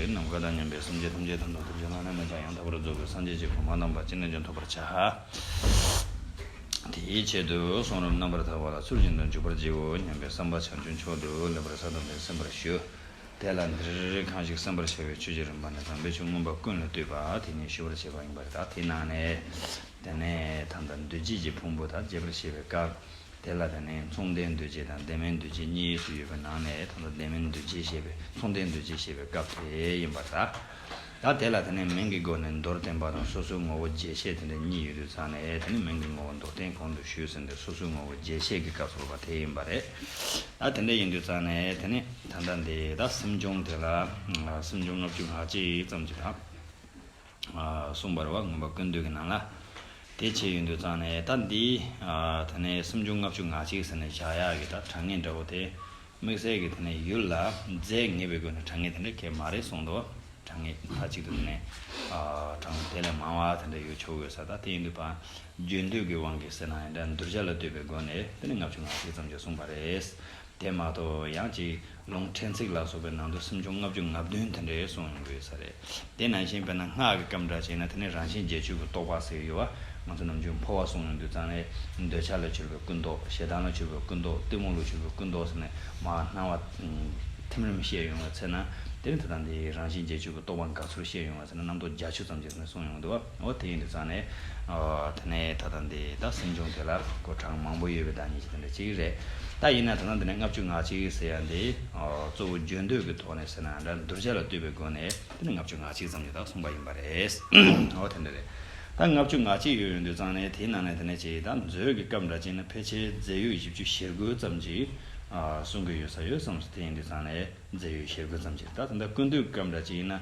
ནམ་མཁའ་དང་མཉམ་པའི་སེམས་ཅན་ཐམས་ཅད་དང་དང་ཐུགས་རྗེ་བླ་ན་མེད་པ་ཡང་དག་པར་རྫོགས་པའི་སངས་རྒྱས་ཀྱི་གོ་འཕང་དང་བར་ཆད་རྣམས་ཀྱང་ཐོབ་པར་བྱ། དེའི་ཆེད་དུ་གསུང་རབ་རྣམ་པར་དག་པ་ལ་ཚུལ་བཞིན་དུ་འཇུག་པར་བགྱིའོ་སྙམ་པའི་བསམ་པ་བྱང་ཆུབ་མཆོག་ཏུ་སླེབ་པར་ས་དང་པོའི་སེམས་པར་ཞུ། དེ་ལ་འདིར་གང་ཞིག་སེམས་པར་བྱ་བའི་ཆོས་ཀྱི་རིམ་པ་ནི་དམ་པའི་ཆོས་མངོན་པ་ཀུན་ལ་བཏུད་པ་དེ་ཉིད་ཞུ་བར་བྱེད་པ་ཡིན་པར་གདགས་དེའི་ནང་ནས། དེ་ནས་དམ་དང་འདུ་བྱེད་ཀྱི་ཕུང་པོ་དག་རྒྱས་པར་བཤད་པའི་སྐབས། དེ་ལ་ད་ནི་མཚུངས་ལྡན་འདུ་བྱེད་དང་ལྡན་མིན་འདུ་བྱེད་གཉིས་སུ་ཡོད་པའི་ནང་ནས་ད་ལྟ་ལྡན་མིན་འདུ་བྱེད་ཞེས་པའི་མཚུངས་ལྡན་འདུ་བྱེད་ཞེས་པའི་སྐབས་དེ་ཡིན་པར་གདའ། ད་དེ་ལ་ད་ནི་མིང་གི་སྒོ་ནས་མདོར་བསྟན་པ་དང་སོ་སོའི་ངོ་བོ་རྒྱས་བཤད་དེ་འདྲ་གཉིས་ཡོད་དུས་ཚང་ནས་ད་ནི་མིང་གི་ངོ་བོ་མདོར་བསྟན་གོང་དུ་ཞུས་ཟིན་པའི་སོ་སོའི་ངོ་བོ་རྒྱས་བཤད་ཀྱི་སྐབས་སུ་བ་དེ་ཡིན་པ་རེད། ད་དེ་འདྲ་ཡིན་དུས་ཚང་ནས་ད་ནི་ད་ལྟ་འདི་ད་སེམས་བྱུང་དེ་ལ་སེམས་བྱུང་ལྔ་བཅུ་ལྷག་ཅིག་ཙམ་གྱི་དང། གསུངས་པར་བ་ངོ་བ་ཀུན་བཏུས་ཀྱི་ནང་ལ། དེ་བྱས་ཡོད་འདོད་ཙང་ནས་ད་འདི། ད་ནས་སུམ་ཅུ་ལྔ་བཅུ་ང་གཅིག་ཟེར་ནས་བཞག་ཡག་གི་ད་དྲང་ངེས་འདྲ་བོ་དེ། དམིགས་བསལ་གྱི་དེ་ནས་ཡུལ་ལ་རྫས་ངེས་པའི་སྒོས་ནས་དྲང་ངེས་དེ་འདྲ་ཁྱད་མ་རེད་གསུངས་འདུག་དྲང་ངེས་མཐའ་གཅིག་ཏུ་དེ་ནས། དྲང་ངེས་དེ་ལས་མང་བ་དེ་འདྲ་ཡོད་ཆོག་དགོས་ས་ད་དེ་ཡིན་དུས་པ། རྒྱུན་མཐུད་ཀྱི་དབང་གིས་ཟེར་ན་ཡིན་འདྲ་འདུར་བྱ་ལ་ལྟོས་པའི་སྒོ་ནས་དེ་ནས་ལྔ་བཅུ་ང་གཅིག་ཙམ་ཅིག་གསུངས་པ་རེད། དེ་མ་གཏོགས་ཡང་ཅིག། ལུང་ཕྲན་ཚེགས་ལ་སོགས་པའི་ནང་དུ་སུམ་ཅུ་ལྔ་བཅུ་ང་བདུན་དེ་འདྲའི་གསུང་ཡོད་ས་རེད། དེ་ནང་བཞིན་དཔེར་ན་སྔགས་ཀྱི་སྐབས་འདྲ་བྱས་ན་དེ་ནི་རང་བཞིན་རྗེས་འཇུག་གི་རྟོགས་པ་ཟེར་ཡོད་བ། ང་ཚོ་ནམ་རྒྱུན་འཕོ་བ་གསུང་ཡོང་དུས་ཙང་ལས། འདོད་ཆགས་ལ་གྱུར་པའི་ཀུན་རྟོག་ཞེ་སྡང་ལ་གྱུར་པའི་ཀུན་རྟོག་གཏི་མུག་ལ་གྱུར་པའི་ཀུན་རྟོག་ཟེར་ནས་མ་སྣང་བ། ཐིམ་རིམ་བཤད་ཡོང་བའི་ཚེ་ན་དེ་ནི་དེ་དང་དེའི་རང་བཞིན་རྗེས་འཇུག་གི་རྟོགས་པ་འགའ་ཚུར་བཤད་ཡོང་བ་ཟེར་ན་རྣམ་རྟོག་བརྒྱ་ཆུ་ཙམ་ཅིག་ཟེར་ནས་གསུང་ཡོང་དུས། ཨོ་དེ་ཡིན་དུ་ཙང་ནས། དེ་ནས་ད་ལྟ་འདི་དག་སེམས་བྱུང་དེ་ལ་སྐོར་གྲངས་མང་པོ་ཡོད་པའི་བདག་ཉིད་ཀྱི་དེ་འདྲ་ཅིག་རེད་ད་ཡིན་ན་ད་ལྟ་འདི་ནས་ལྔ་བཅུ་ང་གཅིག་ཟེར་ཡ་འདི། གཙོ་བོ་བརྗོད་འདོད་ཀྱི་ཐོག་ནས་ཟེར་ན་འདྲ་གདུལ་བྱ་ལ་བསྟོད་པའི་སྒོ་ནས་འདི་ནས་ལྔ་བཅུ་ང་གཅིག་ཙམ་ཡོད་དག་གསུངས་པ་ཡིན་པ་རེད། ཨོ་དེ་འདྲ་རེད་ད་ལྔ་བཅུ་ང་གཅིག་ཡོད་ཡོད་འདུག་ཙང་ནས་དེའི་ནང་ནས་དེ་འདྲ་ཅིག་ད་མཛོད་ཀྱི་སྐབས་འདྲ་ཅིག་ན་ཕལ་ཆེར་རྫས་ཡོད་བཞི་བཅུ་ཞེ་དགུ་ཙམ་ཅིག་གསུང་གི་ཡོད་ས་ཡོད་བསམས་སོ་དེ་ཡིན་དུ་ཙང་ནས་རྫས་ཡོད་ཞེ་དགུ་ཙམ་ཅིག་ད་དེ་འདྲ་ཀུན་བཏུས་སྐབས་འདྲ་ཅིག་ཡིན་ན་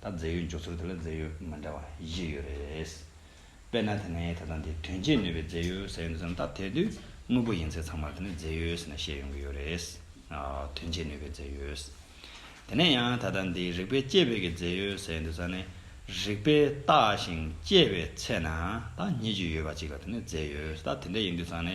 ད་རྫས་ཡོད་འཇོག་ཚུལ་དེ་ལ་རྫས་ཡོད་མི་འདྲ་བ་བཞི་ཡོད་རེད། དཔེར་ན་དེ་ནས་ད་ལྟ་འདི་དོན་སྤྱིར་ནུས་པའི་རྫས་ཡོད་ཟེར་ཡོང་དུས་སམ་ད་དེ་དུས་དངོས་པོ་ཡིན་ཚེ་ཚང་མར་དེ་ནི་རྫས་ཡོད་ཟེར་ནས་བཤད་ཡོང་གི་ཡོད་རེད། དོན་སྤྱིར་ནུས་པའི་རྫས་ཡོད། དེ་ནས་ཡང་ད་ལྟ་འདི་རིག་པའི་དཔྱད་པའི་གི་རྫས་ཡོད་ཟེར་ཡོང་དུས་ས་ནི་རིག་པས་བརྟགས་ཤིང་དཔྱད་པའི་ཚེ་ན་ད་སྙེད་ཅིག་ཡོད་པ་གཅིག་ལ་དེ་ནི་རྫས་ཡོད་ད་དེ་འདྲ་ཡིན་དུས་ས་ནི་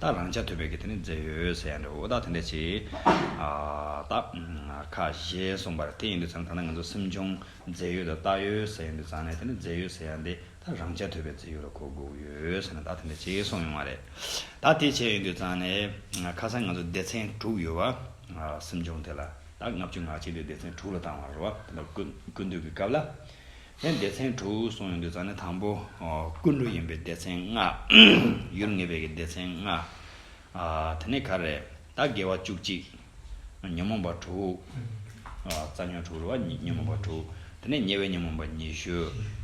ད་རང་ཅག་ཐོས་པའི་གི་དེ་ནི་མཛད་ཡོད་ཟེར་ཡང་འདྲའོ་ད་དེ་འདྲ་ཅི། ད། ཁ། གཞས་གསུངས་པར་དེ་ཡིན་དུ་ཚང་ད་ནི་ང་ཚོ་སེམས་བྱུང་མཛད་ཡོད་དུ་བཏགས་ཡོད་ཟེར་ཡང་འདུག་ཚང་ནས་དེ་ནི་མཛད་ཡོད་ཟེར་ཡང་འདི་ད་རང་ཅག་ཐོས་པའི་མཛད་ཡོད་ལ་གོ་དགོས་ཡོད་ཟེར་ན་ད་དེ་འདྲ་ཅི་གསུངས་ཡོང་བ་རེད། ད་དེ་བྱས་ཡོད་འདུག་ཚང་ནས། ཁ་སང་ང་ཚོ་སྡེ་ཚན་དྲུག་ཡོད་བ། སེམས་བྱུང་དེ་ལ་ད་ལྔ་བཅུ་ང་གཅིག་དེ་སྡེ་ཚན་དྲུག་ལ་བཏང་བར་རོ། དེ་འདྲ་ཀུན་འདུས་ཀི་སྐབས་ལ། ཡང་སྡེ་ཚན་དྲུག་གསུངས་ཡོང་དུས་ཙང་ནི་དང་པོ་ཀུན་འགྲོ་ཡིན་པའི་སྡེ་ཚན་ལྔ། ཡུལ་ངེས་པའི་ཀྱི་སྡེ་ཚན་ལྔ། དེ་ནས་ཁ་རེ་ད་དགེ་བ་བཅུ་གཅིག། ཉོན་མོངས་པ་དྲུག། རྩ་ཉོན་དྲུག་རེ་བ་ཉོན་མོངས་པ་དྲུག། དེ་ནས་ཉེ་བའི་ཉོན་མོངས་པ་ཉི་ཤུ།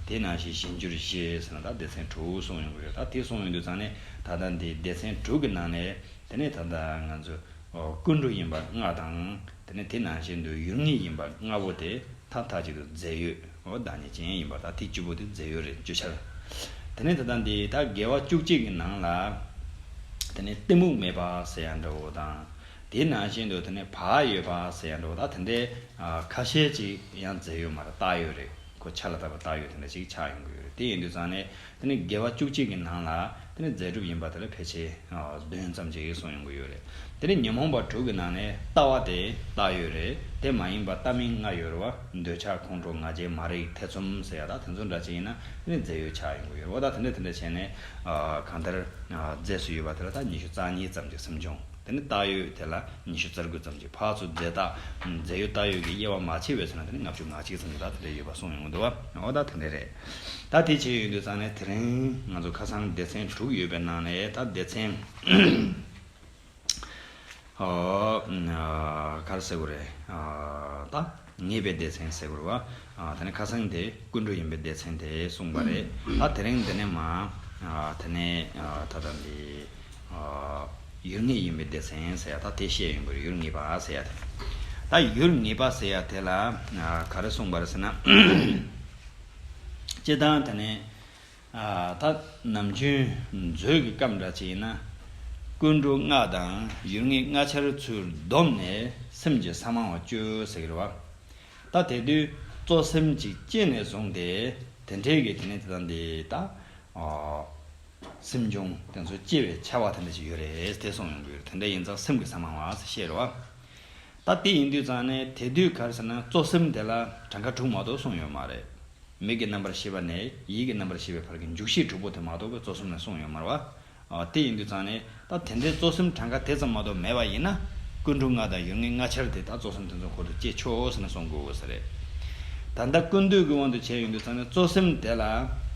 དེ་ནང་བཞིན་གཞན་བཅུ་རེ་ཤེས་ཟེར་ན་ད་སྡེ་ཚན་དྲུག་གསུངས་ཡོང་གི་རེད་ད་དེ་གསུངས་ཡོང་དུས་ཙང་ནི་ད་ལྟ་འདི་སྡེ་ཚན་དྲུག་གི་ནང་ནས་དེ་ནས་ད་ལྟ་ང་ཚོ་ཀུན་འགྲོ་ཡིན་པ་ལྔ་དང། དེ་ནས་དེ་ནང་བཞིན་དུ་ཡུལ་ལྔས་ཡིན་པ་ལྔ་པོ་དེ་མཐའ་མཐའ་གཅིག་ཏུ་རྫས་ཡོད་འོད་དང་ཉིད་ཅན་ཡིན་པ་དག་ཐིག་བཅུ་པོ་དེ་རྫས་ཡོད་རེད་བརྗོད་འཆར། དེ་ནས་ད་ལྟ་འདི་དག་དགེ་བ་བཅུ་གཅིག་གི་ནང་ལ། དེ་ནས་གཏི་མུག་མེད་པ་ཟེར་ཡང་འདྲ་བོ་དང། དེའི་ནང་བཞིན་དུ་དེ་ནས་བག་ཡོད་པ་ཟེར་ཡང་འདྲ་བོ་དག་དེ་འདྲའི་ཁ་ཤས་ཅིག་ཡང་རྫས་ཡོད་མ་རེད་རྟགས་ཡོད་རེད་ཁོ་ཆ་ལ་བཏགས་པའི་རྟགས་ཡོད་དེ་འདྲ་ཅིག་ཆགས་ཡོང་གི་ཡོད་རེད་དེ་ཡིན་དུས་ཙང་ནས་དེ་ནི་དགེ་བ་བཅུ་གཅིག་གི་ནང་ལ་དེ་ནི་རྫས་གྲུབ་ཡིན་པ་དེ་ལ་ཕལ་ཆེར་བདུན་ཙམ་གྱི་ཡོད་གསུངས་ཡོང་གི་ཡོད་རེད། དེ་ནི་ཉོན་མོངས་པ་དྲུག་གི་ནང་ནས་ལྟ་བ་དེ་ལྟ་ཡོད་རེད་དེ་མ་ཡིན་པ་ལྟ་མིན་ལྔ་ཡོད་རེད་བ་འདོད་ཆགས་ཁོང་ཁྲོ་ང་རྒྱལ་མ་རིག་ཐེ་ཚོམ་ཟེར་ཡག་དག་དེ་ཚོ་འདྲ་ཅི་ཡིན་ན་དེ་ནི་རྫས་ཡོད་ཆགས་ཡོང་གི་ཡོད་རེད་བ་དག་དེ་འདྲ་དེ་འདྲ་བྱས་ནས་གང་ལྟར་རྫས་སུ་ཡོད་པ་དེ་ལ་དག་ཉི་ཤུ་རྩ་གཉིས་ཙམ་གྱི་སེམས་བྱུང་དེ་ནི་ལྟ་ཡོད་དེ་ལ་ཉི་ཤུ་རྩར་དགུ་ཙམ་གྱི་བར་ཚུ་རྫས་དག་རྫས་ཡོད་ལྟ་ཡོད་ཀྱི་དབྱེ་བ་མ་ཕྱེ་བའི་ཚུལ་ན་དེ་ནི་ལྔ་བཅུ་ང་གཅིག་ཙམ་གྱི་དག་དེ་འདྲ་ཡོད་པ་གསུངས་ཡོང་གི་འདུག་བ་དག་དེ་འདྲ་རེད། ད་དེ་བྱས་ཡོད་འདུག་ཙང་ནས་དེ་རིང་ང་ཚོ་ཁ་སང་སྡེ་ཚན་དྲུག་ཡོད་པའི་ནང་ནས་ད་སྡེ་ཚན། གར་ཟེར་དགོས་རེད། ད་ངེས་པའི་སྡེ་ཚན་ཟེར་དགོས་རེད། དེ་ནས་ཁ་སང་དེ་ཀུན་འགྲོ་ཡིན་པའི་སྡེ་ཚན་དེ་གསུངས་པ་རེད། ད་དེ་རིང་འདི་ནས་མ། དེ་ནས་ད་ལྟ་འདི། ཡུལ་ངེས་ཡིན་པའི་སྡེ་ཚན་ཟེར་ཡག་ད་དེ་བཤད་ཡོང་གི་རེད་ཡུལ་ངེས་པ་ཟེར་ཡག་དེ། ད་ཡུལ་ངེས་པ་ཟེར་ཡག་དེ་ལ་ག་རེ་གསུངས་པ་རེད་ཟེར་ན། སྤྱི་བཏང་དེ་ནི། ད་ནམ་རྒྱུན་མཛོད་ཀྱི་སྐབས་འདྲ་ཅིག་ཡིན་ན། ཀུན་འགྲོ་ལྔ་དང་ཡུལ་ངེས་ལྔ་འཆར་ཚུལ་བསྡོམས་ནས་སེམས་ཀྱི་ས་མང་བ་བཅོས་ཟེར་གི་རེད་བ། ད་དེ་དུས་གཙོ་སེམས་ཅིག་སྐྱེས་ནས་བཟུང་སྟེ་དེ་འཕྲལ་གྱི་དེ་ནི་དེ་དང་དེ་ད། སེམས་བྱུང་དེ་ཚོ་སྐྱེ་བའི་ཆ་བ་དེ་འདྲ་ཞིག་ཡོད་རེད་དེ་སོང་ཡོང་གི་ཡོད་དེ་འདྲ་ཡིན་ཙང་སེམས་ཀྱི་ཟ་མང་བ་ཟེར་ཤེས་རོགས་ཨ། ད་དེ་ཡིན་དུས་ཙང་ནས་དེ་དུས་གར་ཟེར་ན་གཙོ་སེམས་དེ་ལ་གྲངས་ཀ་དྲུག་མ་གཏོགས་གསུངས་ཡོད་མ་རེད། མིག་གི་རྣམ་པར་ཤེས་པ་ནས་ཡིད་ཀྱི་རྣམ་པར་ཤེས་པའི་བར་གྱི་འཇུག་ཤེས་དྲུག་པོ་དེ་མ་གཏོགས་གཙོ་སེམས་ལ་གསུངས་ཡོད་མ་རེད། དེ་ཡིན་དུས་ཙང་ནས། ད་དེ་འདྲའི་གཙོ་སེམས་གྲངས་ཀ་དེ་ཙམ་མ་གཏོགས་མེད་པ་ཡིན་ན། ཀུན་འགྲོ་ལྔ་དང་ཡོན་ལྔའི་ལྔ་ཆར་དེ་དག་གཙོ་སེམས་དེ་ཚོ་འཁོར་དུ་བསྐྱེད་ཆོག་ཟེར་ན་སོང་དགོས་ས་རེད། ད་ལྟ་ཀུན་འདུས་ཀྱི་དབང་དུ་བྱས་ཡོང་དུས་ཙང་ནས་གཙོ་སེམས་དེ་ལ།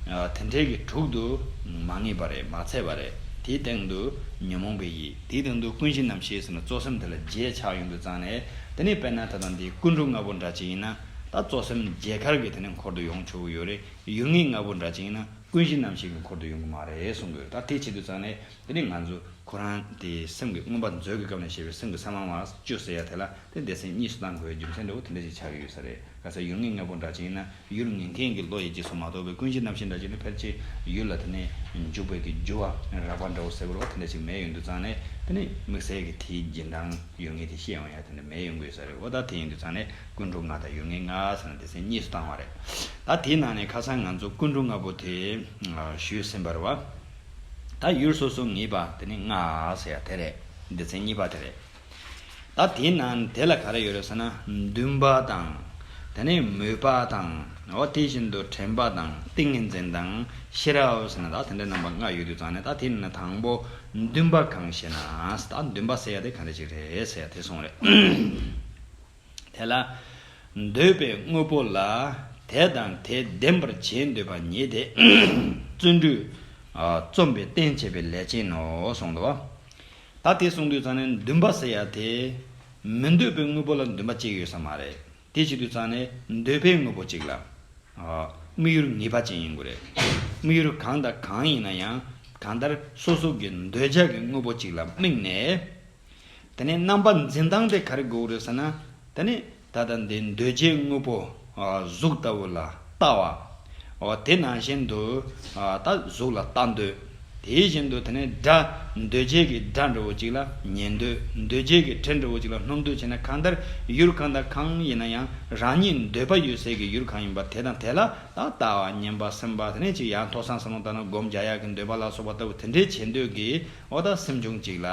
དེ་འདྲའི་གི་དྲུག་ཏུ། མ་ངེས་པ་རེད་མ་ཚད་པ་རེད་དེའི་སྟེང་དུ། ཉོན་མོངས་པའི་ཡིད་དེའི་སྟེང་དུ་ཀུན་གཞི་རྣམ་ཤེས་ཟེར་ན་གཙོ་སེམས་དེ་ལ་བརྒྱད་ཆགས་ཡོང་དུས་ཙང་ནས། དེ་ནས་དཔེར་ན་ད་ལྟ་འདི་ཀུན་འགྲོ་ལྔ་པོ་འདྲ་ཅིག་ཡིན་ན། ད་གཙོ་སེམས་བརྒྱད་གར་གི་དེ་ནས་འཁོར་དུ་ཡོང་ཆོག་གི་ཡོད་རེད། ཡོན་ལྔའི་ལྔ་པོ་འདྲ་ཅིག་ཡིན་ན་ཀུན་གཞི་རྣམ་ཤེས་ཀྱི་འཁོར་དུ་ཡོང་གི་མ་རེད་གསུང་གི་རེད་ད་དེ་བྱེད་དུས་ཙང་ནས། དེ་ནི་ང་ཚོ་ཁོ་རང་དེ་སེམས་ཀྱི་མངོན་པ་མཛོད་ཀྱི་སྐབས་ནས་ཤེས་པའི་སེམས་ཀྱི་ས་མང་བ་བཅུ་ཟེར་ཡ་དེ་ལ་དེ་འདས་ཟིན་གཉིས་སུ་གཏང་དགོས་པའི་རྒྱུ་མཚན་འདྲ་བོ་དེ་འདྲ་ཞིག་ཆགས་ཀྱི་ཡོད་ས་རེད་ག་ས་ཡུལ་ངན་ངན་པོ་འདྲ་ཅན་ཡིན་ན་ཡུལ་ངན་མཁན་གྱི་བློ་ཡི་རྗེས་སུ་མ་གཏོགས་པའི་ཀུན་གཞི་རྣམ་ཤེས་འདྲ་ཅན་ནི་ཕལ་ཆེར་ཡུལ་ལ་དེ་ནས་འཇུག་པའི་གི་འགྱུར་བ་རགས་པ་འདྲ་བོ་ཟེར་བར་བ་དེ་འདྲ་ཞིག་མེད་ཡོད་འདུག་ཙང་ནས་དེ་ནི་དམིགས་བསལ་གྱི་དེའི་རྗེས་འབྲང་ཡོད་ངེས་དེ་ཤེས་འོང་ཡ་དེ་འདྲ་མེད་ཡོང་དགོས་ས་རེད་འོ་ད་དེ་ཡིན་དུས་ཙང་ནས་ཀུན་འགྲོ་ལྔ་དང་ཡུལ་ངན་ལྔ་ཟེར་ན་འདས་ཟིན་གཉིས་སུ་གཏང་བ་རེད་ད་དེའི་ནང་ནས་ཁ་སང་ང་ཚོ་ཀུན་འགྲོ་ལྔ་པོ་དེ་ཞུས་ཟིན་པར་བ། ད་ཡུལ་སོ་སོ་ངེས་པ་དེ་ནི་ལྔ་ཟེར་ཡ་དེ་རེད། སྡེ་ཚན་གཉིས་པ་དེ་རེད། ད་དེའི་ནང་དེ་ལ་ག་རེ་ཡོད་རེད་ཟེར་ན་འདུན་པ་དང། དེ་ནས་མོས་པ་དང། འོ་དེ་བཞིན་དུ་དྲན་པ་དང་ཏིང་ངེ་འཛིན་དང་ཤེས་རབ་ཟེར་ན་ད་དེ་འདྲའི་རྣམ་པ་ལྔ་ཡོད་དུས་ཙང་ནས་ད་དེའི་ནང་ནས་དང་པོ་འདུན་པ་གང་ཞེ་ན། ད་འདུན་པ་ཟེར་ཡ་དེ་ག་འདྲ་ཞིག་རེད་ཟེར་ཡ་དེ་སོང་རེད། དེ་ལ། འདོད་པའི་དངོས་པོ་ལ་དེ་དང་དེ་ལྡན་པར་བྱེད་འདོད་པ་ཉིད་དེ། བརྩོན་འགྲུས། རྩོམ་པའི་རྟེན་བྱེད་པའི་ལས་ཅན་ནོ་གསུངས་ལ། ད་དེ་གསུངས་དུས་ཙང་ནས་འདུན་པ་ཟེར་ཡ་དེ། མི་འདོད་པའི་དངོས་པོ་ལ་འདུན་པ་གཅིག་ཡོད་ས་མ་རེད་དེ་བྱེད་དུས་ཙང་ནས་འདོད་པའི་དངོས་པོ་གཅིག་ལ། དམིགས་ཡུལ་ངེས་པ་ཅན་ཡིན་དགོས་རེད། དམིགས་ཡུལ་གང་དང་གང་ཡིན་ན་ཡང་གང་ལྟར་སོ་སོ་གི་འདོད་ཆགས་ཀྱི་དངོས་པོ་གཅིག་ལ་དམིགས་ནས། དེ་ནས་རྣམ་པ་འཛིན་སྟངས་དེ་ག་རེ་དགོས་རེད་ཟེར་ན། དེ་ནི་ད་ལྟ་འདི་འདོད་རྒྱལ་དངོས་པོ་གཟུགས་ལྟ་བུ་ལ་ལྟ་བ། དེ་ནང་བཞིན་དུ་ད་གཟུགས་ལ་ལྟ་འདོད། དེ་བཞིན་དུ་དེ་ནས་སྒྲ་འདོད་རྒྱལ་གྱི་སྒྲ་འདྲ་བོ་གཅིག་ལ་ཉན་འདོད་འདོད་རྒྱལ་གྱི་དྲི་འདྲ་བོ་གཅིག་ལ་སྣོམ་འདོད་བྱས་ན་གང་ལྟར་ཡུལ་གང་དང་གང་ཡིན་ན་ཡང་རང་ཉིད་འདོད་པ་ཡོད་ཚད་ཀྱི་ཡུལ་གང་ཡིན་པ་དེ་དང་དེ་ལ་ད་ལྟ་ཉན་པ་སེམས་པ་དེ་ནས་ཅིག་ཡང་མཐོ་སངས་སམ་ལོང་བརྟགས་ན་སྒོམ་བརྒྱ་ཡག་གི་འདོད་པ་ལ་སོགས་པ་ལྟ་བུ་དེ་འདྲའི་བྱེད་འདོད་ཀྱི་འོ་ད་སེམས་ཆུང་གཅིག་ལ།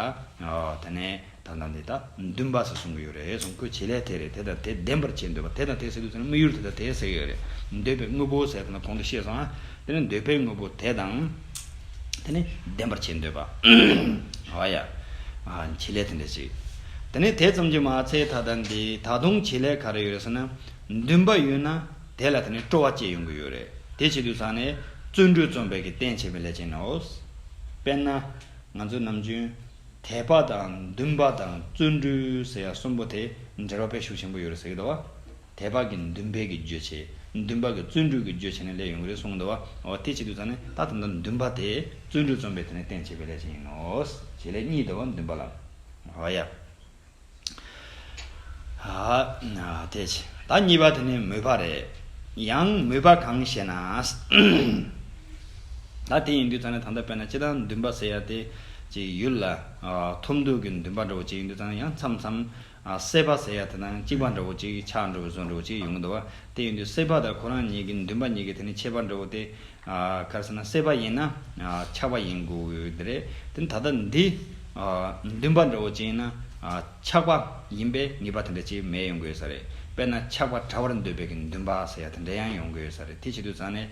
ཨོ་ད་ནས་ད་ལྟ་འདི་དག་འདུན་པ་ཟེར་གསུང་གི་ཡོད་རེད་གསུང་ཁོས་བྱེད་ལས་དེ་རེད་དེ་དང་དེ་བདེན་པར་བྱེད་འདོད་པ་དེ་དང་དེ་ཟེར་དུས་ཚོད་ན་དམིགས་ཡུལ་དེ་དང་དེ་ཟེར་གི་ཡོད་རེད་འདོད་པའི་དངོས་པོ་ཟེར་ཐ་ན་གོང་དུ་བཤད་སོང་ཨ། དེ་ནི་འདོད་པའི་དངོས་པོ་དེ་དང་དེ་ནི་བདེན་པར་བྱེད་འདོད་པ། ཨོ་ཡ། བྱེད་ལས་དེ་འདྲ་ཅིག། དེ་ནས་དེ་ཙམ་གྱིས་མ་ཚད་ད་ལྟ་འདི་ད་དུང་བྱེད་ལས་ག་རེ་ཡོད་རེད་ཟེར་ན། འདུན་པ་ཡོད་ན། དེ་ལ་དེ་ནས་སྤྲོ་བ་སྐྱེས་ཡོང་གི་ཡོད་རེད་དེ་བྱེད་དུས་ཚང་ནས་བརྩོན་འགྲུས་རྩོམ་པའི་གི་བསྟན་བྱེད་པའི་ལས་ཅན་ནོ། དཔེར་ན། ང་ཚོ་ནམ་རྒྱུན། དད་པ་དང་འདུན་པ་དང་བརྩོན་འགྲུས་ཟེར་ཡ་གསུམ་པོ་དེ་འབྲེལ་བ་པའི་ཤུགས་ཆེན་པོ་ཡོད་རེད་ཟེར་གི་འདུག་བ། དད་པ་གི་འདུན་པའི་གི་རྗོད་བྱེད། འདུན་པ་གི་བརྩོན་འགྲུས་གི་རྗོད་བྱེད་ནས་ལས་ཡོང་གི་རེད་གསུང་གི་འདུག་བ། འོ་དེ་བྱེད་དུས་ཚང་ནས་ད་དམ་དང་འདུན་པ་དེ་བརྩོན་འགྲུས་རྩོམ་པའི་དེ་ནས་བསྟན་བྱེད་པའི་ལས་ཅན་ཡིན་ནོ། བྱེད་ལས་གཉིས་འདུག་བ་འདུན་པ་ལ། ཨོ་ཡ། ད་གཉིས་པ་དེ་ནི་མོས་པ་རེད། ཡང་མོས་པ་གང་ཞེ་ན། ད་དེ་ཡིན་དུས་ཙང་ནས་ད་ལྟ་དཔེར་ན་སྤྱི་བཏང་འདུན་པ་ཟེར་ཡ་དེ་ཅིག་ཡོད་ལ། ཐོབ་འདོད་ཀྱི་འདུན་པ་འདྲ་བོ་ཅིག་ཡིན་དུས་ཙང་ནས་ཡང་མཚམས་མཚམས་སྲེད་པ་ཟེར་ཡ་དེ་དང་གཅིག་པ་འདྲ་བོ་ཅིག་ཆགས་འགྲོ་བའི་བཟོ་འདྲ་བོ་ཅིག་ཡོང་གི་འདུག་བ་དེ་ཡིན་དུས་སྲེད་པ་དང་ཁོ་རང་གཉིས་ཀྱི་འདུན་པ་གཉིས་ཀྱི་དེ་ནི་ཁྱད་པར་འདྲ་བོ་དེ་གལ་སྲིད་ན་སྲེད་པ་ཡིན་ན་ཆགས་པ་ཡིན་དགོས་དེ་རེད། ད་ལྟ་འདི་འདུན་པ་འདྲ་བོ་ཅན་ཡིན་ན་ཆགས་པ་ཡིན་པའི་ངེས་པ་དེ་འདྲ་ཅིག་མེད་ཡོང་གི་ས་རེད། དཔེར་ན་ཆགས་པ་དྲ་བར་འདོད་པའི་གི་འདུན་པ་ཟེར་ཡ་དེ་འདྲ་ཡང་ཡོང་གི་ས་རེད་དེ་བྱེད་དུ་ཙང་ནས་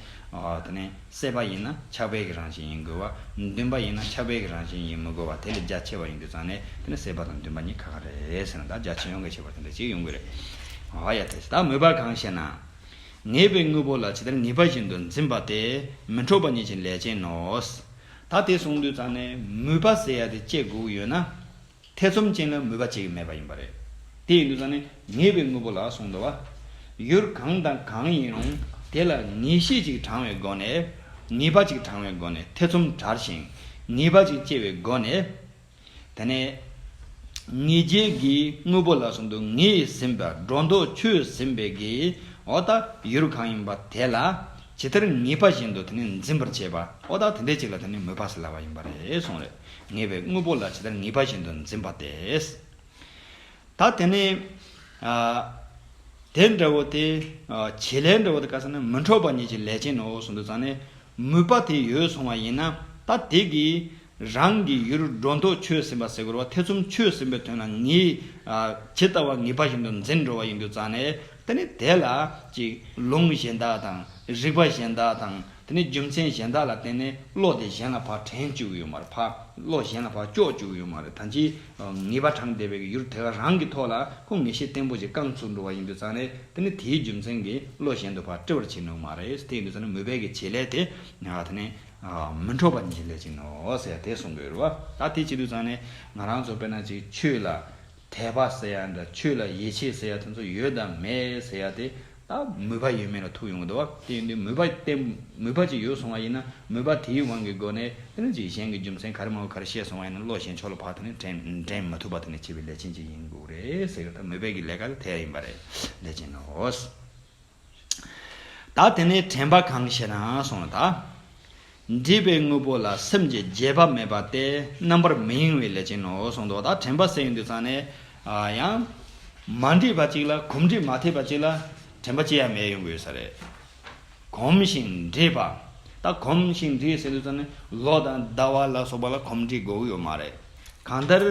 དེ་ནས་སྲེད་པ་ཡིན་ན་ཆགས་པའི་གི་རང་བཞིན་ཡིན་དགོས་བ། འདུན་པ་ཡིན་ན་ཆགས་པའི་གི་རང་བཞིན་ཡིན་མི་དགོས་བ་དེ་ལས་རྒྱ་ཆེ་བ་ཡིན་དུ་ཙང་ནས་དེ་ནས་སྲེད་པ་དང་འདུན་པ་གཉིས་ག་ག་རེད་ཟེར་ན་ད་རྒྱ་ཆེ་ཡོང་གི་ཁྱད་པར་དེ་འདྲ་ཅིག་ཡོང་གི་རེད། ཨ་ཡ་དེ་ད་མོས་པ་གང་ཞེ་ན། ངེས་པའི་དངོས་པོ་ལ་ཇི་ལྟར་ངེས་པ་བཞིན་དུ་འཛིན་པ་སྟེ་མི་འཕྲོགས་པ་ཉིད་ཀྱི་ལས་ཅན་ནོ། ད་དེ་གསུངས་དུས་རྩ་ནས་མུས་པ་བསལ་ཡ་དེ་བཅད་དགོས་ཡོད་ན། ཐེ་ཚོམ་ཅན་ལ་མུས་པ་བྱེད་ཀྱི་མེད་པ་ཡིན་པ་རེད། དེ་ཡིན་དུས་རྩ་ནས་ངེས་པའི་དངོས་པོ་ལ་གསུངས་འདུག་བ། ཡུལ་གང་དང་གང་ཡིན་རུང་དེ་ལ་ངེས་ཤེས་ཅིག་དྲང་བའི་སྒོ་ནས། ངེས་པ་ཅིག་དྲང་བའི་སྒོ་ནས་ཐེ་ཚོམ་བྲལ་ཞིང་ངེས་པ་ཅིག་སྐྱེ་བའི་སྒོ་ནས། དེ་ནས་ངེས་འབྱེད་ཀྱི་དངོས་པོ་ལ་གསུམ་དུ་ངེས་ཟིན་པ་སྒྲོ་འདོགས་ཆོད་ཟིན་པའི་དགེ་བའོ། ད་ཡུལ་གང་ཡིན་པ་དེ་ལ་ཇི་ལྟར་ངེས་པ་བཞིན་དུ་དེ་ནི་འཛིན་པར་བྱེད་པའོ། ད་དེ་འདྲའི་ཅིག་ལ་དེ་ནི་མོས་པ་སེལ་ལ་བ་ཡིན་པ་རེད་གསུངས། རེག་ངེས་པའི་དངོས་པོ་ལ་ཇི་ལྟར་ངེས་པ་བཞིན་དུ་འཛིན་པ་དེས། ད་དེ་ནི་དེ་འདྲ་བོ་དེ། བྱེད་ལས་འདྲ་བོ་དེ་ཀ་ས་ནི་མི་འཕྲོགས་པ་ཉིད་ཀྱི་ལས་ཅན་ནོ་གསུངས་འདུག་ཙང་ནས། ནུས་པ་དེ་ཡོད་སོང་བ་ཡིན་ན་ད་དེ་གིས་རང་གི་ཡུལ་སྒྲོ་འདོགས་ཆོད་ཟིན་པ་ཟེར་དགོས་རོ་ཐེ་ཚོམ་ཆོད་ཟིན་པའི་དོན་ལ་ངས་ཇི་ལྟ་བ་ངེས་པ་བཞིན་དུ་འཛིན་འགྲོ་བ་ཡིན་རྒྱུ་ཙང་ནས་དེ་ནི་དེ་ལ་ཅིག་ལུང་གཞན་དག་དང་རིགས་པ་གཞན་དག་དང་དེ་ནི་རྒྱུ་མཚན་གཞན་དག་ལ་བརྟེན་ནས་བློ་དེ་གཞན་ལ་བག་དྲན་བཅུག་ཡོད་མ་རེད་བག་བློ་གཞན་ལ་བག་ཀྱོག་བཅུག་ཡོད་མ་རེད་ད་ཅིའི་ངེས་པ་གྲངས་འདས་པའི་གི་ཡུར་དེ་ག་རང་གི་ཐོག་ལ་ཁོང་ངེས་ཤེས་བརྟན་པོ་ཞིག་བསྐངས་ཚུར་འགྲོ་བ་ཡིན་དུས་ཙང་རེད་དེ་ནི་དེའི་རྒྱུ་མཚན་གྱིས་བློ་གཞན་དུ་བར་བཀྲི་བར་བྱེད་ནུས་མ་རེད་དེ་ཡིན་དུས་ཙང་ནི་མུས་པས་ཀྱི་བྱེད་ལས་དེ་དེ་ནི་མི་འཕྲོག་པ་ཉིད་ཀྱི་ལས་ཅིག་ནོ་ཟེར་དེ་གསུང་དགོས་རུ་བ་ད་དེ་བྱེད་དུས་ཙང་ནི་ང་རང་ཚོ་དཔེར་ན་ཅིག་ཆོས་ལ་དད་པ་ཟེར་ཡ་འདྲ་ཆོས་ལ་ཡིད་ཆེས་ཟེར་ཡ་དེ་ཚོ་ཡོད་དམ་མེད་ཟེར་ཡ་དེ་ད་མོས་པ་ཡོད་མེད་ལ་ཐུག་ཡོང་གི་འདུག་བ་དེ་ཡིན་དུས་མོས་པ་དེ་མོས་པ་ཅིག་ཡོད་སོང་བ་ཡིན་ན་མོས་པ་དེའི་དབང་གི་སྒོ་ནས་དེ་ལ་ཅིག་གཞན་གྱི་རྒྱུ་མཚན་ག་རེ་མང་བོ་ག་རེ་བཤད་སོང་བ་ཡིན་ན་བློ་གཞན་ཕྱོགས་ལ་བག་དང་ནི་འགྲན་མ་ཐུབ་པ་དང་ནི་བྱེད་པའི་ལས་ཅན་ཅིག་ཡིན་དགོས་རེད་ཟེར་གི་ད་མོས་པའི་གི་ལས་ཀ་ལ་དེ་ཡིན་པ་རེད་ལས་ཅན་ནོ། ད་དེ་ནས་དྲན་པ་གང་ཞེ་ན་སོང་ལ་ད། འདྲིས་པའི་དངོས་པོ་ལ་སེམས་ཀྱི་རྗེས་དཔག་མེད་པ་སྟེ་རྣམ་པར་མི་གཡེང་བའི་ལས་ཅན་ནོ་གསུངས་མདོ་དང་དྲན་པ་སེམས་འདུས་ཚང་ནས་ཡང། མ་འདྲིས་པ་གཅིག་ལ་གོམས་འདྲིས་མ་ཐེབས་པ་གཅིག་ལ་དྲན་པ་ཅི་ཡང་མེད་ཡོང་དགོས་ས་རེད། གོམས་ཤིང་འདྲིས་པ་ད་གོམས་ཤིང་འདྲིས་སེམས་འདུས་ཚང་ནས་ལོ་དང་ཟླ་བ་ལ་སོགས་པ་ལ་གོམས་འདྲིས་དགོས་ཡོད་མ་རེད། གང་ལྟར་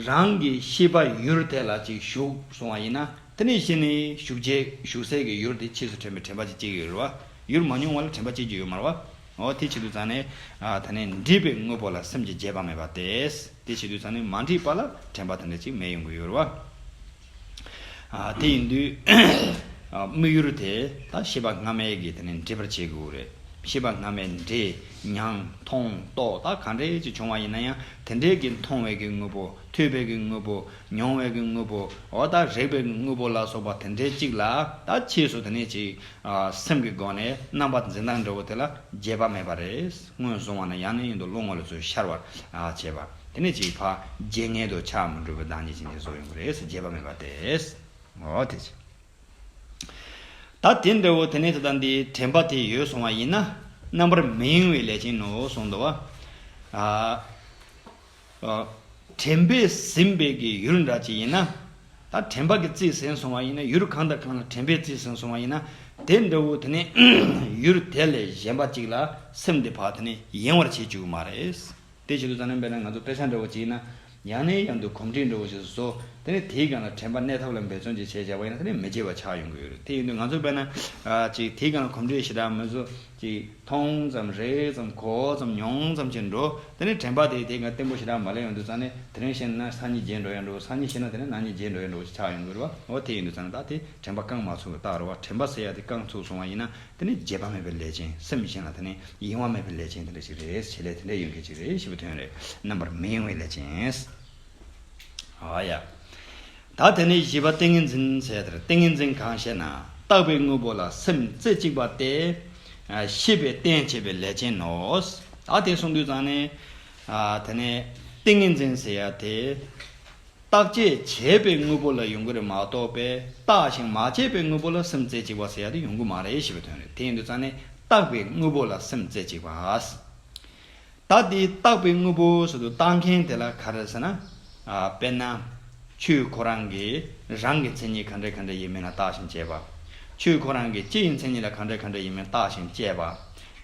རང་གི་ཤེས་པ་ཡུལ་དེ་ལ་ཅིག་ཞུགས་སོང་བ་ཡིན་ན་དེ་ནས་གཞི་ནས་ཞུགས་རྗེས་ཞུགས་སའི་གི་ཡུལ་དེ་ཕྱིས་སུ་དྲན་པའི་དྲན་པ་ཅིག་སྐྱེ་གི་ཡོད་རེད་བ། ཡུར་མ་མྱོང་བ་ལ་དྲན་པ་སྐྱེ་རྒྱུ་ཡོད་མར་བ། འོ་དེ་བྱེད་དུ་ཚང་ནས། ད་ནས་འདྲིས་པའི་དངོས་པོ་ལ་སེམས་ཀྱི་རྒྱས་པ་མེད་པ་དེ། དེ་བྱེད་དུ་ཚང་ནས་མ་འདྲིས་པ་ལ་དྲན་པ་དེ་འདྲ་ཅིག་མེད་ཡོང་གི་ཡོད་བ། དེ་ཡིན་དུས། དམིགས་ཡུར་དེ་དག་ཤེས་པ་སྔ་མའི་གིས་དེ་ནས་འདྲིས་པར་བྱེད་དགོས་རེད། ཤེས་པ་སྔ་མའི་འདྲིས། མྱང། མཐོང། རྟོག་དག་ག་འདྲའི་ཅིག་བྱུང་བ་ཡིན་ན་ཡང་དེ་འདྲའི་གིས་མཐོང་བའི་གིས་དངོས་པོ། ཐོས་པའི་གིས་དངོས་པོ། མྱོང་བའི་གིས་དངོས་པོ། འོ་དག་རེག་པའི་གིས་དངོས་པོ་ལ་སོགས་པ་དེ་འདྲའི་ཅིག་ལ་དག་ཕྱིས་སུ་དེ་ནས་ཅིག། སེམས་ཀྱི་སྒོ་ནས་རྣམ་པར་འཛིན་སྟངས་འདྲ་བོ་དེ་ལ་རྒྱས་པ་མེད་པ་རེད། ངོས་བཟུང་བ་ན་ཡང་ནི་ཡུན་དུ་བློ་ངོ་ལ་ཚུར་ཤར་བར་བྱེད་པ། དེ་ནས་ཅིག་ཕ་རྗེས་མངལ་དུ་ཆགས་མི་འགྲོ་བའི་བདག་ཉིད་ཅན་གྱི་བཟོ་ཡོང་གི་རེད། རྒྱས་པ་མེད་པ་དེས། འོ་དེ་ཅི། ད་དེ་འདྲ་བོ་དེ་ནས་དེ་དང་དེའི་དྲན་པ་དེ་ཡོད་སོང་བ་ཡིན་ན། རྣམ་པར་མི་གཡེང་བའི་ལས་ཅན་ནོ་གསུངས་འདུག་བ། དྲན་པས་ཟིན་པའི་གི་ཡུལ་འདྲ་ཅིག་ཡིན་ན། ད་དྲན་པ་གི་རྩིས་ཟིན་སོང་བ་ཡིན་ན་ཡུལ་གང་དང་གང་ལ་དྲན་པའི་རྩིས་ཟིན་སོང་བ་ཡིན་ན་དེ་འདྲ་བོ་དེ་ནི་ཡུལ་དེ་ལས་གཞན་པ་ཅིག་ལ་སེམས་དེ་བག་དེ་ནི་ཡེངས་བར་བྱེད་ཅིག་མ་རེད། དེ་བྱེད་དུ་ཙམ་ནི་འབད་ན་ང་ཚོ་དཔེ་ཆ་འདྲ་བོ་ཅིག་ཡིན་ན་ཡང་ནས་ཡང་དུ་གོམས་འདྲིས་འདྲ་བོ་ཞིག་བཟོ་དེ་ནི་དེའི་སྒང་ལ་དྲན་པ་གནས་ཐབས་ལ་འབད་བརྩོན་ཅིག་བྱེད་བྱ་བ་ཡིན་ན་དེ་ནི་མི་བྱེད་པ་ཆགས་ཡོང་གི་ཡོད་རེད་དེ་ཡིན་དུས་ང་ཚོ་འབད་ན་ཅིག་དེའི་སྒང་ལ་གོམས་འདྲིས་ཞེ་དྲག་མི་བཟོ། ཅིག། མཐོང་ཙམ་རེག་ཙམ་གོ་ཙམ་མྱོང་ཙམ་གྱིས་འགྲོ། དེ་ནས་དྲན་པ་དེས་དེ་ག་བརྟན་པོ་ཞེ་དྲག་མ་ལེན་ཡོང་དུས་ཙང་ནས་དེ་རིང་ཤེས་ན་སང་ཉིན་རྗེས་འགྲོ་ཡང་འགྲོ་སང་ཉིན་ཤེས་ན་དེ་ནས་ནང་ཉིན་རྗེས་འགྲོ་ཡང་འགྲོ་ཞེས་ཆགས་ཡོང་གི་རེད་བ་ཨོ་དེ་ཡིན་དུས་ཙང་ནས་ད་དེ་དྲན་པ་རྐང་མ་ཚུགས་ཏག་རེད་བ་དྲན་པ་ཟེར་ཡག་དེ་རྐང་ཚུགས་སོང་བ་ཡིན་ན་དེ་ནི་བརྗེད་པ་མེད་པའི་ལས་ཅན་སེམས་ཅན་ལ་དེ་ནི་ཡེང་བ་མེད་པའི་ལས་ཅན་དེ་འདྲ་ཞིག་རེད་བྱེད་ལས་དེ་འདྲ་ཡོང་མཁན་ཞིག་རེད་ཞེས་པའི་དོན་རེད་རྣམ་པར་མི་གཡེང་བའི་ལས་ཅན། ཨ་ཡ། ད་དེ་ནས་བཞི་པ་ཏིང་ངེ་འཛིན་ཟེར། ཏིང་ངེ་འཛིན་གང་ཞེ་ན་བརྟགས་པའི་དངོས་པོ་ལ་སེམས་རྩེ་གཅིག་པ་སྟེ། ཤེས་པའི་རྟེན་བྱེད་པའི་ལས་ཅན་ནོ། ད་དེ་གསུངས་དུས་ཙང་ནས། དེ་ནས་ཏིང་ངེ་འཛིན་ཟེར་ཡ་དེ། བརྟག་དཔྱད་བྱས་པའི་དངོས་པོ་ལ་ཡོང་གི་རེད་མ་གཏོགས་པས་བརྟགས་ཤིང་མ་དཔྱད་པའི་དངོས་པོ་ལ་སེམས་རྩེ་གཅིག་པ་ཟེར་ཡ་དེ་ཡོང་གི་མ་རེད་ཞེས་པའི་དོན་རེད་དེ་ཡིན་དུས་ཙང་ནས་བརྟགས་པའི་དངོས་པོ་ལ་སེམས་རྩེ་གཅིག་པ། ད་དེའི་བཏགས་པའི་དངོས་པོ་ཟོ་དུ་བཏགས་མཁན་དེ་ལ་ག་རེ་ཟེར་ན། དཔེར་ན། ཆོས་ཁོ་རང་གིས་རང་གི་མཚན་ཉིད་ག་འདྲ་ག་འདྲ་ཡིན་མིན་ལ་བརྟགས་ཤིང་དཔྱད་པ། ཆོས་ཁོ་རང་གིས་ལྕེ་ཡི་མཚན་ཉིད་ལ་ག་འདྲ་ག་འདྲ་ཡིན་མིན་བརྟགས་ཤིང་དཔྱད་པ།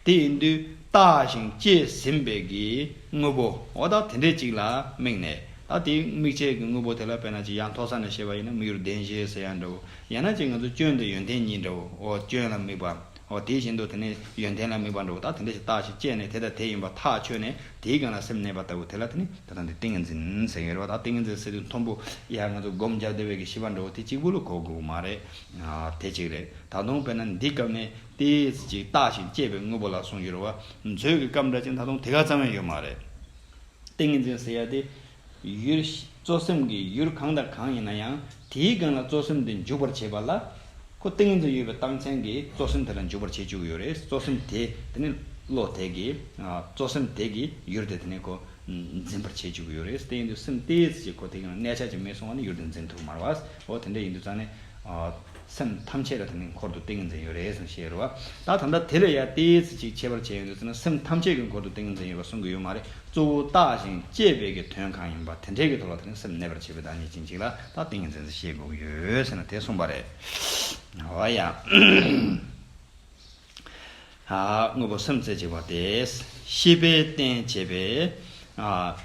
དེ་ཡིན་དུས་བརྟགས་ཤིང་དཔྱད་ཟིན་པའི་གི་དངོས་པོ་འོ་ད་དེ་འདྲའི་ཅིག་ལ་དམིགས་ནས་ད་དེའི་དམིགས་བྱའི་གི་དངོས་པོ་དེ་ལ་དཔེར་ན་ཅིག་ཡང་མཐོ་ས་ནས་བཤད་པ་ཡིན་ན་མིག་རུ་བདེན་ཞེས་ཟེར་ཡང་འདྲའོ་ཡང་ན་ཅིག་ང་ཚོ་སྐྱོན་དང་ཡོན་ཏན་གཉིས་འདྲའོ་སྐྱོན་ལ་དམིགས་པ། འོ་དེ་བཞིན་དུ་དེ་ནི་ཡོན་ཏན་ལ་དམིགས་པར་འགྲོ་བ་དག་དེ་འདྲ་ཞིག་བརྟགས་ཤིང་དཔྱད་ནས་དེ་དང་དེ་ཡིན་པར་ཐག་ཆོད་ནས་དེའི་སྒང་ལ་སེམས་གནས་པ་ལྟ་བུ་དེ་ལ་དེ་ནི་དེ་དང་དེ་ཏིང་ངེ་འཛིན་ཟེར་ཡོད་རེད་བ་དག་ཏིང་ངེ་འཛིན་ཟེར་དུས་མཐོང་བུ་ཡ་ང་ཚོ་སྒོམ་རྒྱབ་དེ་བས་ཀྱི་ཤེས་པར་འགྲོ་བ་དེ་གཅིག་པུ་ལ་གོ་དགོས་པ་མ་རེད་དེ་གཅིག་རེད་ད་དུང་དཔེར་ན་འདི་སྐབས་ནས་དེ་ཅིག་བརྟགས་ཤིང་དཔྱད་པའི་དངོས་པོ་ལ་སོང་ཡོད་རེད་བ་མཛོད་ཀྱི་སྐབས་འདྲ་ཅིག་ད་དུང་དེ་ག་ཙམ་ཡང་ཡོད་མ་རེད་ཏིང་ངེ་འཛིན་ཟེར་ཡ་དེ་ཡུལ། གཙོ་སེམས་ཀྱི་ཡུལ་གང་དང་གང་ཡིན་ན་ཡང་དེའི་སྒང་ལ་གཙོ་སེམས་དེ་འཇུག་པར་བྱེད་པ་ལ། ཁོ་ཏིང་ངེ་འཛིན་ཡོད་པའི་སྟངས་ཅན་གྱིས་གཙོ་སེམས་དེ་ལ་འཇུག་པར་བྱེད་བཅུག་ཡོད་རེད་གཙོ་སེམས་དེ་དེ་ནི་བློ་དེ་གིས་གཙོ་སེམས་དེ་གི་ཡུལ་དེ་དེ་ནི་ཁོ་འཛིན་པར་བྱེད་བཅུག་ཡོད་རེད་ཏིང་ངེ་འཛིན་སེམས་གཏིས་ཀྱི་ཁོ་དེ་གིས་གནས་ཆགས་ཀྱི་མི་སོང་བ་ནི་ཡུལ་དེ་འཛིན་ཐུབ་མ་རེད་བ། འོ་དེ་འདྲ་ཡིན་དུས་ཙང་ནི། སེམས་ཐམས་ཅད་ལ་དེ་ནི་འཁོར་དུ་ཏིང་ངེ་འཛིན་ཡོད་རེད་ཟེར་ནས་བཤད་ཡོད་པ། ད་ད་ལྟ་དེ་ལས་ཡར་ཏེ་ཚིག་གཅིག་ཁྱད་པར་ཅན་ཡོད་འདུག་ཟེར་ན་སེམས་ཐམས་ཅད་ཀྱི་འཁོར་དུ་ཏིང་ངེ་འཛིན་ཡོད་པ་གསུང་གི་ཡོད་མ་རེད་གཙོ་བོ་བརྟགས་ཤིང་དཔྱད་པས་ཀྱི་དོན་གང་ཡིན་པ་དེ་འདྲའི་གི་ཐོག་ལ་དེ་རིང་སེམས་གནས་པར་བྱེད་པའི་བདག་ཉིད་ཅན་གཅིག་ལ་ད་ཏིང་ངེ་འཛིན་ཟེར་ཤེས་དགོས་ཀྱི་ཡོད་ཟེར་ན་དེ་གསུངས་པ་རེད། འོ་ཡ། དངོས་པོ་སེམས་རྩེ་གཅིག་པ་སྟེ། ཤེས་པས་རྟེན་བྱེད་པའི།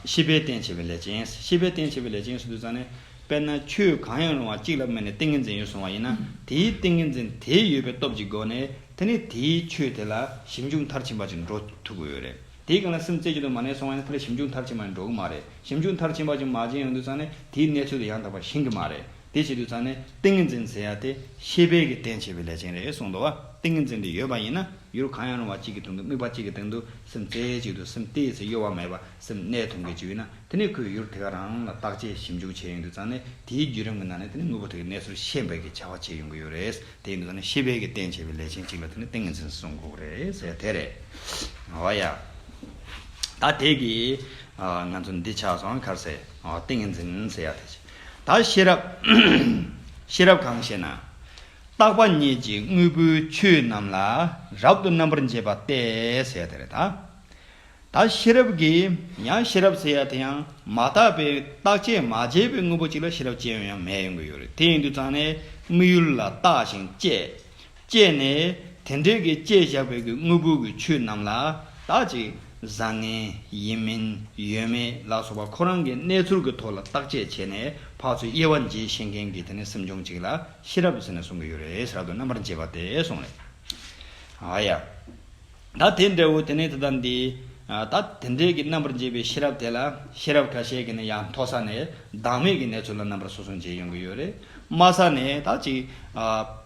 ཤེས་པས་རྟེན་བྱེད་པའི་ལས་ཅན། ཤེས་པས་རྟེན་བྱེད་པའི་ལས་ཅན་སུ་དུ་ཙང་ནི། དཔེར་ན་ཆོས་གང་ཡང་རུང་བ་གཅིག་ལ་དམིགས་ནས་ཏིང་ངེ་འཛིན་ཡོད་གསུང་བ་ཡིན་ན། དེའི་ཏིང་ངེ་འཛིན་དེ་ཡོད་པའི་སྟོབས་ཀྱི་སྒོ་ནས་དེ་ནི་དེའི་ཆོས་དེ་ལ་ཞིབ་འཇུག་མཐར་ཕྱིན་པ་ཅིག་འགྲོ་ཐུབ་ཀྱི་ཡོད་རེད། དེའི་གང་ལ་སེམས་རྩེ་གཅིག་ཏུ་མ་གནས་སོང་བ་ཡིན་ན་དེ་ལ་ཞིབ་འཇུག་མཐར་ཕྱིན་པ་ནི་འགྲོ་གི་མ་རེད། ཞིབ་འཇུག་མཐར་ཕྱིན་པ་ཅིག་མ་བྱས་ཡོང་དུས་ཙང་ནི་དེའི་གནས་ཚུལ་དེ་ཡང་དག་པར་ཤེས་ཀྱི་མ་རེད། དེ་བྱེད་དུས་ཚང་ནི་ཏིང་ངེ་འཛིན་འཛིན་ཡ་དེ་ཤེས་དཔལ་གྱི་རྟེན་བྱེད་པའི་ལས་ཅན་རེད་གསུངས་འདུག་བ་ཏིང་ངེ་འཛིན་དེ་ཡོད་པ་ཡིན་ན་ཡུལ་གང་ཡང་རུང་བ་གཅིག་གི་དྲུང་དུ་དམིགས་པ་གཅིག་གི་སྟེང་དུ་སེམས་རྩེ་གཅིག་ཏུ་སེམས་གཏིས་སུ་གཡོ་བ་མེད་པ་སེམས་གནད་དུ་འགེལ་གྱི་ཡོད་ན་དེ་ནི་ཁོས་ཡུལ་དེ་ག་རང་ལ་བརྟག་དཔྱད་ཞིབ་འཇུག་བྱས་ཡོང་དུས་ཚང་ནི་དེའི་བརྒྱུད་རིམ་གྱི་ནང་ནས་དེ་ནི་དངོས་པོ་དེ་གའི་གནས་ཚུལ་ཤེས་དཔལ་གྱི་བྱ་བ་བྱས་ཡོང་གི་ཡོད་རེད་དེ་ཡིན་དུས་ཚང་ནི་ཤེས་དཔལ་གྱི་རྟེན་བྱེད་པའི་ལས་ཅན་གཅིག་ལ་དེ་ནི་ཏིང་ངེ་འཛིན་གསུངས་གི་རེད་དེ་རེད་བ་ཡ། ད་དེ་གིས་ང་ཚོ་འདི་ཆགས་སོང་ཁར་ཟེར་ཏིང་ངེ་འཛིན་འཛིན་ཡ་དེ་བྱེད་ད་ཤེས་རབ། ཤེས་རབ་གང་ཞེ་ན། རྟག་པ་ཉིད་ཀྱི་དངོས་པོའི་ཆོས་རྣམས་ལ་རབ་ཏུ་རྣམ་པར་འབྱེད་པ་སྟེ་ཟད་དེ་རེད། ད་ཤེས་རབ་ཀྱིས་ཡང་ཤེས་རབ་ཟེར་ཡ་དེ་ཡང་མ་དག་པའི་རྟག་ཆད་མ་བྱས་པའི་དངོས་པོ་གཅིག་ལ་ཤེས་རབ་ཅན་ཡང་མེད་ཡོང་གི་ཡོད་རེད་དེ་ཡིན་དུས་ཙང་ནས་དམིགས་ཡུལ་ལ་བརྟགས་ཤིང་དཔྱད་སྤྱད་ནས། དེ་འབྲེལ་གྱི་བསྐྱེད་བཞག་བོད་ཀྱི་དངོས་པོ་གྱི་ཆོས་རྣམས་ལ་དག་ཅིག་བཟང་ངན། ཡིན་མིན། ཡོད་མེད་ལ་སོགས་པ་ཁོ་རང་གི་གནས་ཚུལ་གྱི་ཐོག་ལ་བརྟག་དཔྱད་བྱས་ནས་བག་ཚོའི་དབྱེ་བ་འབྱེད་ཤེས་མཁན་གྱི་དེ་ནི་སེམས་བྱུང་གཅིག་ལ་ཤེས་རབ་ཟེར་ནས་གསུང་གི་ཡོད་རེད་ཟེར་ར་དོན་རྣམ་པར་འབྱེད་པ་དེ་སོང་རེད། ཨ་ཡ། ད་དེ་འདྲ་བོ་དེ་ནས་དེ་དང་འདི། ད་དེ་འདྲས་ཀྱི་རྣམ་པར་འབྱེད་པའི་ཤེས་རབ་དེ་ལ་ཤེས་རབ་ཁ་ཤས་ཀྱིས་ནི་ཡང་མཐོ་ས་ནས་བདག་མེད་ཀྱི་གནས་ཚུལ་ལ་རྣམ་པར་སོ་སོ་འབྱེད་ཡོང་གི་ཡོད་རེད། དམའ་ས་ནས་ད་ཅིག།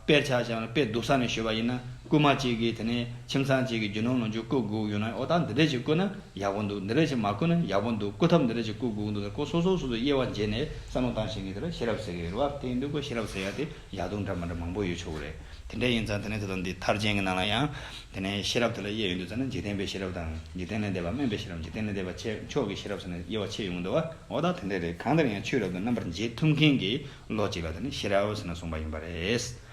དཔེར་ཆགས་ཤིག་ཨང། དཔེ་སྡུག་ས་ནས་བཤོད་པ་ཡིན་ན་རྐུན་མ་ཅིག་གིས་དེ་ནས་ཁྱིམ་ཚང་ཅིག་གི་རྒྱུ་ནོར་ལོངས་སྤྱོད་བརྐུ་བསྒུགས་ཡོད་ན་ཨོ་ད་འདི་འདྲས་ཅིག་བརྐུ་ན་ཡག་པོ་འདུག་འདི་འདྲས་ཅིག་མ་བརྐུ་ན་ཡག་པོ་འདུག་བརྐུ་ཐབས་འདི་འདྲས་ཅིག་བརྐུ་བསྒུགས་འདུག་ཟེར་ཀོ་སོ་སོ་སོ་སོའི་དབྱེ་བ་འབྱེད་ནས་བསམ་བློ་བཏང་བཞིན་གྱི་དེ་ལ་ཤེས་རབ་ཟེར་གི་ཡོད་རེད་བ་དེ་ཡིན་དུས་ཀོ་ཤེས་རབ་ཟེར་ཡ་དེ། ཡག་སྡུག་འདྲ་མ་འདྲ་མང་པོ་ཡོད་ཆོག་གི་རེད། དེ་འདྲ་ཡིན་ཙང་དེ་ནས་ད་དུང་འདི་མཐར་བྱིན་གྱི་ནང་ལ་ཡང། དེ་ནས་ཤེས་རབ་དེ་ལ་དབྱེ་ཡོད་འདུག་ཙང་ན་འཇིག་རྟེན་པའི་ཤེས་རབ་དང། འཇིག་རྟེན་ལས་འདས་པ་དམན་པའི་ཤེས་རབ་འཇིག་རྟེན་ལས་འདས་པ་ཆེ་མཆོག་གི་ཤེས་རབ་ཙམ་ནས་དབྱེ་བ་ཕྱེ་ཡོང་གི་འདུག་བ། འོ་ད་དེ་འདྲ་རེད་གང་ལྟར་ཡང་ཆོས་རབ་ཏུ་རྣམ་པར་འབྱེད་ཐུབ་མཁན་གྱི་ལོ་ཅིག་ལ་དེ་ནི་ཤེས་རབ་ཟེར་ན་གསུངས་པ་ཡིན་པ་རེད།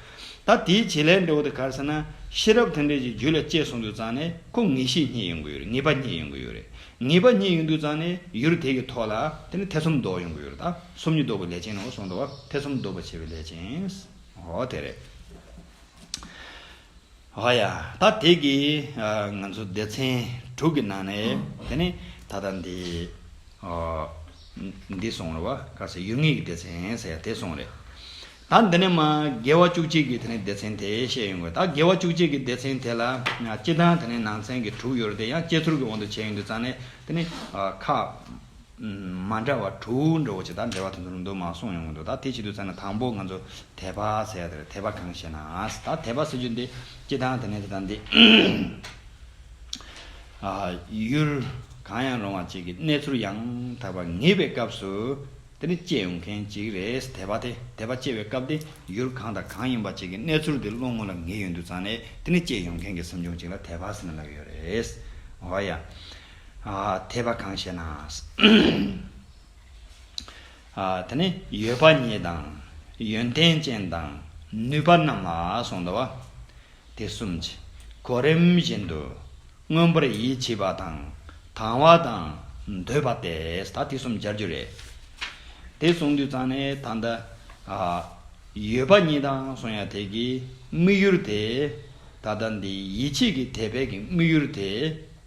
ད་དེའི་བྱེད་ལས་འདྲ་བོ་དེ་གར་ཟེར་ན། ཤེས་རབ་དེ་འདྲས་ཀྱི་རྒྱུད་ལ་བཅས་སོང་འདུག་ཙང་ནས་ཁོ་ངེས་ཤེས་གཉིས་ཡོང་གི་ཡོད་རེད་ངེས་པ་གཉིས་ཡོང་གི་ཡོད་རེད། ངེས་པ་གཉིས་ཡོད་འདུག་ཙང་ནས་ཡུལ་དེ་གི་ཐོག་ལ་དེ་ནི་ཐེ་ཚོམ་མདོག་ཡོང་གི་ཡོད་རེད་ད། ཚོམ་ཉིད་བཟློག་པའི་ལས་ཅན་ནོ་གསུངས་ཏོ། ཐེ་ཚོམ་བཟློག་པར་བྱེད་པའི་ལས་ཅན། ཨོ་དེ་རེད། ཨོ་ཡ། ད་དེ་གི། ང་ཚོ་སྡེ་ཚན་དྲུག་གི་ནང་ནས། དེ་ནི་ད་ལྟ་འདི། འདི་སོང་རེད་བ། ཁ་ཟས་ཡུལ་དངོས་ཀྱི་སྡེ་ཚན་ཟེར་ཡ་དེ་སོང་རེད། ད་འདི་ནས་མ། དགེ་བ་བཅུ་གཅིག་གི་དེ་ནི་སྡེ་ཚན་དེ་བཤད་ཡོང་དགོས། ད་དགེ་བ་བཅུ་གཅིག་གི་སྡེ་ཚན་དེ་ལ། སྤྱི་དང་དེ་ནི་ནང་ཚན་གྱི་དྲུག་ཡོད་རེད་དེ་ཡང་སྤྱི་ཚུར་གྱི་དབང་དུ་བྱས་ཡོང་དུས་ཙང་ནས་དེ་ནི། ཁ། མ་འདྲ་བ་དྲུག་འདྲ་བོ་ཅིག་དང་འབྲེལ་བ་དེ་ཚོ་རུང་དུ་མ་སོང་ཡོང་གི་འདུག་ད་དེ་ཕྱི་དུ་བཙལ་ན་དང་པོ་ང་ཚོ་དད་པ་ཟེར་ཡ་དེ་རེད་དད་པ་གང་ཞེ་ན་ད་དད་པ་ཟེར་རྒྱུ་འདི་སྤྱི་དང་དེ་ནས་དེ་དང་འདི་ཡུལ་གང་ཡང་རུང་བ་ཅིག་གི་གནས་ཚུལ་ཡང་དག་པར་ངེས་པའི་སྐབས་སུ་དེ་ནི་སྐྱེ་ཡོང་མཁན་ཅིག་རེད་དད་པ་དེ་དད་པ་སྐྱེ་བའི་སྐབས་དེ་ཡུལ་གང་དང་གང་ཡིན་པ་ཅིག་གི་གནས་ཚུལ་དེ་བློ་ངོ་ལ་ངེས་ཡོང་དུས་ཙང་ནས་དེ་ནི་སྐྱེ་ཡོང་མཁན་གྱི་སེམས་བྱུང་ཅིག་ལ་དད་པ་ཟེར་ན་ལགས་ཡོད་རེད། འོ་ཡ། འཐད་པ་གང་ཞེ་ན། དེ་ནི་ཡོད་པ་ཉིད་དང། ཡོན་ཏན་ཅན་དང་ནུས་པ་རྣམས་ལ་གསུངས་ཏོ། དེ་གསུམ་གྱིས་གོ་རིམས་བཞིན་དུ་མངོན་པར་ཡིད་ཆེས་པ་དང་དང་བ་དང་འདོད་པ་སྟེ་ད་དེ་གསུམ་སྦྱར་རྒྱུ་རེད། དེ་གསུངས་དུས་ཙང་ནས་ད་ལྟ། ཡོད་པ་ཉིད་དང་གསུངས་ཡང་དེ་གི་དམིགས་ཡུལ་དེ། ད་ལྟ་འདི་ཡིད་ཆེས་ཀྱི་དད་པས་ཀྱི་དམིགས་ཡུལ་དེ།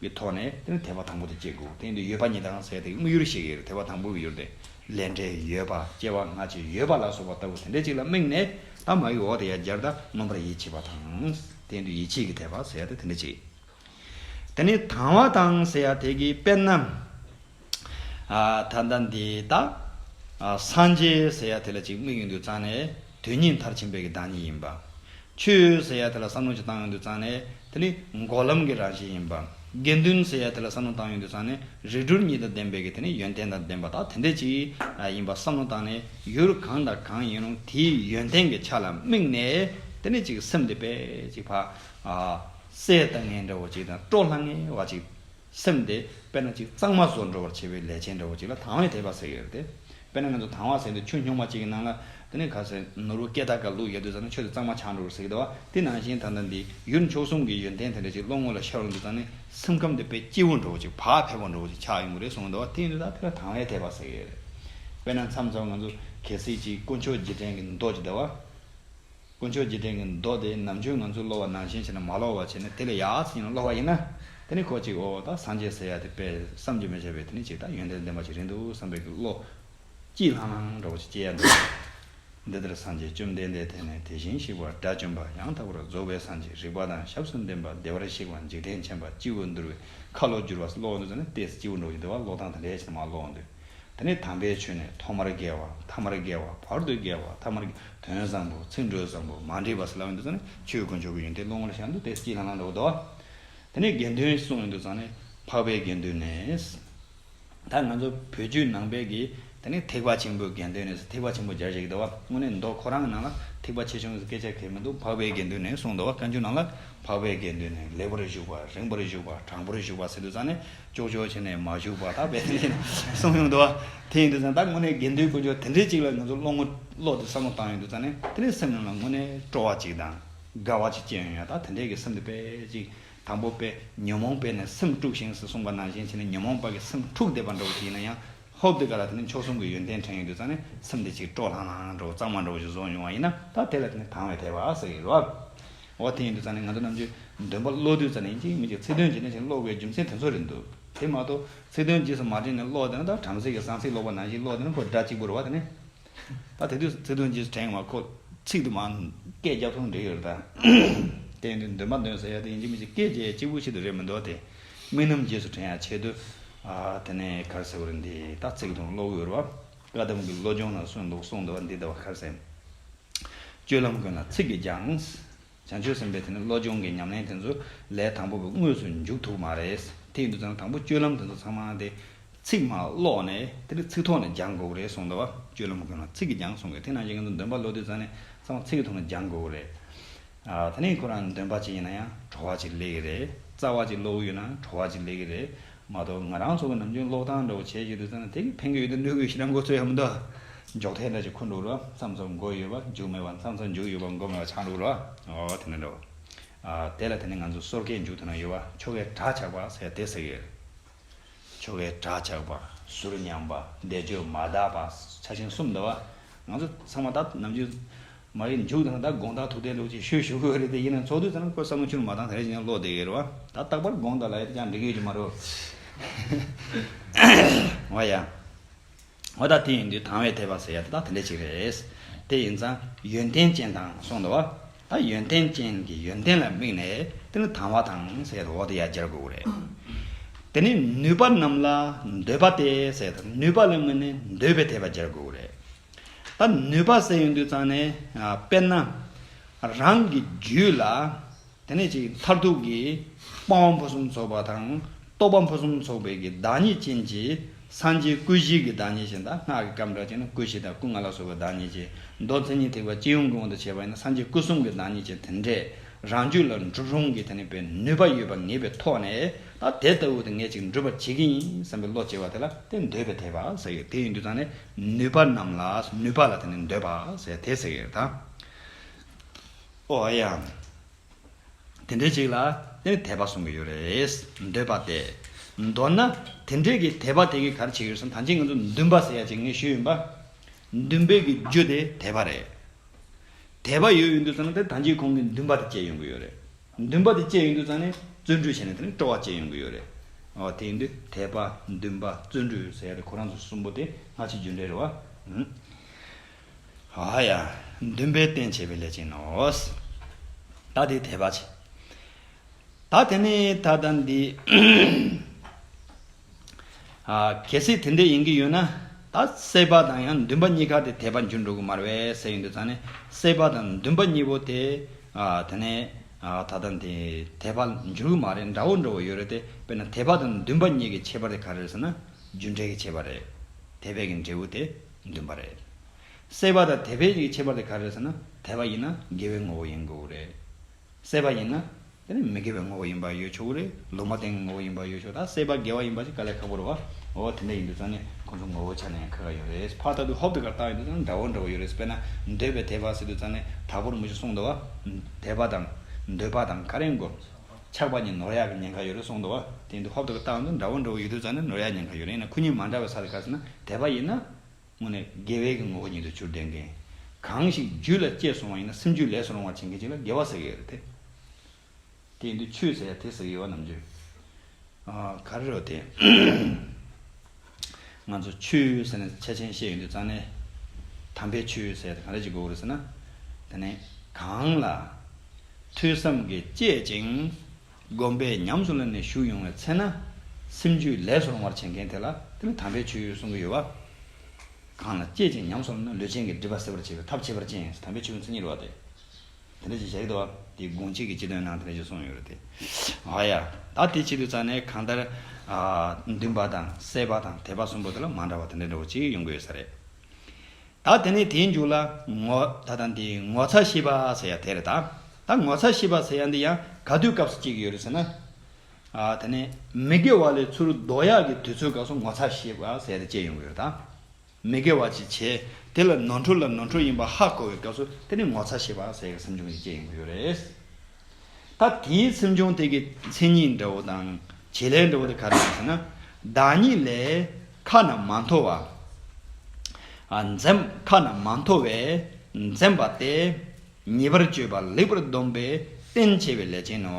གི་ཐོག་ནས་དེ་ནི་ཐེག་པ་དང་པོ་དང་བཅས་དགོས་དེ་འདི་ཡོད་པ་ཉིད་དང་ཟད་དེ་དངོས་ཡོད་ཤེས་ཀྱི་ཡོད་ཐེག་པ་དང་པོ་གི་ཡོད་དེ་ལས་འབྲས་ཡོད་པ་སྐྱེ་བ་སྔ་ཕྱི་ཡོད་པ་ལ་སོགས་པ་ལྟ་བུ་དེ་འདྲ་ཅིག་ལ་དམིགས་ནས་ད་མ་ཡིག་འོག་ཏུ་ཡང་བསྐྱར་ད་མངོན་པར་ཡིད་ཆེས་པ་དང། དེ་འདི་ཡིད་ཆེས་ཀྱི་ཐེག་པ་ཟད་དེ་དེ་འདྲ་ཅིག། དེ་ནི་དང་བ་དང་ཟད་དེ་ཀྱི་དཔེར་ན། ད་ལྟ་འདི་དག། སངས་རྒྱས་ཟེར་ཡ་དེ་ལ་ཅིག་དམིགས་ཡོང་དུས་གཙང་ནས་དོན་གཉིས་མཐར་ཕྱིན་པའི་གི་བདག་ཉིད་ཡིན་པ། ཆོས་ཟེར་ཡ་དེ་ལ་བསམ་བློ་ཅིག་བཏང་ཡོང་དུས་གཙང་ནས་དེ་ནི་འགོག་ལམ་གི་རང་བཞིན་ཡིན་པ། དགེ་འདུན་ཟེར་ཡ་དེ་ལ་བསམ་བློ་བཏང་ཡོང་དུས་གཙང་ནས་རིགས་དྲུག་གཉིས་དང་ལྡན་པའི་གི་དེ་ནི་ཡོན་ཏན་དང་ལྡན་པ་དག་དེ་འདྲས་ཅིག་ཡིན་པ་བསམ་བློ་བཏང་ནས་ཡུལ་གང་དང་གང་ཡིན་རུང་དེའི་ཡོན་ཏན་གྱི་ཆ་ལ་དམིགས་ནས་དེ་ནི་ཅིག་སེམས་འདི་པས་ཅིག་བ། སྲས་དང་ངན་འདྲ་བོ་ཅིག་དང་སྤྲོ་ལྷང་ངེ་བ་ཅིག། སེམས་དེ་དཔེར་ན་གཅིག་གཙང་མ་བཟོ་འགྲོ་བར་བྱེད་པའི་ལས་ཅན་འདྲ་བོ་གཅིག་ལ་དང་བའི་དད་པ་ཟེར་གྱི་ཡོད་རེད་དེ། དཔེར་ན་ང་ཚོ་དང་བ་ཟེར་དུས་ཆུ་སྙོག་མ་གཅིག་གི་ནང་ལ། དེ་ནས་ག་ཟེར་ནོར་བུ་སྐད་གདངས་ཀ་ལུག་ཡལ་དུས་ཙང་ནི་ཆུ་དེ་གཙང་མ་ཆགས་འགྲོ་བར་ཟེར་གྱི་འདུག་བ་དེ་ནང་བཞིན་ད་ལྟ་འདི་ཡུལ་མཆོག་གསུམ་གྱི་ཡོན་ཏན་དེ་འདྲ་གཅིག་བློ་ངོ་ལ་ཤར་འོང་དུས་ཙང་ནི་སེམས་ཁམས་དེ་དཔེ་སྐྱིད་བོ་འགྲོ་བོ་གཅིག་བག་ཕེབས་བོ་འགྲོ་བོ་གཅིག་ཆགས་ཡོང་གི་རེད་གསུང་གི་འདུག་བ་དེ་ཡིན་དུས་ད་དེ་ལ་དང་བའི་དད་པ་ཟེར་གྱི་ཡོད་རེད། དཔེར་ན་མཚམས་མཚམས་ང་ཚོ་གལ་སྲིད་གཅིག་དཀོན་མཆོག་རྗེས་དྲན་གྱི་མདོག་ཅིག་དང་བ། དཀོན་མཆོག་རྗེས་དྲན་གྱི་མདོ་དེ་ནམ་རྒྱུན་ང་ཚོས་ཀློག་བ་ནང་བཞིན་བྱས་ན་མ་ཀློག་བར་བྱས་ནས་དེ་ལས་ཡག་ཅིག་ཡིན་ན་ཀློག་པ་ཡིན་ན། དེ་ནི་གོ་ཅིག་ཨོ་ད་སངས་རྒྱས་ཟེར་ཡ་དེ་དཔེ་བསམ་གྱིས་མི་ཁྱབ་པའི་དེ་ནི་ཅིག་ད་ཡོན་ཏན་ལྡན་པ་ཞིག་རེད་འདུག་བསམ་པའི་བློ། སྐྱིད་ལྷང་ལྷང་འདྲ་བོ་ཞིག་སྐྱེ་ཡ་འདུག་འདི་ལྟར་སངས་རྒྱས་བཅོམ་ལྡན་འདས་དེ་ནི་དེ་བཞིན་གཤེགས་པ་དགྲ་བཅོམ་པ་ཡང་དག་པར་རྫོགས་པའི་སངས་རྒྱས་རིག་པ་དང་ཞབས་སུ་འདྲེན་པ་བདེ་བར་གཤེགས་པ་འཇིག་རྟེན་མཁྱེན་པ་སྤྱི་བོ་འདུལ་བའི་ཁ་ལོ་བསྒྱུར་བ་སོགས་ཀློག་འོས་འདུག་ཟེར་ན་ལྟས་སུ་སྤྱི་བོ་འགྲོགས་ཀྱི་འདུག་བ་ཀློག་སྟངས་དེ་འདྲས་བྱས་ན་མ་ཀློག་འོས་འདུག། དེ་ནི་དམ་པའི་ཆོས་ནི་ཐོག་མར་རྒལ་བ་ཐ་མར་རྒལ་བ་བར་དུ་རྒལ་བ་ཐ་མར་རྒལ་བ་དོན་བཟང་པོ་ཚིག་འགྲོས་བཟང་པོ་མ་འདྲེས་པ་སོགས་ལ་འོས་འདུ་ཚང་ནི་ཆོས་དཀོན་མཆོག་གི་ཡོན་ཏན་བློ་ངོར་ཤར་འདུག་དེ་སྤྱིའི་ལྷང་ལྷང་ལོག་རྟོག། དེ་ནས་དགེ་འདུན་གསུང་འོས་འདུ་ཚང་ནི་འཕགས་པའི་དགེ་འདུན་ནས། ད་ང་ཚོ་བོད་བརྒྱུད་ནང་པའི་དགེ་དེ་ནི་ཐེག་པ་ཆེན་པོའི་དགེ་འདུན་ནས་ཐེག་པ་ཆེན་པོ་སྦྱར་བྱེད་ཀྱི་འདུག་བ་དངོས་གནས་མདོ་ཁོ་རང་གི་ནང་ལ་ཐེག་པ་ཆེ་ཆུང་གི་སྐད་ཆ་གལ་མི་འདུག་འཕགས་པའི་དགེ་འདུན་ནས་གསུང་འདུག་བ་བཀའ་འགྱུར་ནང་ལ་འཕགས་པའི་དགེ་འདུན་ནས་ལེགས་པར་བཞུགས་པ་རིང་པར་བཞུགས་པ་དྲང་པོར་བཞུགས་པ་ཟེར་འདུག་ཚང་ནི་ཅོག་ཅོག་བྱས་ནས་མ་བཞུགས་པར་ད་བས་ནས་གསུངས་ཡོང་འདུག་དེ་ཡིན་དུས་ད་དངོས་གནས་དགེ་འདུན་དཀོན་མཆོག་དེ་འདྲའི་ཅིག་ལ་ང་ཚོ་བློ་ངོ་བློ་དེ་བསམ་བློ་བཏང་ཡོང་དུས་ད་ནི་དེ་འདྲའི་སེམས་ནང་ལ་དངོས་གནས་སྤྲོ་བ་ཅིག་དང་དགའ་བ་ཅིག་སྐྱེས་ཡོང་ཡང་ད་དེ་འདྲའི་གི་སེམས་དེ་དཔེ་ཅིག་དང་པོ་དཔེ་ཉོན་མོངས་པས་ནས་སེམས་དཀྲུགས་ཤིང་ཟེར་གསུངས་པ་ནང་བཞིན་བྱས་ནས་ཉོན་མོངས་པ་གི་སེམས་འཁྲུགས་བསྡད་པ་འདྲ་བོ་ཅིག་ཡིན་ན་ཡང། ཧོབ་དེ་ག་ལ་དེ་ནི་མཆོག་གསུམ་གྱི་ཡོན་ཏན་ཕྲེང་ཡིག་དུ་གཙང་ནས་སེམས་དེ་ཅིག་སྤྲོ་ལྷང་ལྷང་ལྷང་འགྲོ་གཙང་མ་འགྲོ་བ་ཞིག་བཟོ་མྱོང་བ་ཡིན་ན་ད་དེ་ལ་དེ་ནི་དྭངས་བའི་ཐལ་བ་ཟེར་གྱི་རོགས། འོ་དེ་ཡིན་དུས་གཙང་ནས་ང་ཚོ་རྣམས་ཀྱི་འདུན་པ་བློ་བསྡུས་ཙམ་ནས་ཡིན་གཅིག་མི་གཅིག་ཚིག་དོན་ཇི་འདྲ་ཞིག་ཀློག་དགོས་རྒྱུ་མཚན་དེ་ཚོ་རེད་འདུག་དེ་མ་གཏོགས་ཚིག་དོན་རྗེས་སུ་མ་དྲན་ནས་ཀློག་དེ་ན་ད་བྲམ་ཟེ་ཡི་གསང་ཚིག་ཀློག་པ་ནང་བཞིན་ཀློག་དེ་ན་ཁོ་སྒྲ་གཅིག་པུར་བ་དེ་ནི། ད་དེ་དུས་སུ་ཚིག་དོན་རྗེས་སུ་དྲན་མ་ཁོ་ཚིག་དུ་མ་སྐད་རྒྱབ་ཐོག་འབྲི་ཡོད་རེད་ད། གཏན་དུ་འདོན་མ་འདོན་ཟེར་ཡ་དེ་ཡིན་གཅིག་མིན་གཅིག་སྐད་རྒྱས་གཅིག་པུ་ཞིག་ཏུ་རེད་མི་འདོད་དེ། དམིགས་རྣམ་རྗེས་སུ་དྲན་ཡ་ཆེད་དུ། དེ་ནས་གར་གསལ་བོ་རེད་འདི་ད་ཚིག་དོན་བློ་འོད་རུ་བ། བཀའ་གདམས་ཀྱི་བློ་སྦྱོང་ན་སོན་འདུག་གསུངས་འདུག་བ་འདི་ད་བ་གར་གསལ། སྤྱོད་ལམ་ཀུན་ལ་ཚིག་གིས་སྦྱངས། བྱང་ཆུབ་སེམས་དཔའ་དེ་ནི་བློ་སྦྱོང་གི་ཉམས་ལེན་དེ་ཚོ་ལས་དང་པོ་བས་དངོས་སུ་མཇུག་ཐུག་མ་རེད། དེའི་འདུག་ཙང་དང་པོ་སྤྱོད་ལམ་དེ་ཚོ་ཚང་མ་དེ། ཚིག་མ་ཀློག་ནས་དེ་ནི་ཚིག་ཐོག་ནས་སྦྱང་དགོས་ཀྱི་རེད་གསུངས་དོ། སྤྱོད་ལམ་ཀུན་ལ་ཚིག་གིས་སྦྱང་གསུངས་ཀྱི་དེ་ནང་བཞིན་ང་ཚོ་འདོན་པ་ཀློག་དུས་ཙང་ནས་ཚང་མ་ཚིག་གི་ཐོག་ནས་སྦྱང་དགོས་ཀྱི་རེད། ད་ནི་ཁོ་རང་འདོན་པ་ཅིག་ཡིན་ན་ཡང་བྲོ་བ་ཅིག་ལེགས་ཀྱི་རེད། རྩ་བ་ཅིག་ཀློག་གི་ཡོད་ན་བྲོ་བ་ཅིག་ལེགས་ཀྱི་རེད། མ་གཏོགས་ང་རང་ཚོ་གི་ནམ་རྒྱུན་གློག་ཐང་འདྲ་བོ་བྱེད་བཞིན་འདུག་ཙང་ནས་དེ་གི་ཕན་གི་ཡོད་དུ་གནོད་གི་ཡོད་ཤི་རང་མགོ་ཚོས་ཡ་མི་འདུག་འཇོག་ཐལ་འདྲ་ཅིག་འཁུར་འདུག་ལོ་མཚམས་མཚམས་མགོ་ཡོད་པ་མཇུག་མེད་པ་མཚམས་མཚམས་མཇུག་ཡོད་པ་མགོ་མེད་པ་ཆགས་འདུག་ལོ་འོ་དེ་འདྲ་འདྲ་བོ་དེ་ལ་དེ་ནས་ང་ཚོ་སོར་ཁའི་མཇུག་དེ་ན་ཡོད་པ་ཆོ་གའི་བྲག་ཆགས་པ་ཟེར་དེ་ཟེར་གི་ཡོད། ཆོ་གའི་བྲག་ཆགས་པ། ཟུར་ཉམས་པ། བཟླས་བརྗོད་མ་དག་པ། ཆ་ཆེན་གསུམ་འདུག་ང་ཚོ་ཚང་མ་ད་ནམ་རྒྱུན། མ་རིག་འཇུག་དང་ད་དགོངས་དག་ཐུགས་བདེ་ལུགས་ཀྱི་ཤོད་ཞུ་གི་འོས་རེད་དེ་ཡིན་ན་ཚོགས་དུས་ཚང་ཁོས་བསམ་བློ་ཆུར་མ་བཏང་ད་རེས་ཀྱང་བློ་བདེ་གི་རེད་བ་ད་རྟག་པར་དགོངས་དག་ལ་ཡོད་དེ་ཅང་འགྲིག་གི་ཡོད་ཀྱི་མ་རེད་བ། བ་ཡ། འོ་ད་དེ་ཡིན་དུས་དང་བའི་དད་པ་ཟེར་ཡ་དེ་དག་དེ་འདྲས་ཅིག་རེད། དེ་ཡིན་ཙང་ཡོན་ཏན་ཅན་དང་གསུངས་འདུག་བ། ད་ཡོན་ཏན་ཅན་གྱི་ཡོན་ཏན་ལ་དམིགས་ནས་དེ་ནི་དང་བ་དང་ཟེར་ཡ་དེ་འོག་ཏུ་ཡ་སྦྱར་དགོས་གི་རེད། དེ་ནས་ནུས་པ་རྣམས་ལ་འདོད་པ་སྟེ་ཟེར་ཡ་དེ་ནུས་པ་ལ་དམིགས་ནས་འདོད་པའི་དད་པ་སྦྱར་དགོས་གི་རེད། ད་ནུས་པ་ཟད་ཡོང་དུས་ཙང་ནས་དཔེར་ན། རང་གི་རྒྱུད་ལ་དེ་ནས་ཅིག་མཐར་ཐུག་གི་སྤང་བ་ཕུན་སུམ་ཚོགས་པ་དང་རྟོགས་པ་ཕུན་སུམ་ཚོགས་པའི་གི་བདག་ཉིད་ཅན་གྱི་སངས་རྒྱས་སྐུ་བཞིའི་གི་བདག་ཉིད་ཅན་དང་སྔགས་ཀྱི་སྐབས་འདྲ་ཅན་སྐུ་བཞི་དང་སྐུ་ལྔ་ལ་སོགས་པའི་བདག་ཉིད་ཅན་མདོ་མཚན་ཉིད་ཐེག་པ་སྤྱི་ཡོངས་ཀྱི་དབང་དུ་བྱས་པ་ཡིན་ན་སངས་རྒྱས་སྐུ་གསུམ་གྱི་བདག་ཉིད་ཅན་དེ་འདྲས་རང་རྒྱུད་ལ་འགྲུབ་རུང་གི་དེ་ནས་པའི་ནུས་པ་ཡོད་པར་ངེས་པའི་ཐོག་ནས་ད་དེ་ལྟ་བུ་དེ་ངས་ཅིག་འགྲུབ་པར་བྱེད་ཀྱི་ཡིན་བསམ་པའི་བློ་བྱེ་བ་དེ་ལ་དེ་འདོད་པའི་དེ་བ་ཟེར་གི་དེ་ཡིན་དུས་ཙང་ནས། ནུས་པ་རྣམས་ལ་ནུས་པ་ལ་དེ་ནི་འདོད་པ་ཟེར་དེ་ཟེར་ཡོད་དམ། ཨོ་ཨ་ཡ། དེ་འདྲའི་ཅིག་ལ་དེ་ནི་དད་པ་གསུང་གི་ཡོད་རེད། འདོད་པ་སྟེ། མདོར་ན། དེ་འདྲའི་གི་དད་པ་དེ་གི་གར་བྱེད་ཀྱི་ཡོད་སམ་ཐང་ཅིག་ང་ཚོ་འདུན་པ་ཟེར་ཡ་ཅིག་ངས་ཞུས་ཡོད་པ། འདུན་པའི་གི་རྒྱུ་དེ་དད་པ་རེད། དད་པ་ཡོད་ཡོད་འདུག་ཟེར་ན་དེ་ཐང་ཅིག་ཁོང་གི་འདུན་པ་དེ་བསྐྱེད་ཡོང་གི་ཡོད་རེད། འདུན་པ་དེ་བསྐྱེད་ཡོང་དུས་ཙང་ནས་བརྩོན་འགྲུས་བྱས་ནས་དེ་ནས་སྤྲོ་བ་བསྐྱེད་ཡོང་གི་ཡོད་རེད། འོ་དེ་ཡིན་དུས་དད་པ། འདུན་པ། བརྩོན་འགྲུས་ཟེར་ཡ་དེ་ཁོ་རང་ཚོ་གསུམ་པོ་དེ་སྔ་ཕྱི་རྒྱུན་འབྲེལ་རེད་བ། ཨ་ཡ། འདུན་པའི་རྟེན་བྱེད་པའི་ལས་ཅན་ནོ། ད་དེ་དད་པ་བྱེད། ད་དེ་ནས་ད་ལྟ་འདི། གལ་སྲིད་དེ་འདྲ་ཡིན་གྱི་ཡོད་ན། ད་སྲེད་པ་དང་ཡང་འདུན་པ་གཉིས་ཀ་དེ་དད་པ་འགྱུར་འགྲོ་གི་མ་རེད་བས་ཟེར་ཡོད་འདུག་ད་ནི་སྲེད་པ་དང་འདུན་པ་གཉིས་པོ་དེ། དེ་ནས། ད་ལྟ་འདི་དད་པ་འགྱུར་གི་མ་རེད་འདྲ་བོ་འདྲ་བོ་ཡོད་རེད་དེ། དཔེར་ན་དད་པ་དང་འདུན་པ་གཉིས་ཀྱི་ཁྱད་པར་དེ་ག་རེ་རེད་ཟེར་ན། རྒྱུ་འབྲས་ཀྱི་ཁྱད་པར་རེད། དད་པས་ཀྱི་འབྲས་བུ་དེ་འདུན་པ་རེད། སྲེད་པ་དང་དད་པའི་གཉིས་ཀྱི་ཁྱད་པར་དེ་ག་རེ་རེད་ཟེར་ན། དད་པ་ཡིན་ན་དགེ་བའི་ངོ་བོ་ཡིན་དགོས་རེད། བསད་པ་ཡིན་ན། དེ་ནི་མི་དགེ་བའི་ངོ་བོ་ཡིན་པར་ཡོད་ཆོག་གི་རེད། ལུང་མ་བསྟན་གྱི་ངོ་བོ་ཡིན་པར་ཡོད་ཆོག་ད་བསད་པ་དགེ་བ་ཡིན་པ་ཞིག་ག་ལས་ཁག་པོ་རེད་བ། འོ་དེ་འདྲ་ཡིན་དུས་ཙང་ནི་ཁོང་ཚོ་ངོ་བོའི་ཆ་ནས་ཡང་ཁག་ཁག་ཡོད་རེད། ཕར་ལྟ་དུས་ཧོབ་ཏུ་གར་བཏགས་ཡིན་དུས་ཙང་འདྲ་བོ་འདྲ་བོ་ཡོད་རེད་དཔེར་ན་འདོད་པའི་དད་པ་ཟེར་དུས་ཙང་ནི་དྲག་པོར་མི་ཆོག་གསུངས་འདུག་བ། དད་པ་དང། འདོད་པ་དང་ག་རེ་འགོ། ཆགས་པ་གཉིས་ནོར་ཡག་གི་ཉེན་ཁ་ཡོད་རེད་གསུངས་འདུག་བ། དེ་ཡིན་དུས་ཧོབ་ཏུ་གར་བཏགས་ཡིན་དུས་འདྲ་བོ་འདྲ་བོ་ཡོད་དུས་ཙང་ནི་ནོར་ཡག་ཉེན་ཁ་ཡོད་རེད་ཡིན་ན་ཁུ་ཉིན་མ་འདྲ་བའི་ས་རེ་གར་ཟེར་ན་དད་པ་ཡིན་ན། དངོས་གནས་དགེ་བའི་གི་ངོ་བོ་ཉིད་དུ་གྱུར་ལྡན་མཁན། གང་ཞིག་རྒྱུད་ལ་སྐྱེས་སོང་བ་ཡིན་ན་སེམས་རྒྱུད་ལས་སུ་རུང་བར་བྱེད་མཁན་ཅིག་ལ་དགེ་བ་ཟེར་གི་ཡོད་རེད་དེ། དེ་ཡིན་དུས་ཆོས་ཟེར་ཡ་དེ་ཟེར་གི་ཡོད་བ་ནམ་ཅི། ག་རེ་རེད་དེ། ང་ཚོ་ཆོས་ཟེར་ནས་ཆ་ཆེན་བཤད་ཡོད་དུས་རྩ་ནས། དམ་པའི་ཆོས་ཟེར་ཡ་དེ་ག་རེ་ཅིག་དགོས་གི་རེད་ཟེར་ན། དེ་ནི་གང་ལ། ཐོས་བསམ་གྱིས་དཔྱད་ཅིང། སྒོམ་པས་ཉམས་སུ་ལེན་ནས་ཞུགས་ཡོང་བའི་ཚེ་ན། སེམས་རྒྱུད་ལས་སུ་རུང་བར་བྱེད་མཁན་དེ་ལ་དེ་ལས་དམ་པའི་ཆོས་ཡོད་གསུང་གི་ཡོད། བ་གང་ལ་སྐྱེད་ཅིང་ཉམས་སུ་ལེན་ན་ལུས་ཅན་གྱི་སྒྲིབ་པ་སེལ་བར་བྱེད་པའི་ཐབས་ཁྱད་པར་ཅན་ཡིན་ཞེས་དམ་པའི་ཆོས་ཀུན་མཚན་ཉིད་བ་དེ། དེ་འདྲ་ཅེས་ཞལ་གྱི་བདག་བ་དེའི་དགོངས་གཅིག་གི་སྤྱི་དོན་ནང་དེ་འདྲ་ཞེས་གསུངས་ཡོད་རེད་དེ། ཨ་ཡ། ད་དེ་ཆེད་དུ་རྩ་ནས་གང་ལྟར། འདུན་པ་དང་གསད་པ་དང་དད་པ་གསུམ་པོ་དེ་ལ་མ་འདྲ་བ་དེ་འདྲ་འདྲ་བོ་གཅིག་ཡོང་གི་ཡོད་ས་རེད། ད་དེ་ནས་དེའི་མཇུག་ལ། ངོ། ད་དང་དེའི་ངོ་ཚ་ཤི་བ་ཟེར་ཡ་དེ་རེད་ད། ད་ངོ་ཚ་ཤི་བ་ཟེར་ཡ་འདི་ཡང་ག་དུས་སྐབས་སུ་གཅིག་ཡོད་རེད་ཟེར་ན། དེ་ནས་མི་དགེ་བ་ལས་ཚུར་ལྡོག་ཡག་གི་དུས་ཚོད་སྐབས་སུ་ངོ་ཚ་ཤི་བ་ཟེར་ཡ་དེ་བཅས་ཡོང་གི་རེད་ད། མི་དགེ་བ་ཅིག་བྱས་དེ་ལ་ནོར་འཁྲུལ་ལ་ནོར་འཁྲུལ་ཡིན་པ་ཧ་གོ་བའི་སྐབས་སུ་དེ་ནས་ངོ་ཚ་ཤི་བ་ཟེར་ཡ་སེམས་ཆུང་གི་དུས་བཅས་ཡོང་གི་ཡོད་རེད། ད་དེའི་ཚུལ་འབྱུང་ཐིག་གི་མཚན་ཉིད་འདྲ་བོ་དང་བྱེད་ལས་འདྲ་བོ་དེ་ག་རེ་ཡིན་ཞེ་ན། བདག་ཉིད་ལས། ཁ་ན་མ་མཐོ་བ། འཛེམས། ཁ་ན་མ་མཐོ་བས་འཛེམས་པ་སྟེ། ཉེས་པར་སྤྱོད་པ་ལེགས་པར་སྡོམ་པའི་རྟེན་བྱེད་པའི་ལས་ཅན་ནོ།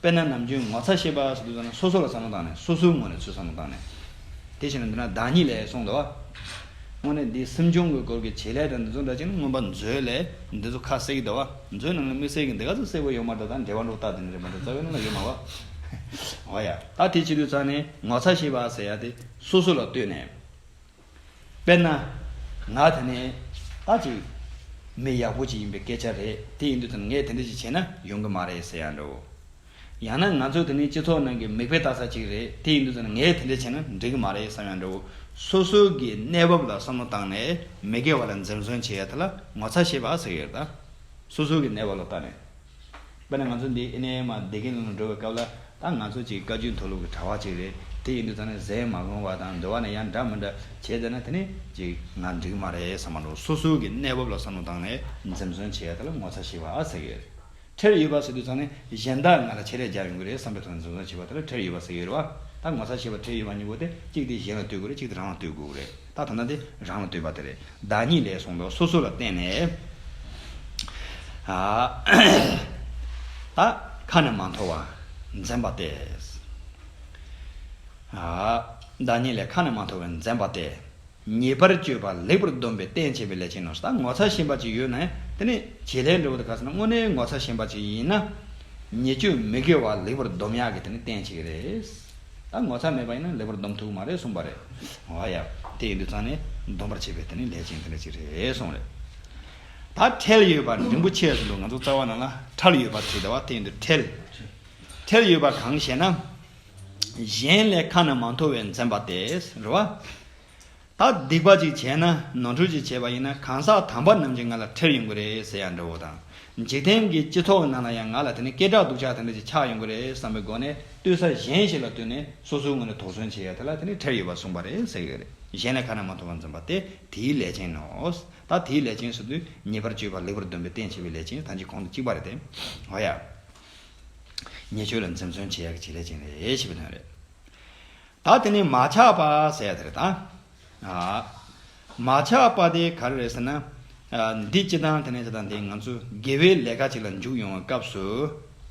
དཔེར་ན་ནམ་རྒྱུན་ངོ་ཚ་ཤེས་པ་སོགས་དུས་ཚོད་ནང་སོ་སོ་ལ་བསམ་བློ་བཏང་ནས་སོ་སོའི་ངོས་ནས་ཚུལ་བསམ་བློ་བཏང་ནས། དེ་བྱས་ན་འདི་ན་བདག་ཉིད་ལས་གསུངས་འདུག། དངོས་གནས་འདིའི་སེམས་བྱུང་གི་སྐོར་གྱི་བྱེད་ལས་དང་འདི་ཚོ་འདྲ་གཅིག་ནི་མངོན་པ་མཛོད་ལས་འདི་ཚོ་ཁ་གསལ་གྱི་འདུག་བ་མཛོད་ནང་ལས་མི་གསལ་གྱི་འདི་ག་ཚོ་གསལ་བོ་ཡོད་མ་གཏོགས་དང་འབྲེལ་བ་འདྲོག་རྟགས་དེ་འདྲ་རེད་མ་གཏོགས་རྩ་བའི་ནང་ལ་ཡོད་མ་བ། འོ་ཡ། ད་དེ་བྱེད་དུས་ཚང་ནས་ངོ་ཚ་ཤེས་པ་ཟེར་ཡ་དེ་སོ་སོ་ལ་ལྟོས་ནས། དཔེར་ན། ང་དེ་ནས་ཨ་ཅིག། མི་ཡག་པོ་ཅིག་ཡིན་པའི་སྐད་ཆ་རེད་དེ་ཡིན་དུས་དང་ངས་དེ་འདྲ་ཅིག་བྱས་ན་ཡོང་གི་མ་རེད་ཟེར་ཡང་འདྲའོ། ཡང་ན་ང་ཚོ་དེ་ནི་སྤྱི་ཚོགས་ནང་གི་མིག་དཔེ་ལྟ་ས་ཅིག་རེད་དེ་ཡིན་དུས་དང་ངས་དེ་འདྲ་བྱས་ན་འགྲིག་གི་མ་རེད་བསམ་ཡང་འདྲའོ། སོ་སོ་གི་གནས་བབ་ལ་བསམ་བློ་བཏང་ནས་མི་སྒེར་བ་ལ་འཛེམ་ཟོན་བྱེད་ཡ་དེ་ལ་ངོ་ཚ་ཤེས་པ་ཟེར་ཡོད་ད། སོ་སོ་གི་གནས་བབ་ལ་བལྟ་ནས། དཔེར་ན་ང་ཚོ་འདི་ཨི་ནས་མ་བདེ་གིན་ལ་ལ་འགྲོ་བའི་སྐབས་ལ་ད་ང་ཚོ་ཅིག་བཀའ་བརྒྱུད་མཐོ་སློབ་ཀྱི་གྲྭ་བ་ཅིག་རེད་དེ་ཡིན་དུས་ཚང་ནས་ཟས་མ་བླངས་བ་དང་འདོད་བ་ནས་ཡང་འདྲ་མི་འདྲ་བྱས་བསྡད་ན་དེ་ནས་ཅིག་ང་འགྲིག་གི་མ་རེད་བསམ་མ་འགྲོ་སོ་སོའི་གི་གནས་བབ་ལ་བསམ་བློ་བཏང་ནས་འཛེམས་ཟོན་བྱས་ད་ལ་ངོ་ཚ་ཞེས་པ་ཟེར་གི་ཡོད་ཁྲེལ་ཡོད་པ་ཟེར་དུས་ཚང་ནས་གཞན་དག་ང་ལ་ཆེད་ལས་རྒྱག་ཡོང་གི་རེད་བསམ་པའི་ཐོག་ནས་འཛེམས་ཟོན་བྱས་པ་ད་ལ་ཁྲེལ་ཡོད་པ་ཟེར་གི་ཡོད་རེད་བ་ད་ངོ་ཚ་ཞེས་པ་ཁྲེལ་ཡོད་པ་གཉིས་པོ་དེ་གཅིག་དེ་གཞན་ལ་ལྟོས་དགོས་རེད་གཅིག་དེ་རང་ལ་ལྟོས་དགོས་རེད། ད་ཐ་ན་དེ་རང་ལ་ལྟོས་པ་དེ་རེད་བདག་ཉིད་ལས་གསུངས་མདོག་སོ་སོ་ལ་བརྟེན་ནས། ད། ཁ་ནས་མ་འཐོར་བ། འཛེམ་པ་སྟེ། བདག་ཉིད་ལས་ཁ་ནས་མ་འཐོར་བའི་འཛེམ་པ་སྟེ། ཉེས་པར་སྤྱོད་པ་ལེགས་པར་སྡོམ་པའི་རྟེན་བྱེད་པའི་ལས་ཅན་ནོ། ད་ངོ་ཚ་ཞེན་པ་ཅིག་ཡོད་ནས་དེ་ནི་བྱེད་ལས་འབྲས་བུ་དང་ཁ་ཟེར་ན་དངོས་གནས་ངོ་ཚ་ཞེན་པ་ཅིག་ཡིན་ན། ཉེས་སྤྱོད་མི་དགེ་བ་ལེགས་པར་སྡོམ་ཡག་གི་དེ་ནི་རྟེན་བྱེད་ཀྱི་རེད། ད་ངོ་ཚ་མེད་པ་ཡིན་ན་ལེགས་པར་སྡོམ་ཐུག་གི་མ་རེད་གསུངས་པ་རེད། ཨོ་ཡ། དེ་ཡིན་དུས་ཚང་ནས་སྡོམ་པར་བྱེད་པའི་དེ་ནི་ལས་ཅན་དེ་འདྲ་ཅིག་རེད་གསུངས་རེད། ད་ཁྲེལ་ཡོད་པ་འབྲིང་པོ་ཆེ་ཟེར་འདུག་ང་ཚོ་རྩ་བ་ནང་ལ་ཁྲལ་ཡོད་པ་ཟེར་ཟླ་བ་དེ་ཡིན་དུས་ཁྲེལ། ཁྲེལ་ཡོད་པ་གང་ཞེ་ན། གཞན་ལས་ཁ་ན་མ་མཐོ་བའི་འཛེམ་པ་དེ་རེད། ད་སྡིག་པ་ཅིག་བྱས་ན་ནོར་འཁྲུལ་ཅིག་བྱས་པ་ཡིན་ན་གང་ཟག་དམ་པ་རྣམས་ཀྱིས་ང་ལ་ཁྲེལ་ཡོང་གི་རེད་ཟེར་ཡང་འདྲ་བོ་དང། འཇིག་རྟེན་གྱི་སྤྱི་ཚོགས་ནང་ལ་ཡང་ང་ལ་དེ་ནས་སྐད་གྲགས་སྡུག་ཅག་དེ་འདྲ་ཅིག་ཆགས་ཡོང་གི་རེད་བསམ་པའི་སྒོ་ནས་བསྟོད་ས་གཞན་ཞིག་ལ་བསྟོད་ནས་སོ་སོའི་ངོས་ནས་དོགས་ཟོན་བྱེད་ཡ་དེ་ལ་དེ་ནི་ཁྲེལ་ཡོད་པར་གསུངས་པ་རེད་ཟེར་གི་རེད་གཞན་ལས་ཁ་ན་མ་ཐོ་བ་འཛོམས་པ་དེ་དེའི་ལས་ཅན་ནོ། ད་དེའི་ལས་ཅན་ཟེར་དུས་ཉེས་པར་སྤྱོད་པ་ལེགས་པར་འདོན་པའི་རྟེན་བྱེད་པའི་ལས་ཅན་ཐམས་ཅད་གོང་དུ་གཅིག་པ་རེད་དེ། ཨོ་ཡ། ཉེས་སྤྱོད་ལ་འཛེམ་ཟོན་བྱེད་ཡ་གི་བྱེད་ལས་ཅན་རེད་ཞེས་པའི་དོན་རེད། ད་དེ་ནི་མ་ཆགས་པ་ཟེར་ཟེར་དང། མ་ཆགས་པ་དེ་ག་རེ་རེད་ཟེར་ན། འདི་ཅི་དང་དེ་ནས་ཅི་དང་དེ་ང་ཚོ་དགེ་བའི་ལས་ཀ་ཅིག་ལ་འཇུག་ཡོང་བའི་སྐབས་སུ།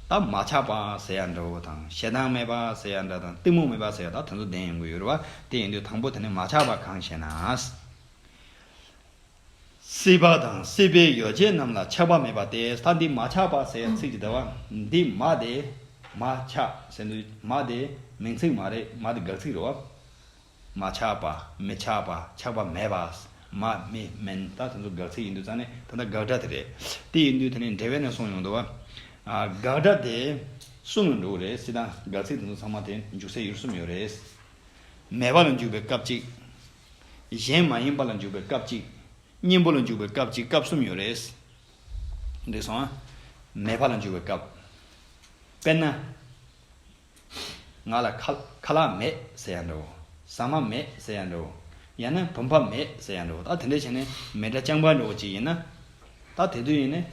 ད་མ་ཆགས་པ་ཟེར་ཡ་འདྲ་བོ་དང་ཞེ་སྡང་མེད་པ་ཟེར་ཡ་འདྲ་དང་གཏི་མུག་མེད་པ་ཟེར་ཡ་ད་དེ་ཚོ་ལྡན་ཡོང་གི་ཡོད་རེད་བ་དེ་ཡིན་དུས་དང་པོ་དེ་ནི་མ་ཆགས་པ་གང་ཞེ་ན། སྲིད་པ་དང་སྲིད་པའི་ཡོ་བྱད་རྣམས་ལ་ཆགས་པ་མེད་པ་སྟེ་ས་འདི་མ་ཆགས་པ་ཟེར་ཚིག་ཅི་ལྟ་བ། འདི་མ་དེ་མ་ཆགས་ཟེར་འདི་མ་དེ་མིང་ཚིག་མ་རེད་མ་དེ་དགག་ཚིག་རེད་བ། མ་ཆགས་པ་མི་ཆགས་པ་ཆགས་པ་མེད་པ་མ་མི་མིན་ད་དེ་ཚོ་དགག་ཚིག་ཡིན་དུས་ཙང་ནི་ད་ལྟ་དགག་སྒྲ་དེ་རེད་དེ་ཡིན་དུས་དེ་ནི་འབྲེལ་བས་ནི་གསུངས་ཡོང་དུ་བ། དགག་སྒྲ་དེ་གསུམ་ལ་འགྲོ་གི་རེད་སྲིད་དང་དགག་ཚིག་དེ་ཚོ་ཚང་མ་དེ་འཇུག་སའི་ཡུལ་གསུམ་ཡོད་རེད། མེད་པ་ལ་འཇུག་པའི་སྐབས་གཅིག། གཞན་མ་ཡིན་པ་ལ་འཇུག་པའི་སྐབས་གཅིག། གཉེན་པོ་ལ་འཇུག་པའི་སྐབས་གཅིག་སྐབས་གསུམ་ཡོད་རེད། འགྲིག་སོང་ཨ། མེད་པ་ལ་འཇུག་པའི་སྐབས། དཔེར་ན། ང་ལ་ཁ་ལག་མེད་ཟེར་ཡང་འདྲའོ། ཟ་མ་མེད་ཟེར་ཡང་འདྲའོ། ཡང་ན་བུམ་པ་མེད་ཟེར་ཡང་འདྲའོ། ད་དེ་འདྲ་བྱས་ནས་མེད་འདྲ་རྐྱང་པ་འདྲ་བོ་གཅིག་ཡིན་ན། ད་དེ་དུས་ཡིན་ནས་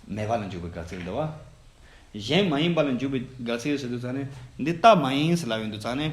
མེད་པ་ལ་འཇུག་པའི་དགག་ཚིག་འདི་བ། གཞན་མ་ཡིན་པ་ལ་འཇུག་པའི་དགག་ཚིག་ཟེར་དུས་ཚང་ནས་འདི་རྟགས་མ་ཡིན་ཟེར་ལབ་ཡོང་དུས་ཚང་ནས།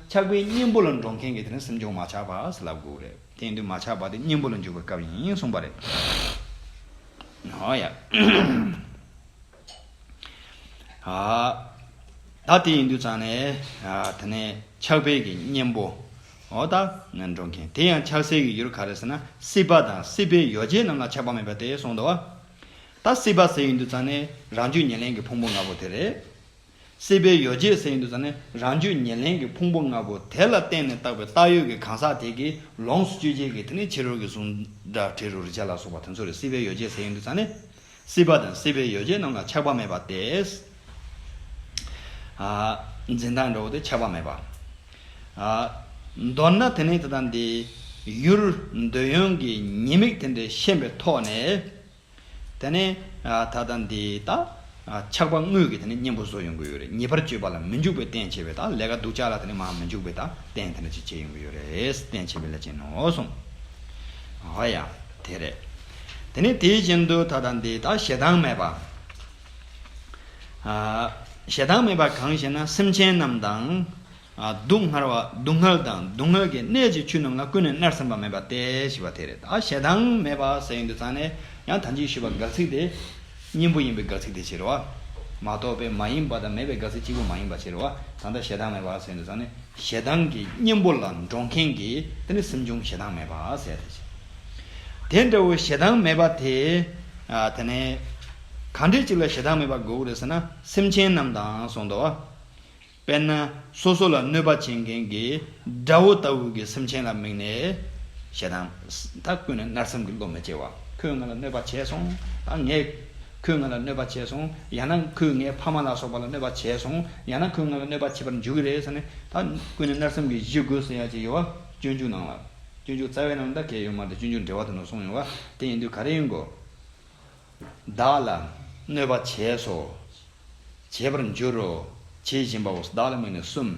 ཆགས་པའི་གཉེན་པོ་ལ་འགྲོ་མཁན་གྱི་དེ་ནི་སེམས་བྱུང་མ་ཆགས་པ་ཞེས་ལབ་དགོས་རེད། དེང་དུས་མ་ཆགས་པ་དེ་གཉེན་པོ་ལ་འཇུག་པའི་སྐབས་ཡིན་གསུངས་པ་རེད། ཧོ་ཡ། ད་དེ་ཡིན་དུས་ཙང་ནས་དེ་ནས་ཆགས་པའི་གི་གཉེན་པོ། ཨོ་ད། འགྲོ་མཁན་དེ་ཡང་ཆགས་སའི་གི་ཡུལ་ག་རེད་ཟེར་ན་སྲིད་པ་དང་སྲིད་པའི་ཡོ་བྱད་རྣམས་ལ་ཆགས་པ་མེད་པ་དེ་གསུངས་འདུག་བ། ད་སྲིད་པ་ཟེར་ཡིན་དུས་ཙང་ནས་རང་རྒྱུད་ཉེར་ལེན་གྱི་ཕུང་པོ་ལྔ་པོ་དེ་རེད། སྲིད་པའི་ཡོ་བྱད་གསེར་འདུས་ནི་རང་རྒྱུད་ཉེར་ལེན་གྱི་ཕུང་པོ་ལྔ་པོ་དེ་ལ་བརྟེན་ནས་བཏགས་པའི་བཏགས་ཡོད་ཀྱི་གང་ཟག་དེ་གིས་ལོངས་སུ་སྤྱོད་བྱེད་ཀྱི་དེ་ནི་ཕྱི་རོལ་གྱི་གཟུགས་སྒྲ་དྲི་རོ་རེག་བྱ་ལ་སོགས་པ་དེ་ཚོ་རེད་སྲིད་པའི་ཡོ་བྱད་གསེར་འདུས་ནི་སྲིད་པ་དང་སྲིད་པའི་ཡོ་བྱད་རྣམས་ལ་ཆགས་པ་མེད་པ་སྟེ། འཛིན་སྟངས་འདྲ་བོ་དེ་ཆགས་པ་མེད་པ། མདོར་ན་དེ་ནི་དེ་དང་དེའི་ཡུལ་འདོད་ཡོན་གྱི་ཉེས་དམིགས་དེ་འདྲའི་ཤེས་པའི་ཐོག་ནས། ད་ནི་ད་ལྟ་འདི་ལྟ། ཆགས་པ་དངོས་ཀྱི་གཉེན་པོ་བཟོ་ཡོང་གི་ཡོད་རེད། ཉེས་པར་སྤྱོད་པ་ལ་མི་འཇུག་པའི་རྟེན་བྱེད་པའི་དང་ལས་ཀ་སྡུག་ཅག་ལ་དེ་ནི་མ་མི་འཇུག་པའི་དང་རྟེན་དེ་འདྲ་ཅིག་བྱེད་ཡོང་གི་ཡོད་རེད། རྟེན་བྱེད་པའི་ལས་ཅན་ནོ་གསུངས། འོ་ཡ། དེ་རེད། དེ་ནི་དེའི་རྐྱེན་དུ་ད་ལྟ་འདི་ལྟ་ཞེ་སྡང་མེད་པ། ཞེ་སྡང་མེད་པ་གང་ཞེ་ན་སེམས་ཅན་རྣམས་དང། སྡུག་བསྔལ་བ་སྡུག་བསྔལ་དང་སྡུག་བསྔལ་གྱི་གནས་ཀྱི་ཆོས་རྣམས་ལ་ཀུན་ནས་མནར་སེམས་པ་མེད་པ་སྟེ་ཞེས་པ་དེ་རེད་ད་ཞེ་སྡང་མེད་པ་ཟེར་ཡོན་དུ་ཚང་ནས་ཡང་དམ་ཅན་ཞུས་པ་དགག་ཚིག་དེ། གཉེན་པོ་ཡིན་པའི་དགག་ཚིག་དེ་ཕྱིར་རོ། མ་གཏོགས་པའི་མ་ཡིན་པ་དང་མེད་པའི་དགག་ཚིག་གཅིག་པོ་མ་ཡིན་པ་ཕྱིར་རོ། གང་ལྟར་ཞེ་སྡང་མེད་པ་ཟེར་ཡོན་དུ་ཚང་ནས་ཞེ་སྡང་གི་གཉེན་པོ་ལ་འགྲོགས་མཁན་གྱི་དེ་ནི་སེམས་བྱུང་ཞེ་སྡང་མེད་པ་ཟེར་ཏེ་ཞེ། དེ་འདྲ་བའི་ཞེ་སྡང་མེད་པ་དེ། དེ་ནས། གང་འདྲའི་ཅིག་ལ་ཞེ་སྡང་མེད་པར་དགོས་ཀྱི་རེད་ཟེར་ན་སེམས་ཅན་རྣམས་དང་གསུངས་ཏོ། དཔེར་ན་སོ་སོ་ལ་གནོད་པ་བྱེད་མཁན་གྱི་དགྲ་བོ་ལྟ་བུ་གྱི་སེམས་ཅན་ལ་དམིགས་ནས། ཞེ་སྡང། ད་ཀུན་ནས་མནར་སེམས་ཀྱི་བློ་མི་སྐྱེ་བ། ཁོས་ང་ལ་གནོད་པ་བྱས་སོང། ངས། ཁོས་ང་ལ་གནོད་པ་བྱས་སོང། ཡང་ན་ཁོས་ངའི་ཕ་མ་ལ་སོགས་པ་ལ་གནོད་པ་བྱས་སོང། ཡང་ན་ཁོས་ང་ལ་གནོད་པ་བྱེད་པར་འཇུག་གི་རེད་ཟེར་ནས། ད་ཀུན་ནས་མནར་སེམས་ཀྱི་གཞི་འགོས་སོ་ཡ་གཅིག་ཡོད་བ། སྤྱོད་འཇུག་ནང་ལ། སྤྱོད་འཇུག་རྩ་བའི་ནང་ད་གས་ཡོད་མ་རེད་སྤྱོད་འཇུག་འབྲེལ་བ་དེ་ནས་སོང་ཡོང་བ། དེ་ཡིན་དུས་ག་རེ་ཡིན་དགོས། བདག་ལ་གནོད་པ་བྱས་སོ། བྱེད་པར་འགྱུར་རོ། བྱེད་བཞིན་པའོ། བདག་ལ་དམིགས་ནས་གསུམ།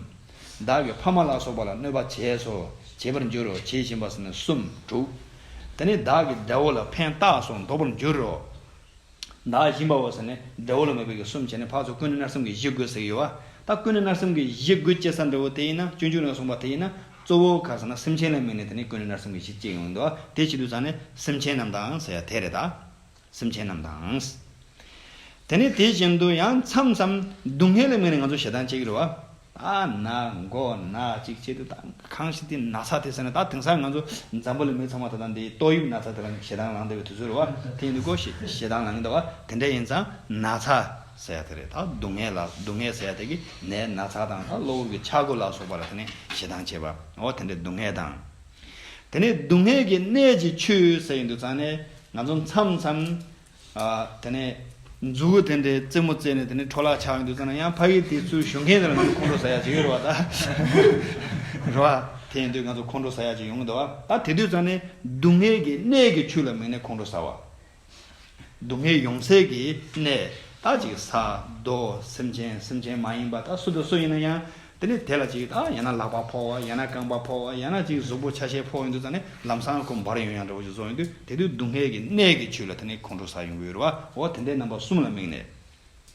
བདག་གི་ཕ་མ་ལ་སོགས་པ་ལ་གནོད་པ་བྱས་སོ། བྱེད་པར་འགྱུར་རོ། བྱེད་བཞིན་པ་ཟིན་ནས་གསུམ་དྲུག། དེ་ནས་བདག་གི་འདྲ་བོ་ལ་ཕན་བཏགས་སོགས་འདོགས་པར་འགྱུར་རོ། བདག་བཞིན་པའོ་ཟེར་ནས་འདྲ་བོ་ལ་མོས་པའི་གིས་གསུམ་བྱས་ནས་འཕགས་སོ་ཀུན་ནི་མནར་སེམས་ཀྱི་གཞི་དགོས་ཟེར་གྱི་ཡོད་པ། ད་ཀུན་ནི་མནར་སེམས་ཀྱི་གཞི་དགོས་ཅེས་ས་འདྲ་བོ་དེ་ཡིན་ན་སྤྱོད་འཇུག་ནས་གསུངས་པ་དེ་ཡིན་ན། གཙོ་བོ་གང་ཟེར་ན་སེམས་ཅན་ལ་དམིགས་ནས་དེ་ནི་ཀུན་ནས་ནར་སོན་པའི་གཞི་བཅས་ཡོང་དུ་དེ་བྱེད་དུ་ཙང་ནི་སེམས་ཅན་རྣམས་དང་ཟེར་ཡ་དེ་རེད་ད། སེམས་ཅན་རྣམས་དང། དེ་ནི་དེ་བཞིན་དུ་ཡང་མཚམས་མཚམས་སྡུག་བསྔལ་ལ་དམིགས་ནས་ང་ཚོ་ཞེ་སྡང་སྐྱེ་གི་རེད་བ། ཨ་ན་མགོ་ན་ཅིག་བྱེད་དུ་ཙང་གང་ཞིག་དེ་ན་ཚ་དེ་ཟེར་ན་ད་དེང་སང་ང་ཚོ་འཛམ་བུ་ལ་མི་ཚང་མ་ད་ལྟ་འདིའི་ཏོག་དབྱིབས་ན་ཚ་དེ་ལ་ཞེ་སྡང་ལངས་བསྡད་པའི་དུས་ཚོད་རེད་བ་དེ་ཡིན་དུས་ཀོ་ཞེ་སྡང་ལངས་གི་འདུག་བ་དེ་འདྲ་ཡིན་ཙང་ན་ཚ་ཟས་དེ་རེད་ད་སྡུག་བསྔལ་ལ་སྡུག་བསྔལ་ཟས་དེ་གིས་ནད་ན་ཚ་དང་ད་གློ་བུར་གྱི་འཆར་སྒོ་ལ་སོགས་པ་ལ་དེ་ནས་ཞེ་སྡང་བྱེད་པ་འོ་དེ་འདྲའི་སྡུག་བསྔལ་དང། དེ་ནས་སྡུག་བསྔལ་གྱི་གནད་ཀྱི་ཆུ་ཟས་ཡིན་དུ་ཚང་ནས་ང་ཚོ་མཚམས་མཚམས། དེ་ནས་མཛུ་གུ་དེ་འདྲའི་རྩེད་མོ་རྩེས་ནས་དེ་ནས་འཕྲོ་བརླག་ཆགས་ཡིན་དུ་ཚང་ན་ཡང་ཕ་གིའི་དེ་ཚུལ་ཞུ་མཁན་དེ་ལ་ང་ཚོ་ཁོང་ཁྲོ་ཟ་ཡ་བྱེད་ཀྱི་རེད་བ་ད། རེད་བ། དེ་ཡིན་དུས་ང་ཚོ་ཁོང་ཁྲོ་ཟ་ཡ་བྱེད་ཀྱི་ཡོང་གི་འདུག་བ་ད་དེ་དུས་ཚང་ནས་སྡུག་བསྔལ་གྱི་གནད་ཀྱི་ཆུ་ལ་མིན་ནས་ཁོང་ཁྲོ་ཟ་བ། སྡུག་བསྔལ་ཡོངས་བསལ་གྱི་གནས། ད་ཅིག་ས་རྡོ་སེམས་ཅན་སེམས་ཅན་མ་ཡིན་པ་དག་སུ་དང་སུ་ཡིན་ན་ཡང། དེ་ནི་དེ་ལ་ཅིག་དང་ཡང་ན་ལག་པ་ཕོག་བ་ཡང་ན་རྐང་པ་ཕོག་བ་ཡང་ན་ཅིག་གཟུགས་པོ་ཆ་ཤས་ཕོག་ཡོང་དུས་ཙང་ནས་ལམ་སྲང་ཁུ་འབར་ཡོང་ཡང་འདྲ་བོ་ཅིག་བཟོ་ཡོང་དུས་དེ་དུས་སྡུག་བསྔལ་གྱི་གནས་ཀྱི་ཆུ་ལ་དེ་ནི་ཁོང་ཁྲོ་ཟ་ཡོང་གི་ཡོད་རེད་བ། འོ་དེ་འདྲའི་རྣམ་པ་གསུམ་ལ་དམིགས་ནས།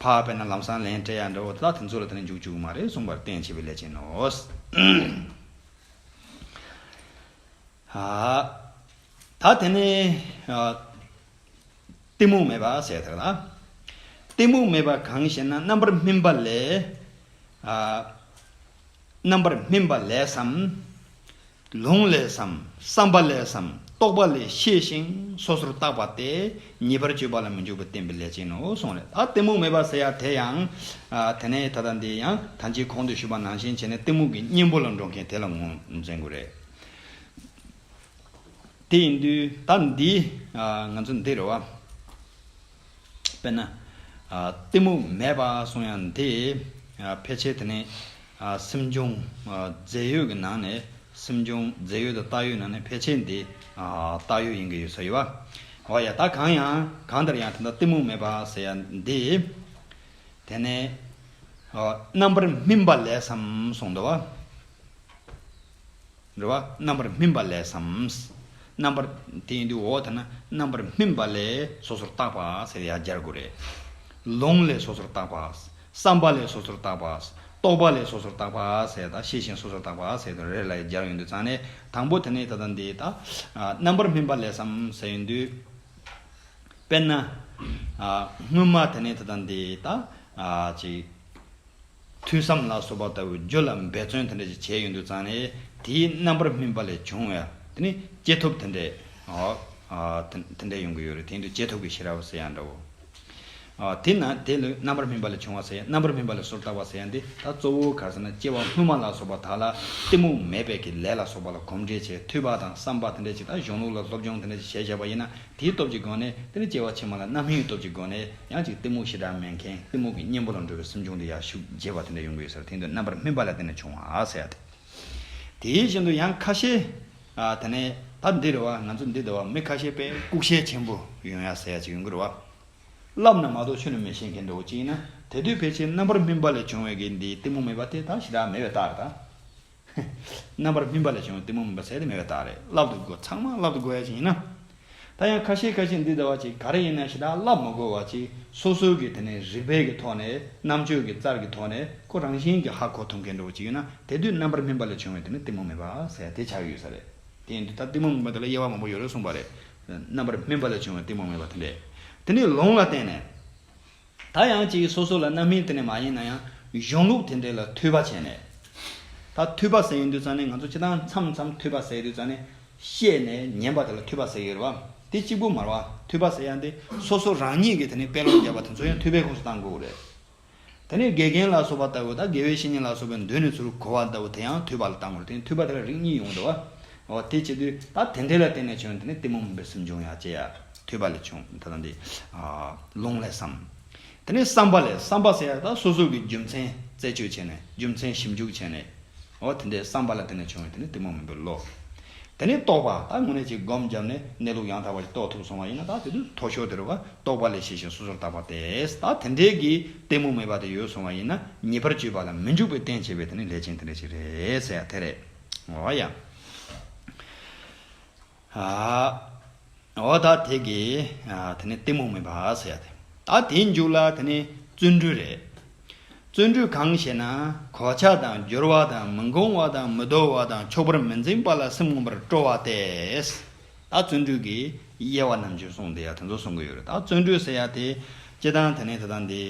འཕགས་པས་ན་ལམ་སང་ལན་སྤྲད་ཡ་འདྲ་བོ་དེ་དག་དེ་ཚོ་ལ་དེ་ནི་འཇུག་བཅུག་མ་རེད་གསུངས་པར་བརྟེན་བྱེད་པའི་ལས་ཅན་ནོ། ད་དེ་ནི། གཏི་མུག་མེད་པ་ཟེར་ཐག་ལ། གཏི་མུག་མེད་པ་གང་ཞེ་ན་རྣམ་པར་སྨིན་པ་ལས། རྣམ་པར་སྨིན་པ་ལས་སམ། ལུང་ལས་སམ། བསམ་པ་ལས་སམ། རྟོགས་པ་ལས་ཤེས་ཤིང་སོ་སོར་བརྟགས་པ་སྟེ་ཉེས་པར་སྤྱོད་པ་ལ་མི་འཇུག་པ་བསྟན་པའི་ལས་ཅན་ནོ་གསུངས། ལས་དང་གཏི་མུག་མེད་པར་ཟེར་ཡང་དེ་ཡང། དེ་ནས་ད་ལྟ་འདི་ཡང་ད་ཅིའི་གོང་དུ་ཞུས་པ་ནང་བཞིན་བྱས་ནས་གཏི་མུག་གི་གཉེན་པོ་ལ་འགྲོ་མཁན་དེ་ལ་ངོ་འཛིན་དགོས། རེད་དེ། དེ་ཡིན་དུས་ད་འདི། ང་ཚོ་འདིར་བ། དཔེར་ན། གཏི་མུག་མེད་པར་སོང་ཡང་དེས་ཕལ་ཆེར་དེ་ནི་སེམས་བྱུང་རྫས་ཡོད་ཀྱི་ནང་ནས་སེམས་བྱུང་རྫས་ཡོད་དང་བཏགས་ཡོད་ནང་ནས་ཕལ་ཆེར་འདི་བཏགས་ཡོད་ཡིན་གྱི་ཡོད་ས་ཡོད། འོ་ཡ་ད་གང་ཡང་གང་ལྟར་ཡང་དེ་ལྟར་གཏི་མུག་མེད་པར་ཟེར་ཡང་འདི་དེ་ནི་རྣམ་པར་སྨིན་པ་ལས་སམ་གསུངས་འདུག། འགྲོ་བ་རྣམ་པར་སྨིན་པ་ལས་སམ། རྣམ་པར། དེ་ཡིན་དུས་འོག་དེ་ན་རྣམ་པར་སྨིན་པ་ལས་སོ་སོར་བརྟགས་པ་ཟེར་ཡང་སྦྱར་དགོས་རེད། ལོང་ལས་སོ་སོར་བརྟགས་པ། བསམ་པ་ལས་སོ་སོར་བརྟགས་པ། རྟོག་པ་ལས་སོ་སོར་བརྟགས་པ་ཟེར་དང་ཤེས་བཞིན་སོ་སོར་བརྟགས་པ་ཟེར་དུ་རེ་ལ་ཡང་སྦྱར་ཡོང་དུས་ཚང་ནས་དང་པོ་དེ་ནི་ད་ལྟ་འདི་ལྟ། རྣམ་པར་སྨིན་པ་ལས་སམ་ཟེར་ཡོང་དུས། དཔེར་ན། སྔོན་མ་དེ་ནི་ད་ལྟ་འདི་ལྟ། ཅིག། ཐོས་བསམ་ལ་སོགས་པ་ལྟ་བུའི་རྒྱུ་ལ་འབད་བརྩོན་དེ་འདྲ་ཞིག་བྱས་ཡོད་འདུག་ཙང་ནས་དེའི་རྣམ་པར་སྨིན་པ་ལས་བྱུང་བའི་དེ་ནི་སྐྱེས་ཐོབ་དེ་འདྲའི་དེ་འདྲ་ཡོང་གི་ཡོད་རེད་དེ་ཡིན་དུས་སྐྱེས་ཐོབ་ཀྱི་ཤེས་རབ་ཟེར་ཡང་འདྲའོ། དེས་ན་དེ་ལུས་རྣམ་པར་སྨིན་པ་ལས་བྱུང་བ་ཟེར་ཡང་རྣམ་པར་སྨིན་པ་ལས་སོར་བཏགས་པ་ཟེར་ཡང་འདི་ད་གཙོ་བོ་ག་ཟེར་ན་སྐྱེ་བ་སྔོན་མ་ལ་སོགས་པ་དག་ལ་གཏི་མུག་མེད་པས་ཀྱི་ལས་ལ་སོགས་པ་ལ་གོམས་འདྲིས་བྱས་འཐུས་པ་དང་བསམ་པ་དེ་འདྲ་ཞིག་དང་གཞུང་ལུགས་ལ་སློབ་སྦྱོང་དེ་འདྲ་ཞིག་བྱས་བཞག་པ་ཡིན་ན་དེའི་སྟོབས་ཀྱི་སྒོ་ནས་དེར་སྐྱེ་བ་ཕྱི་མ་ལ་རྣམ་སྨིན་གྱི་སྟོབས་ཀྱི་སྒོ་ནས་ཡང་ཅིག་གཏི་མུག་ཞེ་དྲག་མེད་མཁན་གཏི་མུག་གི་གཉེན་པོ་ལ་འགྲོ་བའི་སེམས་བྱུང་དེ་ཡར་ཤུགས་རྒྱས་པ་དེ་འདྲ་ཡོང་གི་ཡོད་སར་དེང་དུས་རྣམ་པར་སྨིན་པ་ལ་བརྟེན་ནས་བྱུང་བ་ཟེར་ཡ་དེ། དེའི་བཞིན་དུ་ཡང་ཁ་ཤས། དེ་ནས་ད་འདི་རུ་བ་ང་ཚོ་འདི་ལྟ་བ་མི་ཁ་ཤས་པས་ལྐུགས་ཤལ་ཆེན་པོ་ཡོང་ཡ་ཟེར་ཡ་ཅིག་ཡོང་གི་རུ་བ། བསླབ་ན་མ་གཏོགས་ཆོས་ནི་མི་ཤེས་མཁན་འདྲ་བོ་ཅིག་ཡིན་ན་དེ་དུས་ཕལ་ཆེར་རྣམ་པར་སྨིན་པ་ལས་བྱུང་བའི་གེགས་འདི་གཏི་མུག་མེད་པ་དེ་དག་ཞེ་དྲག་མེད་པའི་རྟགས་རེད་ད། རྣམ་པར་སྨིན་པ་ལས་བྱུང་བའི་གཏི་མུག་མུན་པ་ཟད་དེ་མེད་པའི་རྟགས་རེད་བསླབ་ཏུ་གོ་ཚང་མ་བསླབ་ཏུ་གོ་ཡ་ཞིག་ཡིན་ན། ད་ཡང་ཁ་ཤས་ཁ་ཤས་འདི་ལྟ་བ་ཅིག་ག་རེ་ཡིན་ན་ཞེ་དྲག་བསླབ་མི་དགོས་བ་ཅིག་སོ་སོའི་གི་དེ་ནས་རིག་པའི་གི་ཐོག་ནས་རྣམ་དཔྱོད་གི་རྩར་གི་ཐོག་ནས་ཁོ་རང་བཞིན་གི་ཧ་གོ་ཐུབ་མཁན་འགྲོ་བ་ཅིག་ཡོད་ན་དེ་དུས་རྣམ་པར་སྨིན་པ་ལས་བྱུང་བའི་དེ་ནི་གཏི་མུག་མེད་པ་ཟད་དེ་ཆགས་ཡོད་ས་རེད་དེ་ཡིན་དུས་ད་གཏི་མུག་མིན་པ་དེ་ལ་དབྱེ་བ་མང་པོ་ཡོད་རེད་གསུངས་པ་རེད་རྣམ་པར་སྨིན་པ་ལས་བྱུང་བའི་གཏི་མུག་མེད་པ་དེ་འདྲས་དེ་ནི་ལུང་ལ་བརྟེན་ནས། ད་ཡང་ཅིག་སོ་སོ་ལ་རྣམ་སྨིན་དེ་ནས་མ་ཡིན་ན་ཡང་གཞུང་ལུགས་དེ་འདྲས་ལ་འཐུས་པ་བྱས་ནས། ད་འཐུས་པ་ཟེར་ཡོད་འདུག་ཙང་ནས་ང་ཚོ་ཕྱི་ཐང་འཚམས་འཚམས་འཐུས་པ་ཟེར་ཡོད་འདུག་ཙང་ནས་བཤད་ནས་ཉན་པ་དེ་ལ་འཐུས་པ་ཟེར་ཡོད་རེད་བ། དེ་གཅིག་པུ་མར་བ་འཐུས་པ་ཟེར་ཡ་འདི་སོ་སོ་རང་ཉིད་ཀྱི་དེ་ནས་དཔེ་ཀློག་བརྒྱབ་པ་དེ་ཚོ་ཡང་འཐུས་པའི་ཁོངས་སུ་གཏང་དགོས་རེད། དེ་ནས་དགེ་རྒན་ལ་སོགས་པ་ལྟ་བུ་དང་དགེ་བའི་བཤེས་གཉེན་ལ་སོགས་པའི་མདུན་ནས་ཚུར་གོ་བ་ལྟ་བུ་དེ་ཡང་འཐུས་པ་ལ་གཏང་དགོས་རེད་དེ་ནས་འཐུས་པ་དེ་ལ་རིགས་གཉིས་ཡོང་འདུག་བ། འོ་དེ་བྱེད་དུས་ད་དེ་འདི་ལ་བརྟེན་ནས་བྱུང་དེ་ནི་གཏི་མུག་མིན་པའི་སེམས་འབྱུང་ཡང་སྐྱེ་ཡ་ཐོས་པ་ལས་བྱུང་ད་ལྟ་འདི་ལུང་ལས་སམ། དེ་ནས་བསམ་པ་ལས་བསམ་པ་ཟེར་ཡ་ད་སོ་སོ་གི་རྒྱུ་མཚན་རྩད་གཅོད་བྱས་ནས་རྒྱུ་མཚན་ཞིབ་འཇུག་བྱས་ནས། འོ་དེ་འདི་བསམ་པ་ལ་བརྟེན་ནས་བྱུང་བས་དེ་ནི་གཏི་མུག་མིན་པའི་བློ། དེ་ནས་རྟོགས་པ་ད་དངོས་གནས་ཀྱི་སྒོམ་བརྒྱབ་ནས་གནས་ལུགས་ཡང་དག་པ་ཞིག་རྟོགས་ཐུབ་སོང་བ་ཡིན་ན་ད་དེ་དུས་དོགས་ཞོར་དེར་བ་རྟོགས་པ་ལས་ཤེས་བཞིན་སོ་སོར་བརྟགས་པ་དེས་ད་དེ་འདྲས་ཀྱི་གཏི་མུག་མེད་པ་དེ་ཡོད་སོང་བ་ཡིན་ན་ཉེས་པར་སྤྱོད་པ་ལ་མི་འཇུག་པའི་རྟེན་བྱེད་པས་དེ་ནི་ལས་ཅན་དེ་འདྲས་ཞིག་རེད་ཟེར་ཡ་དེ་རེད། ངོ་ཡང། འོ་ད་དེ་གི། དེ་ནི་གཏི་མུག་མིན་པ་ཟེར་ཡ་དེ། ད་དེའི་མཇུག་ལ་དེ་ནི་བརྩོན་འགྲུས་རེད། བརྩོན་འགྲུས་གང་ཞེ་ན། གོ་ཆ་དང་སྦྱོར་བ་དང་མི་འགོང་བ་དང་མི་དོར་བ་དང་ཕྱོགས་པར་མི་འཛིན་པ་ལ་སེམས་ངོམས་པར་སྤྲོ་བ་སྟེ། ད་བརྩོན་འགྲུས་ཀྱི་དབྱེ་བ་རྣམས་བྱོན་སོང་དེ་ཡང་དེ་ཚོ་གསུང་གི་ཡོད་རེད། ད་བརྩོན་འགྲུས་ཟེར་ཡ་དེ། སྤྱི་དང་དེ་ནི་དེ་དང་དེ།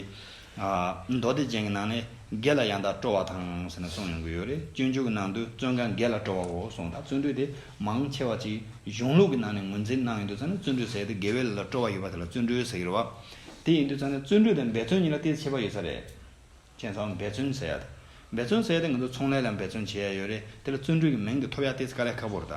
མདོ་སྡེ་ཅན་གྱི་ནང་ནས་སྒེར་ལ་ཡང་དག་སྤྲོ་བ་དང་ཟེར་ནས་གསུངས་ཡོང་གི་ཡོད་རེད་སྤྱོད་འཇུག་གི་ནང་དུ་བཙོན་ཁང་སྒེར་ལ་སྤྲོ་བའོ་གསུངས་དང་བཙོན་འགྲུས་དེ་མང་ཆེ་བ་ཅིག་གཞུང་ལུགས་ཀྱི་ནང་ནས་ངོས་འཛིན་གནང་ཡོད་དུས་ཙང་ནས་བཙོན་འགྲུས་ཟེར་ཏེ་དགེ་བའི་ལས་ལ་སྤྲོ་བ་ཡོད་པ་དེ་ལ་བཙོན་འགྲུས་ཟེར་གི་རེད་བ། དེ་ཡིན་དུས་ཙང་ནས་བཙོན་འགྲུས་དང་འབད་བརྩོན་གཉིས་ལ་སྟེ་ཆད་པ་ཡོད་ས་རེད། མཁྱེན་ཚོགས་འབད་བརྩོན་ཟེར་ཡ་འབད་བརྩོན་ཟེར་ཡ་དེ་ང་ཚོ་ཚོང་ལས་ལ་འབད་བརྩོན་བྱེད་ཡ་ཡོད་རེད་དེ་ལ་བཙོན་འགྲུས་ཀྱི་མིང་དེ་ཐོབ་ཡ་སྟེ་ཙི་ཀ་ལས་ཁ་པོར་ད།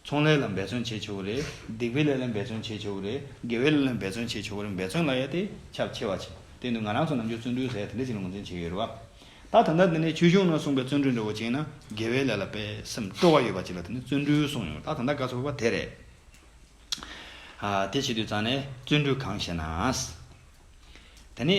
ཚོང་ལས་ལ་འབད་བརྩོན་བྱེད་ཆོག་གི་རེད། སྡིག་པའི་ལས་ལ་འབད་བརྩོན་བྱེད་ཆོག་གི་རེད། དགེ་བའི་ལས་ལ་འབད་བརྩོན་བྱེད་ཆོག་གི་རེད་འབད་བརྩོན་ལ་ཡ་དེ་ཁྱབ་ཆེ་བ་བྱེད། དེ་ནི་ང་རང་ཚོ་ནམ་རྒྱུན་བརྩོན་འགྲུས་ཟེར་ཡ་དེ་འདྲ་ཞིག་ལ་ངོས་འཛིན་བྱེད་ཡོད་རེད་བ། ད་ད་ལྟ་འདི་ནས་ཆོས་གཞུང་ནང་གསུངས་པའི་བརྩོན་འགྲུས་འདྲ་བོ་བྱས་ན་དགེ་བའི་ལས་ལ་དཔེ་སེམས་སྤྲོ་བ་ཡོད་པ་ཅིག་ལ་དེ་ནི་བརྩོན་འགྲུས་གསུངས་ཡོང་ད་ད་ལྟ་དགའ་ཚོར་བ་དེ་རེད། དེ་བྱེད་དུས་ཙང་ནས་བརྩོན་འགྲུས་གང་ཞེ་ན། དེ་ནི།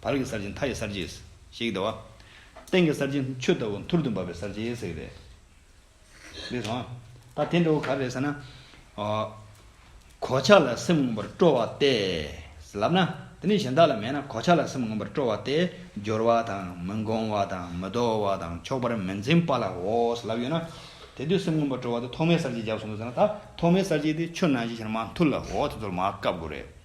བར་གྱི་གསར་བརྗེ་མཐའ་ཡི་གསར་བརྗེ། ཞེས་ཀྱི་ཟླ་བ། སྟེང་གི་གསར་བརྗེ་ཆུ་ལྟ་བུ་མཐུར་དུ་འབབ་པའི་གསར་བརྗེ་ཟེར་གྱི་རེད། ལེགས་སོང། ད་དེ་འདྲ་བོ་ག་རེ་རེད་ཟེར་ན། གོ་ཆ་ལ་སེམས་མངོན་པར་སྤྲོ་བ་སྟེ། ལབ་ན། དེ་ནི་གཞན་དག་ལ་མེད་ན་གོ་ཆ་ལ་སེམས་མངོན་པར་སྤྲོ་བ་སྟེ། སྦྱོར་བ་དང་མི་འགོང་བ་དང་མི་དོ་བ་དང་ཆོག་པར་མི་འཛིན་པ་ལ་འོ་ཟེར་ལབ་ཡོད་ན། དེ་དུས་སེམས་མངོན་པར་སྤྲོ་བ་དེ་ཐོག་མའི་གསར་བརྗེ་བརྒྱབ་སོང་འདུག་ཟེར་ན་ད་ཐོག་མའི་གསར་བརྗེ་དེ་ཆུ་ནང་བཞིན་ཤར་མ་མཐུར་ལ་འོ་དེ་ཚོར་མ་བཀབ་དགོས་རེད།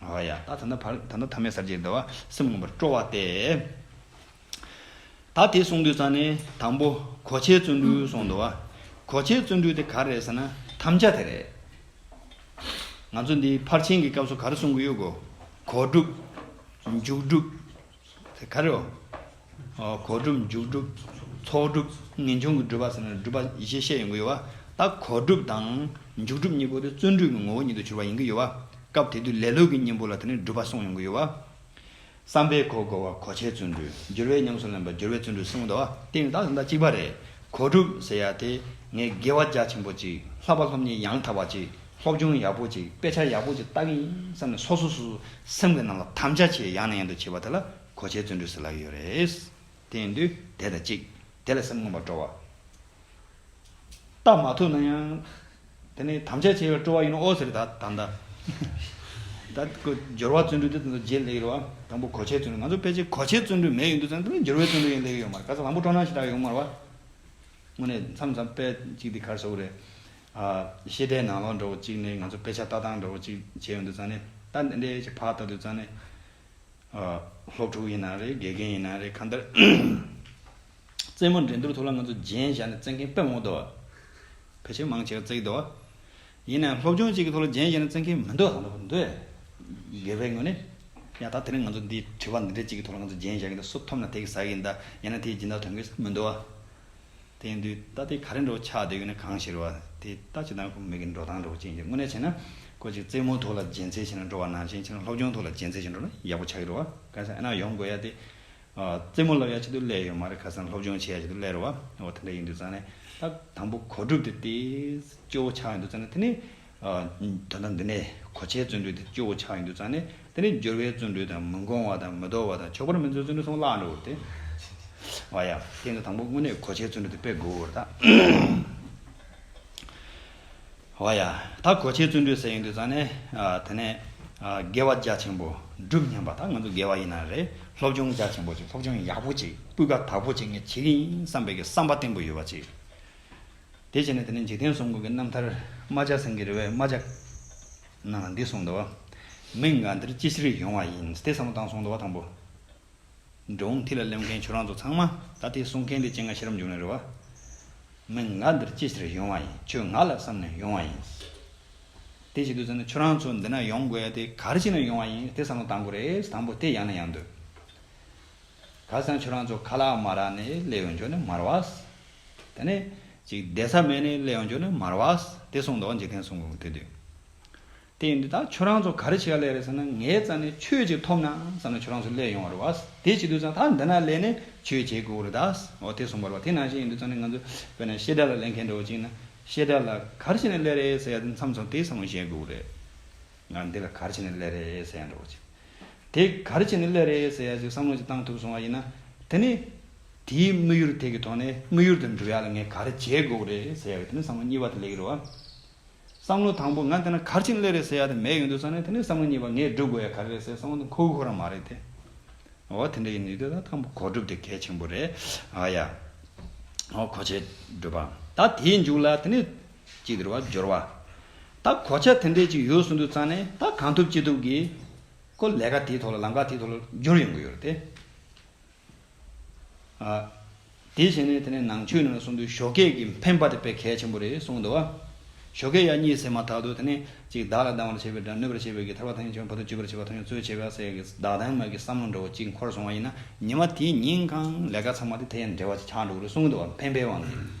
ཨཱ་ཡ། ད་ནི་བར་ད་ནི་ཐ་མའི་སར་གྱིས་འདུལ་བ་སེམས་མངོན་པར་སྤྲོ་བ་སྟེ། ད་དེ་གསུངས་དུས་སང་ནི་དང་པོ་གོ་ཆའི་བརྩོན་འགྲུས་གསུངས་འདུག་བ། གོ་ཆའི་བརྩོན་འགྲུས་དེ་ག་རེད་ཟེར་ན་དམ་བཅའ་དེ་རེད། ང་ཚོ་འདི་ཕར་ཕྱིན་གྱི་སྐབས་སུ་ག་རེ་གསུང་གི་ཡོད་གོ། གོ་སྒྲུབ། མཇུག་སྒྲུབ། དེ་ག་རེའོ། གོ་སྒྲུབ་འཇུག་སྒྲུབ། ཚོགས་སྒྲུབ། ངེས་འབྱུང་གི་སྒྲུབ་པ་ཟེར་ན་སྒྲུབ་པ་ཡེ་ཤེས་ཤེས་ཡོང་གི་ཡོད་པ། ད་གོ་སྒྲུབ་དང། འཇུག་སྒྲུབ་གཉིས་པོ་དེ་བརྩོན་འགྲུས་ཀྱི་ངོ་བོ་ཉིད་དུ་གྱུར་པ་ཡིན་གྱི་ཡོད་པ། སྐབས་དེ་དུས་ལེ་ལོས་ཀྱི་གཉེན་པོ་ལ་དེ་ནི་སྒྲུབ་པ་གསུངས་ཡོང་གི་ཡོད་པ། བསམ་པའི་གོ་བགོ་བ་གོ་ཆའི་བརྩོན་འགྲུས། སྦྱོར་བས་ཉམས་སུ་ལེན་པ་སྦྱོར་བའི་བརྩོན་འགྲུས་གསུངས་གདའ་བ་དེ་ཡང་དག་ཟླ་གཅིག་པ་རེད། གོ་སྒྲུབ་ཟེར་ཡ་དེ་ངས་དགེ་བ་རྒྱ་ཆེན་པོ་ཅིག་ལྷག་པ་སློབ་གཉེར་ཡང་དག་པ་ཅིག་སློབ་སྦྱོང་ཡག་པོ་ཅིག་དཔེ་ཆ་ཡག་པོ་ཅིག་བཏགས་ཡིན་བསམ་ནས་སོ་སོ་སོ་སོ་སེམས་ཀྱི་ནང་ལ་དམ་བཅའ་བྱས་ཡང་ནས་ཡང་དུ་བྱས་པ་དེ་ལ་གོ་ཆའི་བརྩོན་འགྲུས་སུ་ལག་ཡོད་རེད། དེ་ཡིན་དུས་དེ་དང་གཅིག་དེ་ལ་སེམས་མངོན་པར་སྤྲོ་བ་བཏབ་མ་ཐུབ་ན་ཡང། དེ་ནི་དམ་བཅའ་བྱས་པའི་སྤྲོ་བ་ཡིན་ནོ་ཨོ་ཟེར་ད་ད་འདའ། ད་གོ་སྦྱོར་བ་བརྩོན་འགྲུས་དེ་དང་དུ་རྗེས་སླེབས་ཡོད་པ་དང་པོ་གོ་ཆའི་བརྩོན་འགྲུས་ང་ཚོ་ཕལ་ཆེར་གོ་ཆའི་བརྩོན་འགྲུས་མེད་ཡོད་འདུག་ཙང་དེ་ལ་སྦྱོར་བའི་བརྩོན་འགྲུས་ཡང་སླེབས་ཡོད་མ་རེད་ག་ཚོད་དང་པོ་སྤྲོ་སྣང་ཞེ་དྲག་ཡོང་མ་རེད། དངོས་གནས་མཚམས་མཚམས་དཔེ་གཅིག་འདི་གར་བཟོ་གི་རེད། ཤེས་ལྡན་ནང་ལོགས་འདྲ་བོ་གཅིག་ནི་ང་ཚོ་དཔེ་ཆ་ལྟ་སྟངས་འདྲ་བོ་གཅིག་བྱས་ཡོང་དུས་ཙང་ནི་ལྟ་འདི་འདྲའི་བག་ལྟ་དུས་ཙང་ནི། སློབ་ཕྲུག་ཡིན་ན་རེད་དགེ་རྒན་ཡིན་ན་རེད་གང་ལྟར། རྩེད་མོ་འགྲན་སྡུར་ཐོག་ལ་ང་ཚོ་རྗེན་བཞག་ནས་རྩེད་མཁན་དཔེ་མང་འདུག་ཕལ་ཆེར་མང་ཆེ་བ་རྩེད་གི་འདུག་ཡིན་ནའང་སློབ་སྦྱོང་གཅིག་གི་ཐོག་ལ་རྗེན་བཞག་ནས་རྩེད་མཁན་མི་འདུག་དགེ་བའི་ངོས་ནས། ཡང་ད་དེ་རིང་ང་ཚོ་འདིའི་དྲི་བ་འདི་འདྲའི་གཅིག་གི་ཐོག་ལ་ང་ཚོ་རྗེན་བཞག་གི་འདུག་སུ་ཐོབ་ན་དེ་གིས་ཟ་གི་འདུག་ཡིན་ན་དེ་ཇི་འདྲ་ཐོན་གི་མི་འདུག། དེ་འདུས་རྟ་སྟེ་ག་རེ་འགྲོ་ཆགས་བདེ་ཡོད་ན་གང་ཞིག་རོ། དེ་ལྟ་ཅི་དང་ཁོ་མིག་གི་འགྲོ་སྟངས་འགྲོ་ཅན་གྱི་དངོས་གནས་བྱས་ན། ཁོ་ཅིག་རྩེད་མོ་ཐོག་ལ་རྒྱན་ཚད་ཆེ་ན་འགྲོ་བ་ནང་བཞིན་ཁྱེད་རང་སློབ་སྦྱོང་ཐོག་ལ་རྒྱན་ཚད་ཆེ་འགྲོ་ན་ཡག་པོ་ཆགས་ཀྱི་རོ། གང་ཟག་ཨེ་ན་ཡོང་དགོས་ཡ་སྟེ། རྩེད་མོ་བསླབ་ཡ་ཆེད་དུ་སླེ་ཡོད་མ་རེད་ཁ་སང་སློབ་སྦྱོང་བྱེད་ཡ་ཆེད་དུ་སླེ་རོ། འོ་དེ་འདྲ་ཡིན་དུས་ཙང་ནས། ད་དང་པོ་གོ་སྒྲུབ་དེ་ལྟེ། སྐྱོ་བོ་ཆགས་ཡོང་དུས་ཙང་ནས་དེ་ནས། དོན་དམ་འདི་ནི་གོ་ཆའི་བརྩོན་འགྲུས་དང་སྤྱི་བོ་ཆགས་ཡིན་དུ་ཙང་ནི་དེ་ནི་སྦྱོར་བའི་བརྩོན་འགྲུས་དང་མི་འགོང་བ་དང་མི་དོར་བ་དང་ཆོག་པར་མི་འཛོལ་བརྩོན་འགྲུས་གསུམ་བརླག་འགྲོ་འོ་དེ། བ་ཡ། དེ་ནི་དང་པོ་དངོས་གནས་གོ་ཆའི་བརྩོན་འགྲུས་དེ་སྤེལ་དགོས་འོ་ད། བ་ཡ། ད་གོ་ཆའི་བརྩོན་འགྲུས་ཟེར་ཡིན་དུ་ཙང་ནི། དེ་ནས། དགེ་བ་རྒྱ་ཆེན་པོ་སྒྲུབ་སྙམ་པ་ད་ང་ཚོ་དགེ་བ་ཡིན་ན་རེད་སློབ་སྦྱོང་རྒྱ་ཆེན་པོ་ཅིག་སློབ་སྦྱོང་ཡག་པོ་ཅིག་སྤུས་ཀ་དག་པོ་ཅིག་ངས་བྱེད་ཀྱི་ཡིན་བསམ་པའི་གི་བསམ་པ་བརྟན་པོ་ཡོད་པ་ཅིག། དེ་བྱས་ནས་དེ་ནས་འཇིག་རྟེན་གསུམ་ཀུན་གྱི་རྣམ་ཐར། རྨ་བྱ་སེང་གེའི་རེ་བའི་རྨ་བྱ། རྣམས་ལ་འདི་གསུངས་ཏོ། མི་འགའ་འདིར་ཅི་ཕྱིར་ཡོང་བ་ཡིན་ཏེ་བསམ་བློ་བཏང་གསུངས་ཏོ། དང་པོ། འགྲོ་འོང་ཐིག་ལ་སླེབས་མཁན་ཁྱོད་རང་ཚོ་ཚང་མ་ད་ཐིག་གསུངས་མཁན་དེ་སྤྱན་སྔ་ཤེས་རབ་འབྱུང་ནས་རེ་བ། མི་འགའ་འདིར་ཅི་ཕྱིར་ཡོང་བ་ཡིན་ཁྱོད་ང་ལ་བསམ་ནས་ཡོང་བ་ཡིན། དེ་བྱེད་དུས་ཚོད་ནི་ཁྱོད་རང་ཚོ་འདི་ན་ཡོང་དགོས་ཡ་དེ་གར་ཕྱིན་ནས་ཡོང་བ་ཡིན་ཏེ་བསམ་བློ་བཏང་དགོས་རེད། དང་པོ་དེ་ཡང་ན་ཡང་འདོད། ཁ་སང་ཁྱོད་རང་ཚོ་ཁ་ལག་མ་རག་ནས་སླེ་ཡོང་ཆོག་ནི་མར་བ། དེ་ནས་ཅིག་བསྡད་ས་མེད་ནས་སླེ་ཡོང་ཆོག་ནི་མར་བ། དེ་གསུངས་འདུག་འཇིག་རྟེན་གསུང་འགོ་གི་དུས་དུས། དེ་ཡིན་དུས་ད་ཁྱོད་རང་ཚོ་ག་རེ་བྱེད་ཀ་ལས་རེད་བསམ་ན་ངའི་རྩ་ནས་ཆོས་ཅིག་ཐོབ་ན་བསམ་ན་ཁྱོད་རང་ཚོ་སླེ་ཡོང་བ་རེད་བ། དེ་བྱེད་དུས་ཙང་ད་འདི་ན་སླེ་ནས་ཆོས་བྱེད་དགོས་རེད་ད། འོ་དེ་གསུངས་པར་བ་དེ་ནང་བཞིན་ཡིན་དུས་ཙང་ནི་ང་ཚོ་བོད་ནས་བཤད་གྲྭ་ལ་སླེ་མཁན་འགྲོ་ཅིག་ན་བཤད་གྲྭ་ལ་གར་བྱེད་ནས་སླེ་རེད་ཟེར་ཡ་དེ་མཚམས་ཚོང་དེ་བསམ་བློ་བཞེས་དགོས་རེད། ང་འདི་ལ་གར་བྱེད་ནས་སླེ་རེད་ཟེར་ཡ་འགྲོ་ཅིག། དེ་ག་རེ་བྱས་ནས་སླད་རེད་ཟེར་ཡ་ཞིག་བསམ་བློ་ཅིག་བཏང་ཐུབ་སོང་བ་ཡིན་ན། དེ་ནི། དེའི་དམིགས་ཡུལ་དེ་གི་ཐོག་ནས་དམིགས་ཡུལ་དེར་འགྲོ་ཡ་ལ་ངས་ག་རེ་བྱེད་དགོས་རེད་ཟེར་ཡ་གི་དེ་ནི་བསམ་བློ་གཉིས་པ་དེ་ལས་ཀི་རུ། བསམ་བློ་དང་པོ་ང་འདི་ན་ག་རེ་བྱས་ནས་སླད་རེད་ཟེར་ཡ་དེ་མེད་ཡོང་དུས་ས་ནས་དེ་ནི་བསམ་བློ་གཉིས་པ་ངས་བསྒྲུབ་དགོས་ཡ་ག་རེ་རེད་ཟེར་བསམ་བློ་དེ་འཁོར་ཁོ་རང་མ་རེད་དེ། འོ་དེ་འདྲ་ཡིན་ནུས་དེ་ད་ཐང་པོ་གོ་སྒྲུབ་དེ་གལ་ཆེན་པོ་རེད་ཨ་ཡ། འོ་གོ་ཆེད་སྒྲུབ་པ་ད་དེའི་མཇུག་ལ་དེ་ནི། ཅིག་དེར་བ་སྦྱོར་བ། ད་གོ་ཆ་དེ་འདྲས་ཅིག་ཡོད་གསུངས་དུས་ཙང་ནས་ད་གང་ཐུབ་ཅི་ཐུབ་ཀྱིས་ཁོ་ལས་ཀ་དེའི་ཐོག་ལ་ལམ་ཁ་དེའི་ཐོག་ལ་སྦྱོར་ཡོང་གི་ཡོད་རེད་དེ། དེ་བྱས་ནས་དེ་ནས་ནང་ཆོས་ནང་ལ་སོང་དུས་ཞོ་སྐད་ཀྱི་འཕེན་པ་དེ་དཔེ་གལ་ཆེན་པོ་རེད་གསུངས་འདུག་བ། ཞོ་སྐད་ཡག་གཉིས་ཟེར་མ་ཐག་ཏུ་དེ་ནས་ཅིག་བདག་ལ་སྡང་བར་བྱེད་པའི་དགྲ་གནོད་པར་བྱེད་པའི་གི་ཐར་བ་ཐང་ཆེན་བོ་དང་བཅོས་པར་བྱེད་པ་ཐང་ཆེན་གཙོས་བྱེད་པ་སའི་གི་བདག་དང་མ་གི་བསམ་བློ་འདྲ་བོ་ཅིག་འཁོར་སོང་བ་ཡིན་ན་ཉི་མ་དེའི་ཉིན་གང་ལས་ཀ་ཚང་མ་དེ་དེ་ཡང་འབྲེལ་བ་ཅིག་ཆགས་འགྲོ་གི་རེད་གསུངས་འདུག་བ་འཕེན་པའི་དབང་གིས།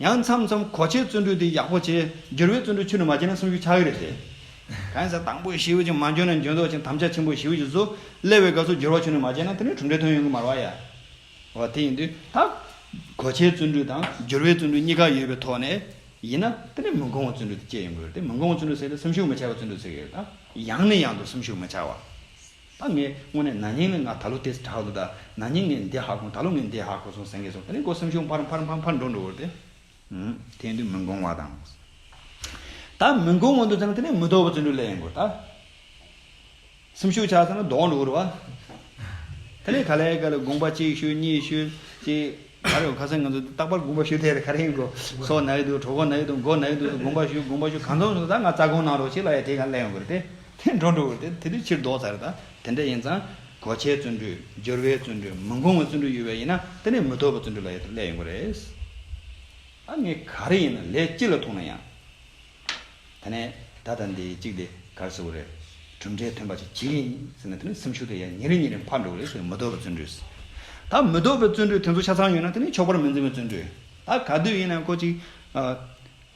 ཡང་མཚམས་མཚམས་གོ་ཆའི་བརྩོན་འགྲུས་དེ་ཡག་པོ་བྱེད། འགྱུར་བའི་བརྩོན་འགྲུས་ཆུ་ནི་མ་བསྐྱིལ་ན་སུམ་ཅུ་ཆག་གི་རེད་ཟེར། གང་ཟག་དང་པོའི་ཤེའུ་ཅིག་མ་འཇོན་ན་འཇོན་ཚོགས་ཅན་དམ་བཅའ་ཆེན་པོ་ཤེའུ་ཅིག་བཟོ། སླེ་བའི་སྐབས་སུ་འགྱུར་བ་ཆུ་ནི་མ་བསྐྱལ་ན་དེ་ནི་གྲུབ་འབྲས་ཐོན་ཡོང་གི་མ་རོགས་ཡ། འོ་དེ་ཡིན་དུས་ད། གོ་ཆའི་བརྩོན་འགྲུས་དང་འགྱུར་བའི་བརྩོན་འགྲུས་གཉིས་ཀ་ཡོད་པའི་ཐོག་ནས། ཡིན་ན་དེ་ནི་མི་འགོང་བ་བརྩོན་འགྲུས་དེ་སྐྱེ་ཡོང་གི་རེད་དེ་མི་འགོང་བ་བརྩོན་འགྲུས་ཟེར་ཏེ་སེམས་ཤུགས་མི་ཆག་པ་བརྩོན་འགྲུས་ཟེར་གི་རེད་ད། ཡང་ནས་ཡང་དུ་སེམས་ཤུགས་མི་ཆག་བ། ད་ངས་དངོས་གནས་ན་ནིང་ནི་ང་ད་ལོ་དེ་དྲག་ལོ་དང་ན་ནིང་ངས་འདི་ཧ་གོ་ད་ལོ་ངས་འདི་ཧ་གོ་སོང་ཟེར་མཁན་སོང་ད་ནི་ཁོ་སེམས་ཤུགས་འཕར་འཕར་འཕར་འཕར་འགྲོ་འགྲོ་བར་དེ། དེ་འདུག་མི་འགོང་བ་དང། ད་མི་འགོང་བ་འདུག་ཙང་དེ་ནས་མི་དོག་པ་ཙི་འགྲོ་ལས་ཡིན་དགོས་ད། སེམས་ཤུགས་ཆག་ཙང་ལ་དོག་འགྲོ་བར། དེ་ནས་ག་ལེ་ག་ལེ་དགོངས་པ་གཅིག་ཤོད་གཉིས་ཤོད་ཅེས། ད་རེས་ཁ་སང་ང་ཚོས་རྟག་པར་དགོངས་པ་ཞུ་ཐལ་ག་རེ་ཡིན་གོ། སོག་ནག་ཡུལ་དུ་གྲོགས་ཁོ་ནག་ཡུལ་དུ་མགོ་ནག་ཡུལ་དུ་སུ་དགོངས་པ་ཞུ་དགོངས་པ་ཞུ་གང་ཚོགས་བྱུང་ད་ང་རྩ་དགོངས་གནང་རོགས་ཞེས་ལ་ཡ་དེ་ག་གླེང་དགོས་རེད་དེ། དེ་འགྲོ་འགྲོ་རེད་དེ་དེ་དུས་ཕྱིར་ལྡོག་ཚར་རེད་ད། དེ་འདྲ་ཡིན་ཙང་གོ་ཆའི་བརྩོན་འགྲུས་སྦྱོར་བའི་བརྩོན་འགྲུས་མི་འགོང་བའི་བརྩོན་འགྲུས་ཡོད་པས་ཡིན་ན་དེ་ནས་མི་ཐོབ་པའི་བརྩོན་འགྲུས་ལ་ཡ་དེ་གླེང་ཡོང་གི་རེད། ད་ངས་ག་རེ་ཡིན་ན་ལས་ཅི་ལ་ཐུག་ན་ཡང། ད་ནས་ད་ད་འདི་གཅིག་དེ་གར་སོ་གོ་རེད། གྲུབ་འབྲས་ཐོན་པ་ཅིག་བྱེད་ཀྱི་ཡིན་ཟེར་ན་དེ་ནི་སེམས་ཤུགས་དེ་ཡང་ཉིན་རེ་ཉིན་རེ་འཕར་འགྲོ་གི་རེད་ཟེར་མི་དོ་བའི་བརྩོན་འགྲུས་ཟེར། ད་མི་དོ་བའི་བརྩོན་འགྲུས་དེ་ཚོ་ཆ་ཚང་ཡོད་ན་དེ་ནི་ཆོག་པར་མི་འཛིན་པའི་བརྩོན་འགྲུས། ད་ག་དུས་ཡིན་ན་ཁོ་ཅིག་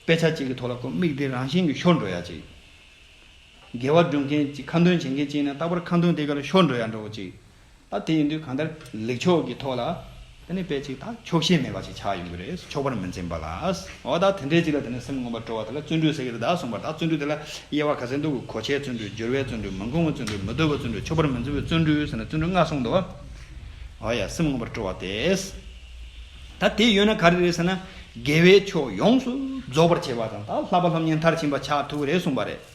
དཔེ་ཆ་གཅིག་གི་ཐོག་ལ་ཁོ་མིག་དེ་རང་བཞིན་གྱི་ཤོར་འགྲོ་ཡ་ཅིག། དགེ་བ་སྒྲུབ་མཁན་གཅིག་ཁ་འདོན་བྱེད་མཁན་གཅིག་ཡིན་ན་རྟག་པར་ཁ་འདོན་དེ་ག་ལ་ཤོར་འགྲོ་ཡ་འགྲོ་གི་ཅིག། ད་དེ་ཡིན་དུས་གང་ལྟར་ལེགས་ཕྱོགས་ཀྱི་ཐོག་ལ་དེ་ནས་དཔེ་ཅིག་ད་ཆོག་ཤེས་མེད་པ་ཞིག་ཆགས་ཡོང་གི་རེད་ཆོག་པར་མི་འཛིན་པ་ལ་ཨོ་ད་དེ་འདྲའི་ཅིག་ལ་དེ་ནས་སེམས་ངོམ་པར་སྤྲོ་བ་དེ་ལ་བརྩོན་འགྲུས་ཟེར་གི་རེད་ད་གསུངས་པར་ད་བརྩོན་འགྲུས་དེ་ལ་དབྱེ་བ་ག་ཚད་འདུག་གོ་ཆའི་བརྩོན་འགྲུས་སྦྱོར་བའི་བརྩོན་འགྲུས་མི་འགོང་བའི་བརྩོན་འགྲུས་མི་བརྡོལ་བའི་བརྩོན་འགྲུས་ཆོག་པར་མི་འཛིན་པའི་བརྩོན་འགྲུས་ཟེར་ན་བརྩོན་འགྲུས་ལྔ་གསུངས་འདུག་ཨོ་ཡ་སེམས་ངོམ་པར་སྤྲོ་བ་དེས་ད་དེ་ཡོད་ན་ག་རེ་རེད་ཟེར་ན་དགེ་བའི་ཕྱོགས་ཡོངས་སུ་རྫོགས་པར་བྱེད་པ་དང་ད་ལྷག་པ་ལྷ་མཉེས་མཐར་ཕྱིན་པ་ཆགས་ཐུབ་ཀྱི་རེད་གསུངས་པ་རེད།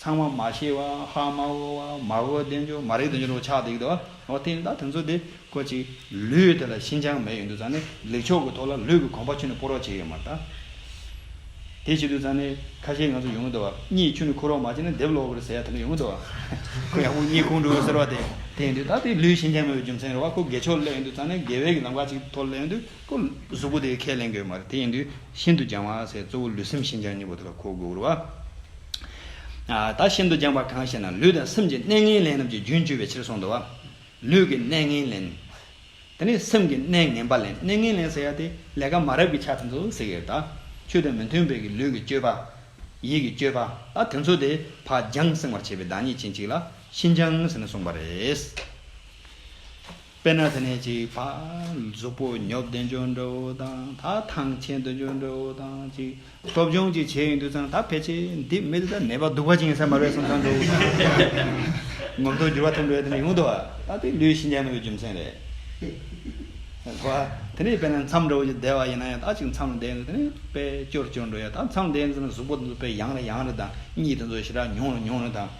ཚང་མ་མ་ཤེས་བ་ཧ་མ་འོ་བ་མ་འོ་བདེན་འགྱུར་མ་རིག་བདེན་འགྱུར་བ་ཆགས་འདུག་གདའ། འོ་དེ་ཡིན་ད་དོན་ཚོ་དེ་ཀོ་ཅིག་ལུས་དེ་ལ་ཤིན་ཅང་མེད་ཡོད་འདུག་ཙང་ནི་ལེགས་ཕྱོགས་ཀྱི་ཐོག་ལ་ལུས་ཀྱི་གོམ་པ་ཆུ་ནི་སྤོ་རོགས་བྱས་ཡོད་མ་གདའ། དེ་བྱེད་དུས་ཙང་ནི་ཁ་ཤས་ང་ཚོ་ཡོང་གི་འདུག་བ་གཉིས་ཆུ་ནི་ཁུར་རོགས་མ་བྱས་ན་འདེབས་ལོག་གིར་ཟེར་ཡ་དེ་འདྲ་ཡོང་གི་འདུག་བ། ཁོ་ཡག་པོ་གཉིས་ཁུངས་འགྲོ་ཟེར་བ་དེ་དེ་ཡིན་དུས་ད་དེ་ལུས་ཤིན་ཅང་མེད་པའི་རྒྱུ་མཚན་རེད་བ་ཁོ་དགེ་ཕྱོགས་སླེབས་ཡོད་འདུག་ཙང་ནི་དགེ་བས་ཀྱི་ལམ་ཁ་ཅིག་ཐོག་སླེབས་ཡོད་འདུག་ཁོ་གཟུགས་པོ་དེ་ཁས་ལེན་དགོས་མ་རེད་དེ་ཡིན་དུས་ཤིན་ཏུ་ཅང་བ་ཟེར་གཙོ་བོ་ལུས་སེམས་ཤིན་ཅང་གཉིས་པོ་དེ་ལ་གོ་དགོས་རུ་བ། ད་ཤིན་ཏུ་སྦྱངས་པ་གང་ཞེ་ན་ལུས་དང་སེམས་ཀྱི་གནས་ངན་ལེན་རྣམས་ཀྱི་རྒྱུན་གཅོད་པའི་ཕྱིར་གསུངས་ཏོ། ལུས་ཀྱི་གནས་ངན་ལེན། དེ་ནས་སེམས་ཀྱི་གནས་ངན་པ་ལེན་གནས་ངན་ལེན་ཟེར་ཡ་དེ་ལས་ཀ་མ་རབས་ཀྱི་ཆ་ཚང་དུ་ཟེར་གྱི་རེད་ད། ཆོས་དང་མི་མཐུན་པའི་གི་ལུས་ཀྱི་སྤྱོད་པ། ཡིད་ཀྱི་སྤྱོད་པ་ད་དེ་ཚོ་དེ་བག་སྦྱངས་སེང་བར་བྱེད་པའི་བདག་ཉིད་ཅན་གཅིག་ལ་ཤིན་སྦྱངས་ཟེར་ནས་གསུངས་པ་རེད། དཔེར་ན་དེ་ནས་གཅིག་ཕ་གཟུགས་པོ་ཉོབ་བདེ་འབྱོར་འདྲ་བོ་དང་ད་ཐང་ཆེན་བདེ་འབྱོར་འདྲ་བོ་དང་གཅིག་སློབ་སྦྱོང་གཅིག་བྱས་ཡོང་དུས་ཚང་ད་ཕལ་ཆེར་འདི་མི་འདི་ལྟར་ནད་པ་སྡུག་པ་ཅིག་ཡིན་ས་མ་རེད་གསུངས་ཚང་འགྲོ་འུ་ཐུག་ངོ་མདོག་འགྱུར་བ་ཐོན་འགྲོ་ཡ་དེ་ནས་ཡོང་དུ་བ་ད་དེ་ལུས་ཤིན་ཅང་མེད་པའི་རྒྱུ་མཚན་རེད་ད་དུ་བ། དེ་ནས་དཔེར་ན་མཚམས་འདྲ་བོ་ཅིག་བསྡད་བ་ཡིན་ན་ཡང་ད་གཅིག་མཚམས་ལ་བསྡད་འདུག་དེ་ནས་དཔེ་སྐྱོར་སྐྱོར་འགྲོ་ཡ་ད་མཚམས་བསྡད་འདུག་ན་གཟུགས་པོ་འདི་ལ་དཔེ་ཡང་རེ་ཡང་རེ་དང་གཉིད་དེ་ཚོ་ཞེ་དྲག་མྱོང་རེ་མྱོང་རེ་དང།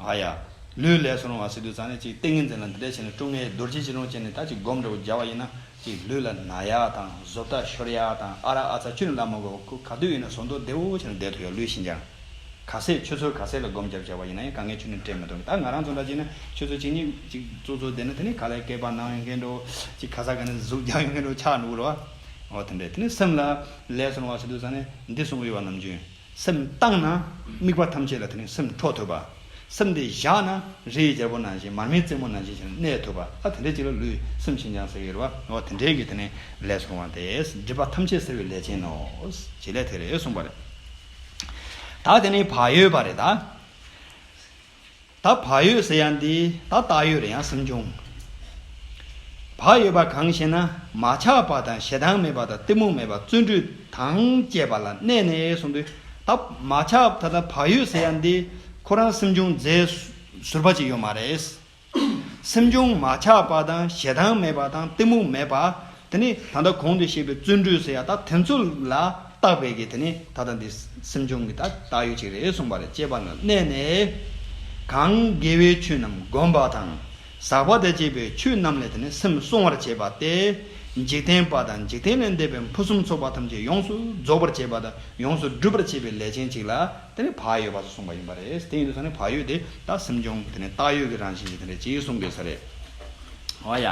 ཨ་ཡ། ལུས་ལས་སུ་རུང་བ་སྲིད་དུ་བརྩགས་ནས་ཅིག་ཏིང་ངེ་འཛིན་ལ་འདི་འདྲས་བྱས་ནས་དཀྲུགས་ངེས་རྡོ་རྗེ་བྱིན་རླུང་ཅན་ནི་ད་ཅིག་སྒོམ་འདྲ་བོ་སྦྱར་བ་ཡིན་ན་ཅིག་ལུས་ལ་ན་ཡ་དང་གཟོབ་ལྟ་ཤོར་ཡ་དང་ཨ་རག་ཨ་ཚ་ཆུ་ནི་བླ་མ་གོ་ཁུ་ག་དུས་ཡིན་ན་ཟོ་འདོད་བདེ་བོ་བྱས་ནས་བསྡད་དོ་ཡ་ལུས་ཤིན་སྦྱངས། ག་ཟས་ཆུ་ཚོད་ག་ཟས་ལ་སྒོམ་སྦྱར་སྦྱར་བ་ཡིན་ན་ཡང་ག་ངའི་ཆུ་ནི་སྤྲད་མི་ཐུབ་ད་ང་རང་ཚོ་འདྲ་ཅིག་ན་ཆུ་ཚོད་གཅིག་གཉིས་ཅིག་བཙོ་བཙོ་བསྡད་ན་དེ་ནི་ག་ལས་སྐེད་པར་ནང་ཡོང་མཁན་འགྲོ་ཅིག་ག་ས་ག་ནས་གཟུགས་རྒྱང་ཡོང་མཁན་འགྲོ་ཆགས་འགྲོ་གི་རོ། འོ་དེ་འདྲས་དེ་ནི་སེམས་ལ། ལས་སུ་རུང་བ་སྲིད་དུ་བརྩགས་ནས་འདི་གསུངས་དབུལ་བ་ནམ་རྒྱུན། སེམས་བཏང་ན་དམིགས་པ་ཐམས་ཅད་ལ་དེ་ནས་སེམས་འཕྲོ་དོད་པ། སེམས་དེ་བཞག་ན་རི་ཡི་རྒྱལ་པོ་ནང་བཞིན་མར་མེའི་རྩེ་མོ་ནང་བཞིན་བཞིན་གནས་དོད་པ་ཨ་དེ་འདྲའི་ཅིག་ལ་ལུས་སེམས་ཤིན་སྦྱངས་ཟེར་བའི་རེ་བ་འོ་དེ་འདྲའི་གི་དེ་ནས་ལས་སོང་བ་དེ་སྒྲིབ་པ་ཐམས་ཅད་སེལ་བའི་ལས་ཅན་ནོ། བྱེད་ལས་དེ་རེད་གསུངས་པ་རེད། ད་དེ་ནས་བག་ཡོད་པ་རེད་ད། ད་བག་ཡོད་ཟེར་ཡང་འདི་ད་བཏགས་ཡོད་རེད་ཡང་སེམས་བྱུང། བག་ཡོད་པ་གང་ཞེ་ན་མ་ཆགས་པ་དང་ཞེ་སྡང་མེད་པ་དང་གཏི་མུག་མེད་པ་བརྩོན་འགྲུས་དང་བཅས་པ་ལ་གནས་ནས་གསུངས་དུས་ད་མ་ཆགས་ད་ལྟ་བག་ཡོད་ཟེར་ཡང་འདི་ཁོ་རང་སེམས་བྱུང་རྫས་ཟུར་པ་ཅིག་ཡོད་མ་རེད། སེམས་བྱུང་མ་ཆགས་པ་དང་ཞེ་སྡང་མེད་པ་དང་གཏི་མུག་མེད་པ། དེ་ནི་ད་ལྟ་གོང་དུ་བཤད་པའི་བརྩོན་འགྲུས་སུ་ཡང་དག་དེ་ཚོ་ལ་བརྟགས་པས་ཀྱི་དེ་ནི་ད་ལྟ་འདི་སེམས་བྱུང་གི་དག་དག་ཡོད་ཅིག་རེད་གསུངས་པ་ལ་དཔྱད་པ་ན་གནས་ནས། གང་དགེ་བའི་ཆོས་རྣམས་བསྒོམ་པ་དང། ཟག་པ་དང་བཅས་པའི་ཆོས་རྣམས་ལས་དེ་ནི་སེམས་སྲུང་བར་བྱེད་པ་སྟེ། འཇིག་རྟེན་པ་དང་འཇིག་རྟེན་ལས་འདས་པའི་ཕུན་སུམ་ཚོགས་པ་ཐམས་ཅད་ཡོངས་སུ་རྫོགས་པར་བྱེད་པ་དང་ཡོངས་སུ་སྒྲུབ་པར་བྱེད་པའི་ལས་ཅན་ཅིག་ལ་དེ་ནི་བག་ཡོད་པ་སོགས་གསུངས་པ་ཡིན་པ་རེད། དེ་ཡིན་དུས་ད་ནི་བག་ཡོད་དེ་དག་སེམས་བྱུང་དེ་ནི་བཏགས་ཡོད་ཀྱི་རང་བཞིན་ཞིག་དེ་འདྲ་གཅིག་གསུངས་དགོས་ས་རེད། འོ་ཡ།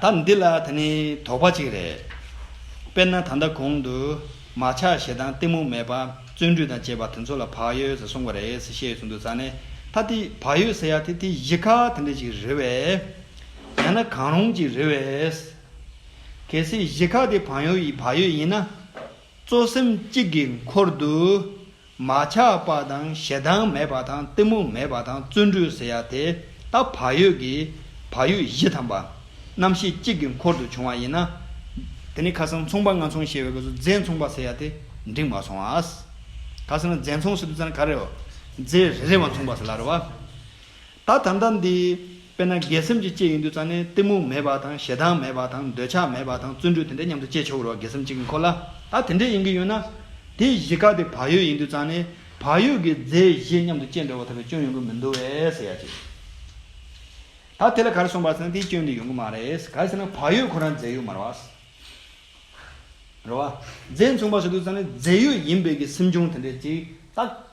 ད་འདི་ལ་ད་ནི་དོགས་པ་གཅིག་རེད། དཔེར་ན་ད་ལྟ་གོང་དུ། མ་ཆགས་ཞེ་སྡང་གཏི་མུག་མེད་པ། བརྩོན་འགྲུས་དང་བཅས་པ་དེ་ཚོ་ལ་བག་ཡོད་ཟེར་གསུངས་པ་རེད་ཟེར་བཤད་ཡོད་ཚུལ་འདུག་ས་ནི། ད་དེ་བག་ཡོད་ཟེར་ཡག་དེ་དེ་གཞི་ཁ་དེ་འདྲ་ཞིག་རེད་བས། ཡང་ན་གང་རུང་ཅིག་རེད་བས། གལ་སྲིད་གཞི་ཁ་དེ་བག་ཡོད་ཡིན་ན། གཙོ་སེམས་གཅིག་གི་འཁོར་དུ། མ་ཆགས་པ་དང་ཞེ་སྡང་མེད་པ་དང་གཏི་མུག་མེད་པ་དང་བརྩོན་འགྲུས་ཟེར་ཡ་དེ་དག་བག་ཡོད་ཀྱི་བག་ཡོད་བཞི་དམ་པ་རྣམ་ཤེས་གཅིག་གི་འཁོར་དུ་བྱུང་བ་ཡིན་ན། དེ་ནི་ཁ་སང་མཚུངས་པ་ང་མཚུངས་ཞེས་པའི་སྐབས་སུ་རྫས་མཚུངས་པ་ཟེར་ཡ་དེ་འགྲིག་མ་སོང་ཨ། ཁ་སང་རྫས་མཚུངས་ཟེར་དུས་ཚོད་ནི་ག་རེའོ། རྫས་རེ་རེ་བ་མཚུངས་པ་ཟེར་ལ་རེ་བ། ད་ད་ལྟ་འདི། དཔེར་ན་སྒེག་སེམས་ཀྱི་སྐྱེ་ཡི་འདུས་ཙང་ནི་གཏི་མུག་མེད་པ་དང་ཞེ་སྡང་མེད་པ་དང་འདོད་ཆགས་མེད་པ་དང་བརྩོན་འགྲུས་དེ་འདྲས་མཉམ་དུ་སྐྱེ་ཆོག་གི་རོ་སྒེག་སེམས་གཅིག་གི་འཁོར་ལ་ད་དེ་འདྲས་ཡིན་གྱི་ཡོད་ན། དེ་བཞི་དཀའ་དེ་བག་ཡོད་ཡིན་འདུས་ཙང་ནི་བག་ཡོད་ཀྱི་རྫས་བཞི་མཉམ་དུ་སྐྱེ་འགྲོ་བ་ཐོབ་པའི་སྐྱོན་ཡོང་གི་མི་འདུག་བས་ཟེར་ཡ་ཅིག། ད་དེ་ལ་གར་སོང་བར་ཟེར་ན་དེའི་སྐྱོན་དེ་ཡོང་གི་མ་རེད། ག་ཟེར་ན་བག་ཡོད་ཁོ་རང་རྫས་ཡོད་མ་རེད་བ། རེད་བ། རྫས་མཚུངས་པ་ཟེར་འདུས་ཙང་ནི་རྫས་ཡོད་ཡིན་པས་ཀྱི་སེམས་བྱུང་དེ་འདྲས་ཅིག་རྟགས།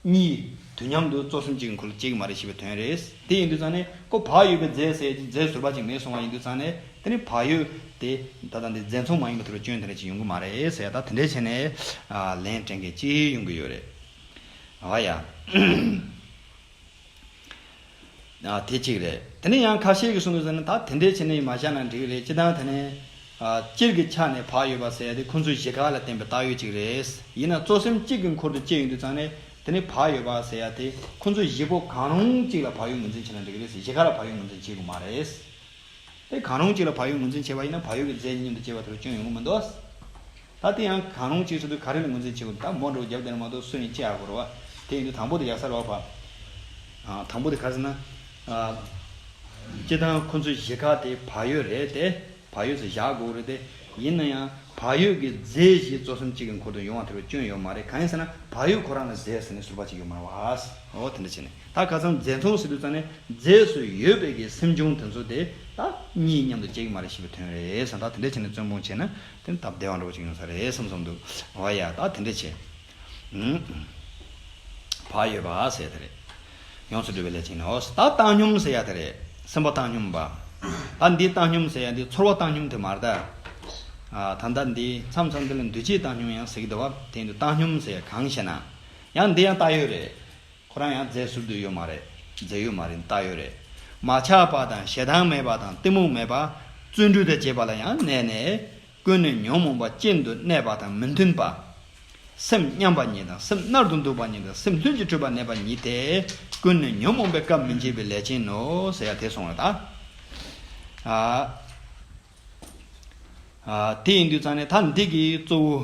གཉིས། དུས་མཉམ་དུ་གཙོ་གསུམ་གཅིག་འཁོར་ལོ་གཅིག་མ་རེད་ཞེས་པའི་དོན་རེད། དེ་ཡིན་དུས་ཙང་ནས་ཀོ་བག་ཡོད་པའི་རྫས་བསལ་རྗེས་རྫས་བཟོས་པ་གཅིག་མེད་སོང་བ་ཡིན་དུས་ཙང་ནས་དེ་ནི་བག་ཡོད་དེ། ད་ལྟ་འདི་རྫས་འཚོང་མ་ཡིན་པ་དེ་རུ་སྐྱོན་དེ་འདྲ་གཅིག་ཡོང་གི་མ་རེད་ཟེར་ཡ་ད་དེ་འདྲའི་བྱས་ནས། ལན་སྤྲད་མཁན་གཅིག་ཡོང་གི་ཡོད་རེད། ཨ་ཡ། དེ་གཅིག་རེད། དེ་ནས་ཡང་ཁ་ཤས་ཀྱིས་གསུངས་ཟིན་ན་ད་དེ་འདྲའི་ཆེ་ནས་མ་བཞག་ན་འགྲིག་རེད་ཅི་སྟངས་དེ་ནས། སྤྱིར་གྱི་ཆ་ནས་བག་ཡོད་པ་ཟེར་ཡ་དེ་ཁོ་ཚོའི་གཞིས་ཁག་ལ་བརྟེན་པའི་བཏགས་ཡོད་ཅིག་རེད། ཡིན་ན་གཙོ་སེམས་གཅིག་གི་འཁོར་དུ་བསྐྱེལ་ཡོང་དུས་ཙང་ནས་དེ་ནས་བག་ཡོད་པ་ཟེར་ཡ་དེ་ཁོ་ཚོའི་གཞིས་སྤོ་གང་རུང་གཅིག་ལ་བག་ཡོད་ངོས་འཛིན་བྱས་ན་འགྲིག་རེད་གཞིས་ཁག་ལ་བག་ཡོད་ངོས་འཛིན་བྱེད་དགོས་མ་རེད། དེ་གང་རུང་གཅིག་ལ་བག་ཡོད་ངོས་འཛིན་བྱས་པ་ཡིན་ན་བག་ཡོད་ཀྱི་རྫས་ཀྱི་མཉམ་དུ་སྐྱེ་བ་དེ་རུ་སྐྱོན་ཡོང་གི་མི་འདུག་ད་དེ་ཡང་གང་རུང་གཅིག་སོ་དུས་ག་རེ་ལ་ངོས་འཛིན་བྱེད་དགོས་ད་མོ་འགྲོ་བ་རྒྱབ་བསྟན་ལ་མ་གཏོགས་སུ་ཡིན་དཔྱད་ཨ་དགོས་རོ། དེ་ཡིན་དུས་དང་པོ་དེ་ཡག་སར་བ་བ། དང་པོ་དེ་ག་ཟེར་ན། སྤྱིར་བཏང་ཁོ་ཚོའི་གཞིས་ཁག་དེ་བག་ཡོད་རེད་དེ། བག་ཡོད་ཚོ་བཞག་དགོས་རེད་དེ། ཡིན་ན་ཡང་བག་ཡོད་ཀྱི་རྫས་གཞིས་གཙོ་གསུམ་གཅིག་གི་འཁོར་དུ་ཡོང་བ་དེ་རུ་སྐྱོན་ཡོད་མ་རེད་གང་ཡིན་ཟེར་ན་བག་ཡོད་ཁོ་རང་ལ་རྫས་ཟེར་ནས་ཟུར་བ་གཅིག་ཡོད་མ་རེད་བ། འོ་དེ་འདྲ་བྱས་ནས། ད་ག་ཚང་རྫས་འཐུང་ཟེར་དུས་ཙང་ནས་རྫས་སུ་ཡོད་པའི་གི་སེམས་བྱུང་དེ་ཚོ་དེ་ད་གཉིས་མཉམ་དུ་བྱེད་གི་མ་རེད་ཞེས་པའི་དོན་རེད་བསམ་ད་དེ་འདྲས་བྱས་ནས་བཙོན་དཔུང་བྱས་ན་དེ་ད་བདེ་བ་འདྲ་བོ་ཅིག་ཡོང་ས་རེད་བསམ་བསམ་འདུག་བ་ཡ་ད་དེ་འདྲས་བྱས་བག་ཡོད་པ་ཟེར་ཡ་དེ་རེད་ཡོངས་སུ་འགྲུབ་པའི་ལས་བྱས་ནས་ཨོ་ད་བཏང་སྙོམས་ཟེར་ཡ་དེ་རེད་སེམས་པ་བཏང་སྙོམས་བ་ད་འདི་བཏང་སྙོམས་ཟེར་ཡ་འདི་ཚོར་བ་བཏང་སྙོམས་དེ་མ་རེད་ད་ད་ད་འདི་མཚམས་མཚམས་འདི་ལ་འདུས་བྱས་བཏང་སྙོམས་ཡང་ཟེར་གི་འདུག་བ་དེ་འདི་བཏང་སྙོམས་ཟེར་ཡ་གང་ཞེ་ན་ཡང་འདི་ཡང་ད་ཡོད་རེད། ཁོ་རང་ཡང་རྫས་ཟུར་དུ་ཡོད་མ་རེད། རྫས་ཡོད་མ་རེད་ལྟ་ཡོད་རེད། མ་ཆགས་པ་དང་ཞེ་སྡང་མེད་པ་དང་གཏི་མུག་མེད་པ། བརྩོན་འགྲུས་དང་བཅས་པ་ལ་ཡང་གནས་ནས། ཀུན་ནས་ཉོན་མོངས་པ་ཅན་དུ་གནས་པ་དང་མི་མཐུན་པ། སེམས་མཉམ་པ་ཉིད་དང་སེམས་མནར་དུ་འདུག་པ་ཉིད་དང་སེམས་ལྷུན་གྱིས་གྲུབ་པར་གནས་པ་ཉིད་དེ། ཀུན་ནས་ཉོན་མོངས་པའི་སྐབས་མི་འབྱེད་པའི་ལས་ཅན་ནོ། ཟེར་ཡ་དེ་སོང་བ་དང། དེ་ཡིན་དུས་ཙང་ནས་ད་འདི་གི་གཙོ་བོ་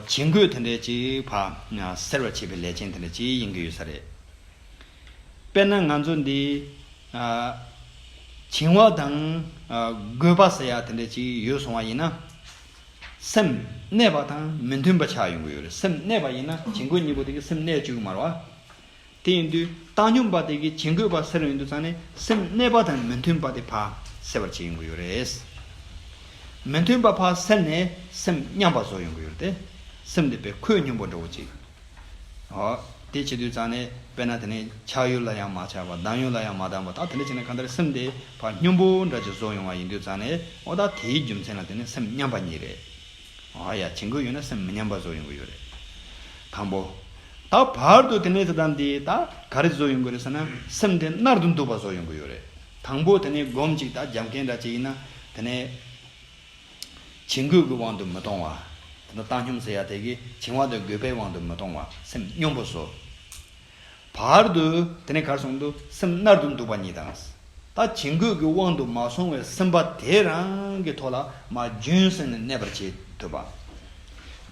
བྱིང་རྒོད་དེ་འདྲས་ཅིག་བག་སེལ་བར་བྱེད་པའི་ལས་ཅན་དེ་འདྲ་ཅིག་ཡིན་གྱི་ཡོད་ས་རེད། དཔེར་ན་ང་ཚོ་འདི། བྱིང་བ་དང། རྒོད་པ་ཟེར་ཡག་དེ་འདྲས་ཅིག་ཡོད་སོང་བ་ཡིན་ན། སེམས་གནས་པ་དང་མི་མཐུན་པ་ཆགས་ཡོང་གི་ཡོད་རེད་སེམས་གནས་པ་ཡིན་ན་བྱིང་རྒོད་གཉིས་པོ་དེ་གི་སེམས་གནས་བཅུག་གི་མ་རེད་བ། དེ་ཡིན་དུས་བཏང་སྙོམས་པ་དེ་གིས་བྱིང་རྒོད་པ་སེལ་རུང་ཡིན་དུས་ཚང་ནས་སེམས་གནས་པ་དང་མི་མཐུན་པ་དེ་བག་སེལ་བར་བྱེད་ཡོང་གི་ཡོད་རེད། མི་མཐུན་པ་བག་སེལ་ནས་སེམས་མཉམ་པ་བཟོ་ཡོང་གི་ཡོད་རེད། སེམས་དེ་བས་ཁོད་སྙོམས་པོ་འགྲོ་གི་བྱེད། དེ་བྱེད་དུས་ཚང་ནས་དཔེར་ན་དེ་ནས་ཆགས་ཡུལ་ལ་ཡང་མ་ཆགས་པར་ལྡང་ཡུལ་ལ་ཡང་མ་ལྡང་བར་ད་དེ་འདྲ་བྱས་ན་གང་ལྟར་སེམས་དེ་བག་སྙོམས་པོ་འདྲ་ཅིག་བཟོ་ཡོང་བ་ཡིན་དུས་ཚང་ནས་འོ་ད་དེའི་རྒྱུ་མཚན་ལ་བརྟེན་ནས་སེམས་མཉམ་པ་ཉིད་རེད། ཨ་ཡ་བྱེད་འགོ་ཡོད་ན་སེམས་མི་ཉམས་པ་བཟོ་ཡོང་གི་ཡོད་རེད། དང་པོ། ད་བར་དུ་དེ་ནས་དེ་དང་འདིའི་ད་ག་རེ་བཟོ་ཡོང་གི་རེད་ཟེར་ན་སེམས་དེ་མནར་དུ་འདུག་པ་བཟོ་ཡོང་གི་ཡོད་རེད། དང་པོ་དེ་ནས་སྒོམ་གཅིག་ད་རྒྱབ་མཁན་འདྲ་གཅིག་ཡིན་ན་དེ་ནས། བྱེད་འགོ་གི་དབང་དུ་མི་གཏོང་བ། དེ་ནས་བཏང་སྙོམས་ཟེར་ཡ་དེ་གི་བྱིང་བ་དང་རྒོད་པའི་དབང་དུ་མི་གཏོང་བ་སེམས་སྙོམས་པོ་བཟོ། བར་དུ་དེ་ནས་གར་སོང་དུ་སེམས་མནར་དུ་འདུག་པ་ཉིད་དང། ད་བྱིང་རྒོད་ཀྱི་དབང་དུ་མ་སོང་བའི་སེམས་པ་དེས་རང་གི་ཐོག་ལ་མ་རྒྱུན་སེང་ནས་གནས་པར་བྱེད་ཐུབ་པ།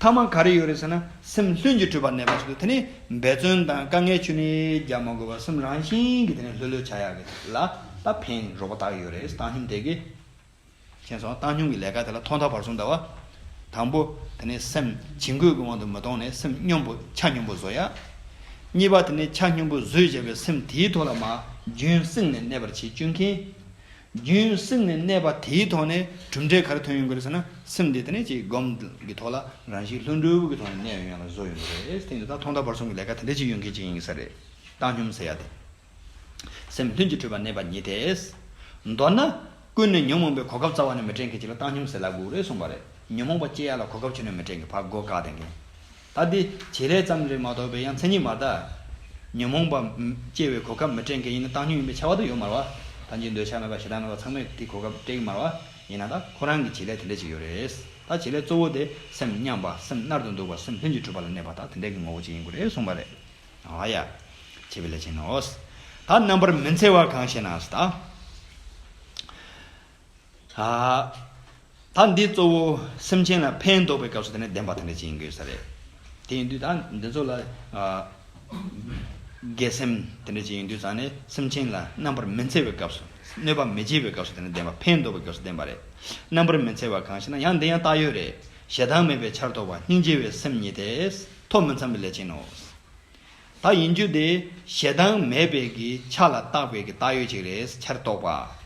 ཐ་མ་ག་རེ་ཡོད་རེད་ཟེར་ན་སེམས་ལྷུན་གྱིས་གྲུབ་པར་གནས་པར་བྱེད་དུ་དེ་ནི་འབད་བརྩོན་དང་དཀའ་ངལ་ཆུ་ནི་རྒྱག་མ་དགོས་པར་སེམས་རང་བཞིན་གྱིས་དེ་ནི་ལྷོད་ལྷོད་བྱ་ཡག་གི་ལ་ད་ཕན་རོགས་པ་དག་ཡོད་རེད་བཏང་ཞིང་དེ་གི་མཁྱེན་སོང་བཏང་སྙོམས་ཀྱི་ལས་ཀ་དེ་ལ་ཐོག་མཐའ་བར་གསུམ་བལྟ་བ། དང་པོ། དེ་ནི་སེམས་བྱིང་རྒོད་ཀྱི་དབང་དུ་མི་གཏོང་ནས་སེམས་སྙོམས་པོ་ཆ་སྙོམས་པོ་བཟོ་ཡ། གཉིས་པ་དེ་ནི་ཆ་སྙོམས་པོ་བཟོས་བྱས་པའི་སེམས་དེའི་ཐོག་ལ་མ་རྒྱུན་བསྲིངས་ནས་གནས་པར་བྱེད་དཀྱུས་མཁྱེན། རྒྱུན་བསྲིངས་ནས་གནས་པ་དེའི་ཐོག་ནས་གྲུབ་འབྲས་ག་རེ་ཐོན་ཡོང་གི་རེད་ཟེར་ན་སེམས་དེ་དེ་ནས་ཅིག་སྒོམ་གྱི་ཐོག་ལ་རང་བཞིན་ལྷུན་གྲུབ་ཀྱི་ཐོག་ནས་གནས་ཡོང་ཡང་ལ་བཟོ་ཡོང་གི་རེད་དེ་ནི་ད་ཐོག་མཐའ་བར་གསུམ་གྱི་ལས་ཀ་དེ་འདྲ་ཅིག་ཡོང་མཁན་ཅིག་ཡིན་གྱི་ས་རེད་བཏང་སྙོམས་ཟེར་ཡ་དེ། སེམས་ལྷུན་གྱིས་གྲུབ་པར་གནས་པ་ཉིད་དེ། མདོར་ན། ཀུན་ནས་ཉོན་མོངས་པའི་གོ་སྐབས་རྩ་བ་ནས་མི་དྲན་གྱི་ཅི་ལ་བཏང་སྙོམས་ཟེར་ལ་སྒུག་རེད་གསུངས་པ་རེད། ཉོན་མོངས་པ་སྐྱེ་ཡག་ལ་གོ་སྐབས་ཆུད་ནས་མི་དྲན་གྱི་བར་སྒོ་འགག་ལྡན་གྱི། ད་འདི་བྱེད་ལས་ཙམ་རེ་མ་གཏོགས་པའི་ཡང་མཚན་ཉིད་མ་གདའ། ཉོན་མོངས་པ་སྐྱེ་བའི་གོ་སྐབས་མི་དྲན་གྱི་ཡིན་ན་བཏང་སྙོམས་ཡིན་པའི་ཆ་བ་དུ་ཡོད་མར་བ། ད་འཇིག་འདོད་ཆགས་མེད་པ་ཞེ་སྡང་མེད་པ་ཚང་མས་དེ་གོ་སྐབས་སྤྲད་ཀྱི་མར་བ། ཡིན་ན་ད་ཁོ་རང་གི་བྱེད་ལས་དེ་འདྲས་ཅིག་ཡོད་རེད། ད་བྱེད་ལས་གཙོ་བོ་དེ་སེམས་མཉམ་པ་སེམས་རྣལ་དུ་འདུག་པ་སེམས་ལྷུན་གྱིས་གྲུབ་པ་ལ་གནས་པ་ད་དེ་འདྲས་ཀྱི་ངོ་བོ་ཅིག་ཡིན་དགོས་རེད་གསུངས་པ་རེད། ཨཱ་ཡ། བྱེད་པའི་ལས་ཅན་ནོ། ད་རྣམ་པར་མི་འཚེ་བ་གང་ཞེ་ན། ད་འདི་གཙོ་བོ་སེམས་ཅན་ལ་ཕན་འདོགས་པའི་སྐབས་སུ་དེ་ནི་བདེན་པ་དེ་འདྲ་ཅན་ཡིན་དགོས་ས་རེད། དེ་ཡིན་དུས་ད་འདི་ཚོ་ལ། དགེ་སེམས་དེ་འདྲ་ཅན་ཡིན་དུས་ད་ནི་སེམས་ཅན་ལ་རྣམ་པར་མི་འཚེ་བའི་སྐབས་སུ། གནོད་པ་མི་བྱེད་པའི་སྐབས་སུ་དེ་ནི་བདེན་པ་ཕན་འདོགས་པའི་སྐབས་སུ་བདེན་པ་རེད། རྣམ་པར་མི་འཚེ་བ་གང་ཞེ་ན་ཡང་འདི་ཡང་བཏགས་ཡོད་རེད། ཞེ་སྡང་མེད་པའི་ཕྱིར་རྟོགས་པ་སྙིང་རྗེ་བའི་སེམས་ཉིད་དེ། ཐོག་མི་འཚམ་པའི་ལས་བྱེད་ནོ། ད་ཡིན་རྒྱུ་དེ་ཞེ་སྡང་མེད་པའི་གི་ཆ་ལ་བཏགས་པའི་གི་བཏགས་ཡོད་ཅིག་རེད་ཕྱིར་རྟོགས་པ།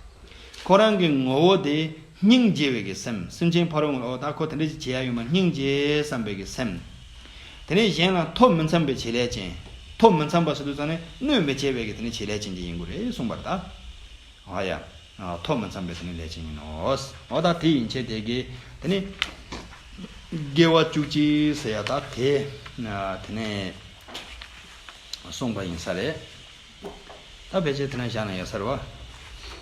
ཁོ་རང་གི་ངོ་བོ་དེ་སྙིང་རྗེ་བའི་གི་སེམས་སེམས་ཅན་ཕ་རོལ་ངོ་ད་ཁོ་དེ་འདྲ་ཅིག་བྱེད་ཡ་ཡོད་མ་སྙིང་རྗེ་བསམ་པའི་གི་སེམས། དེ་ནས་གཞན་ལ་ཐོག་མི་འཚམ་པའི་བྱེད་ལས་ཅན། ཐོག་མི་འཚམ་པ་སོ་དུ་ཚང་ནས་གནོད་མི་བྱེད་པའི་གི་དེ་ནས་བྱེད་ལས་ཅན་ཅིག་ཡིན་དགོས་རེད་གསུངས་པར་ད། ཨ་ཡ། ཐོག་མ་འཚམས་པའི་དེ་ནི་ལས་ཅན་ཡིན་ནོ། འོ་ད་དེ་ཡིན་བྱས་དེ་དགེ། དེ་ནི། དགེ་བ་བཅུ་གཅིག་ཟེར་ཡ་ད་དེ། དེ་ནས། གསུངས་པ་ཡིན་ས་རེད། ད་བེད་སྤྱད་དེ་ན་བཞག་ན་ཡོད་ས་རེད་བ།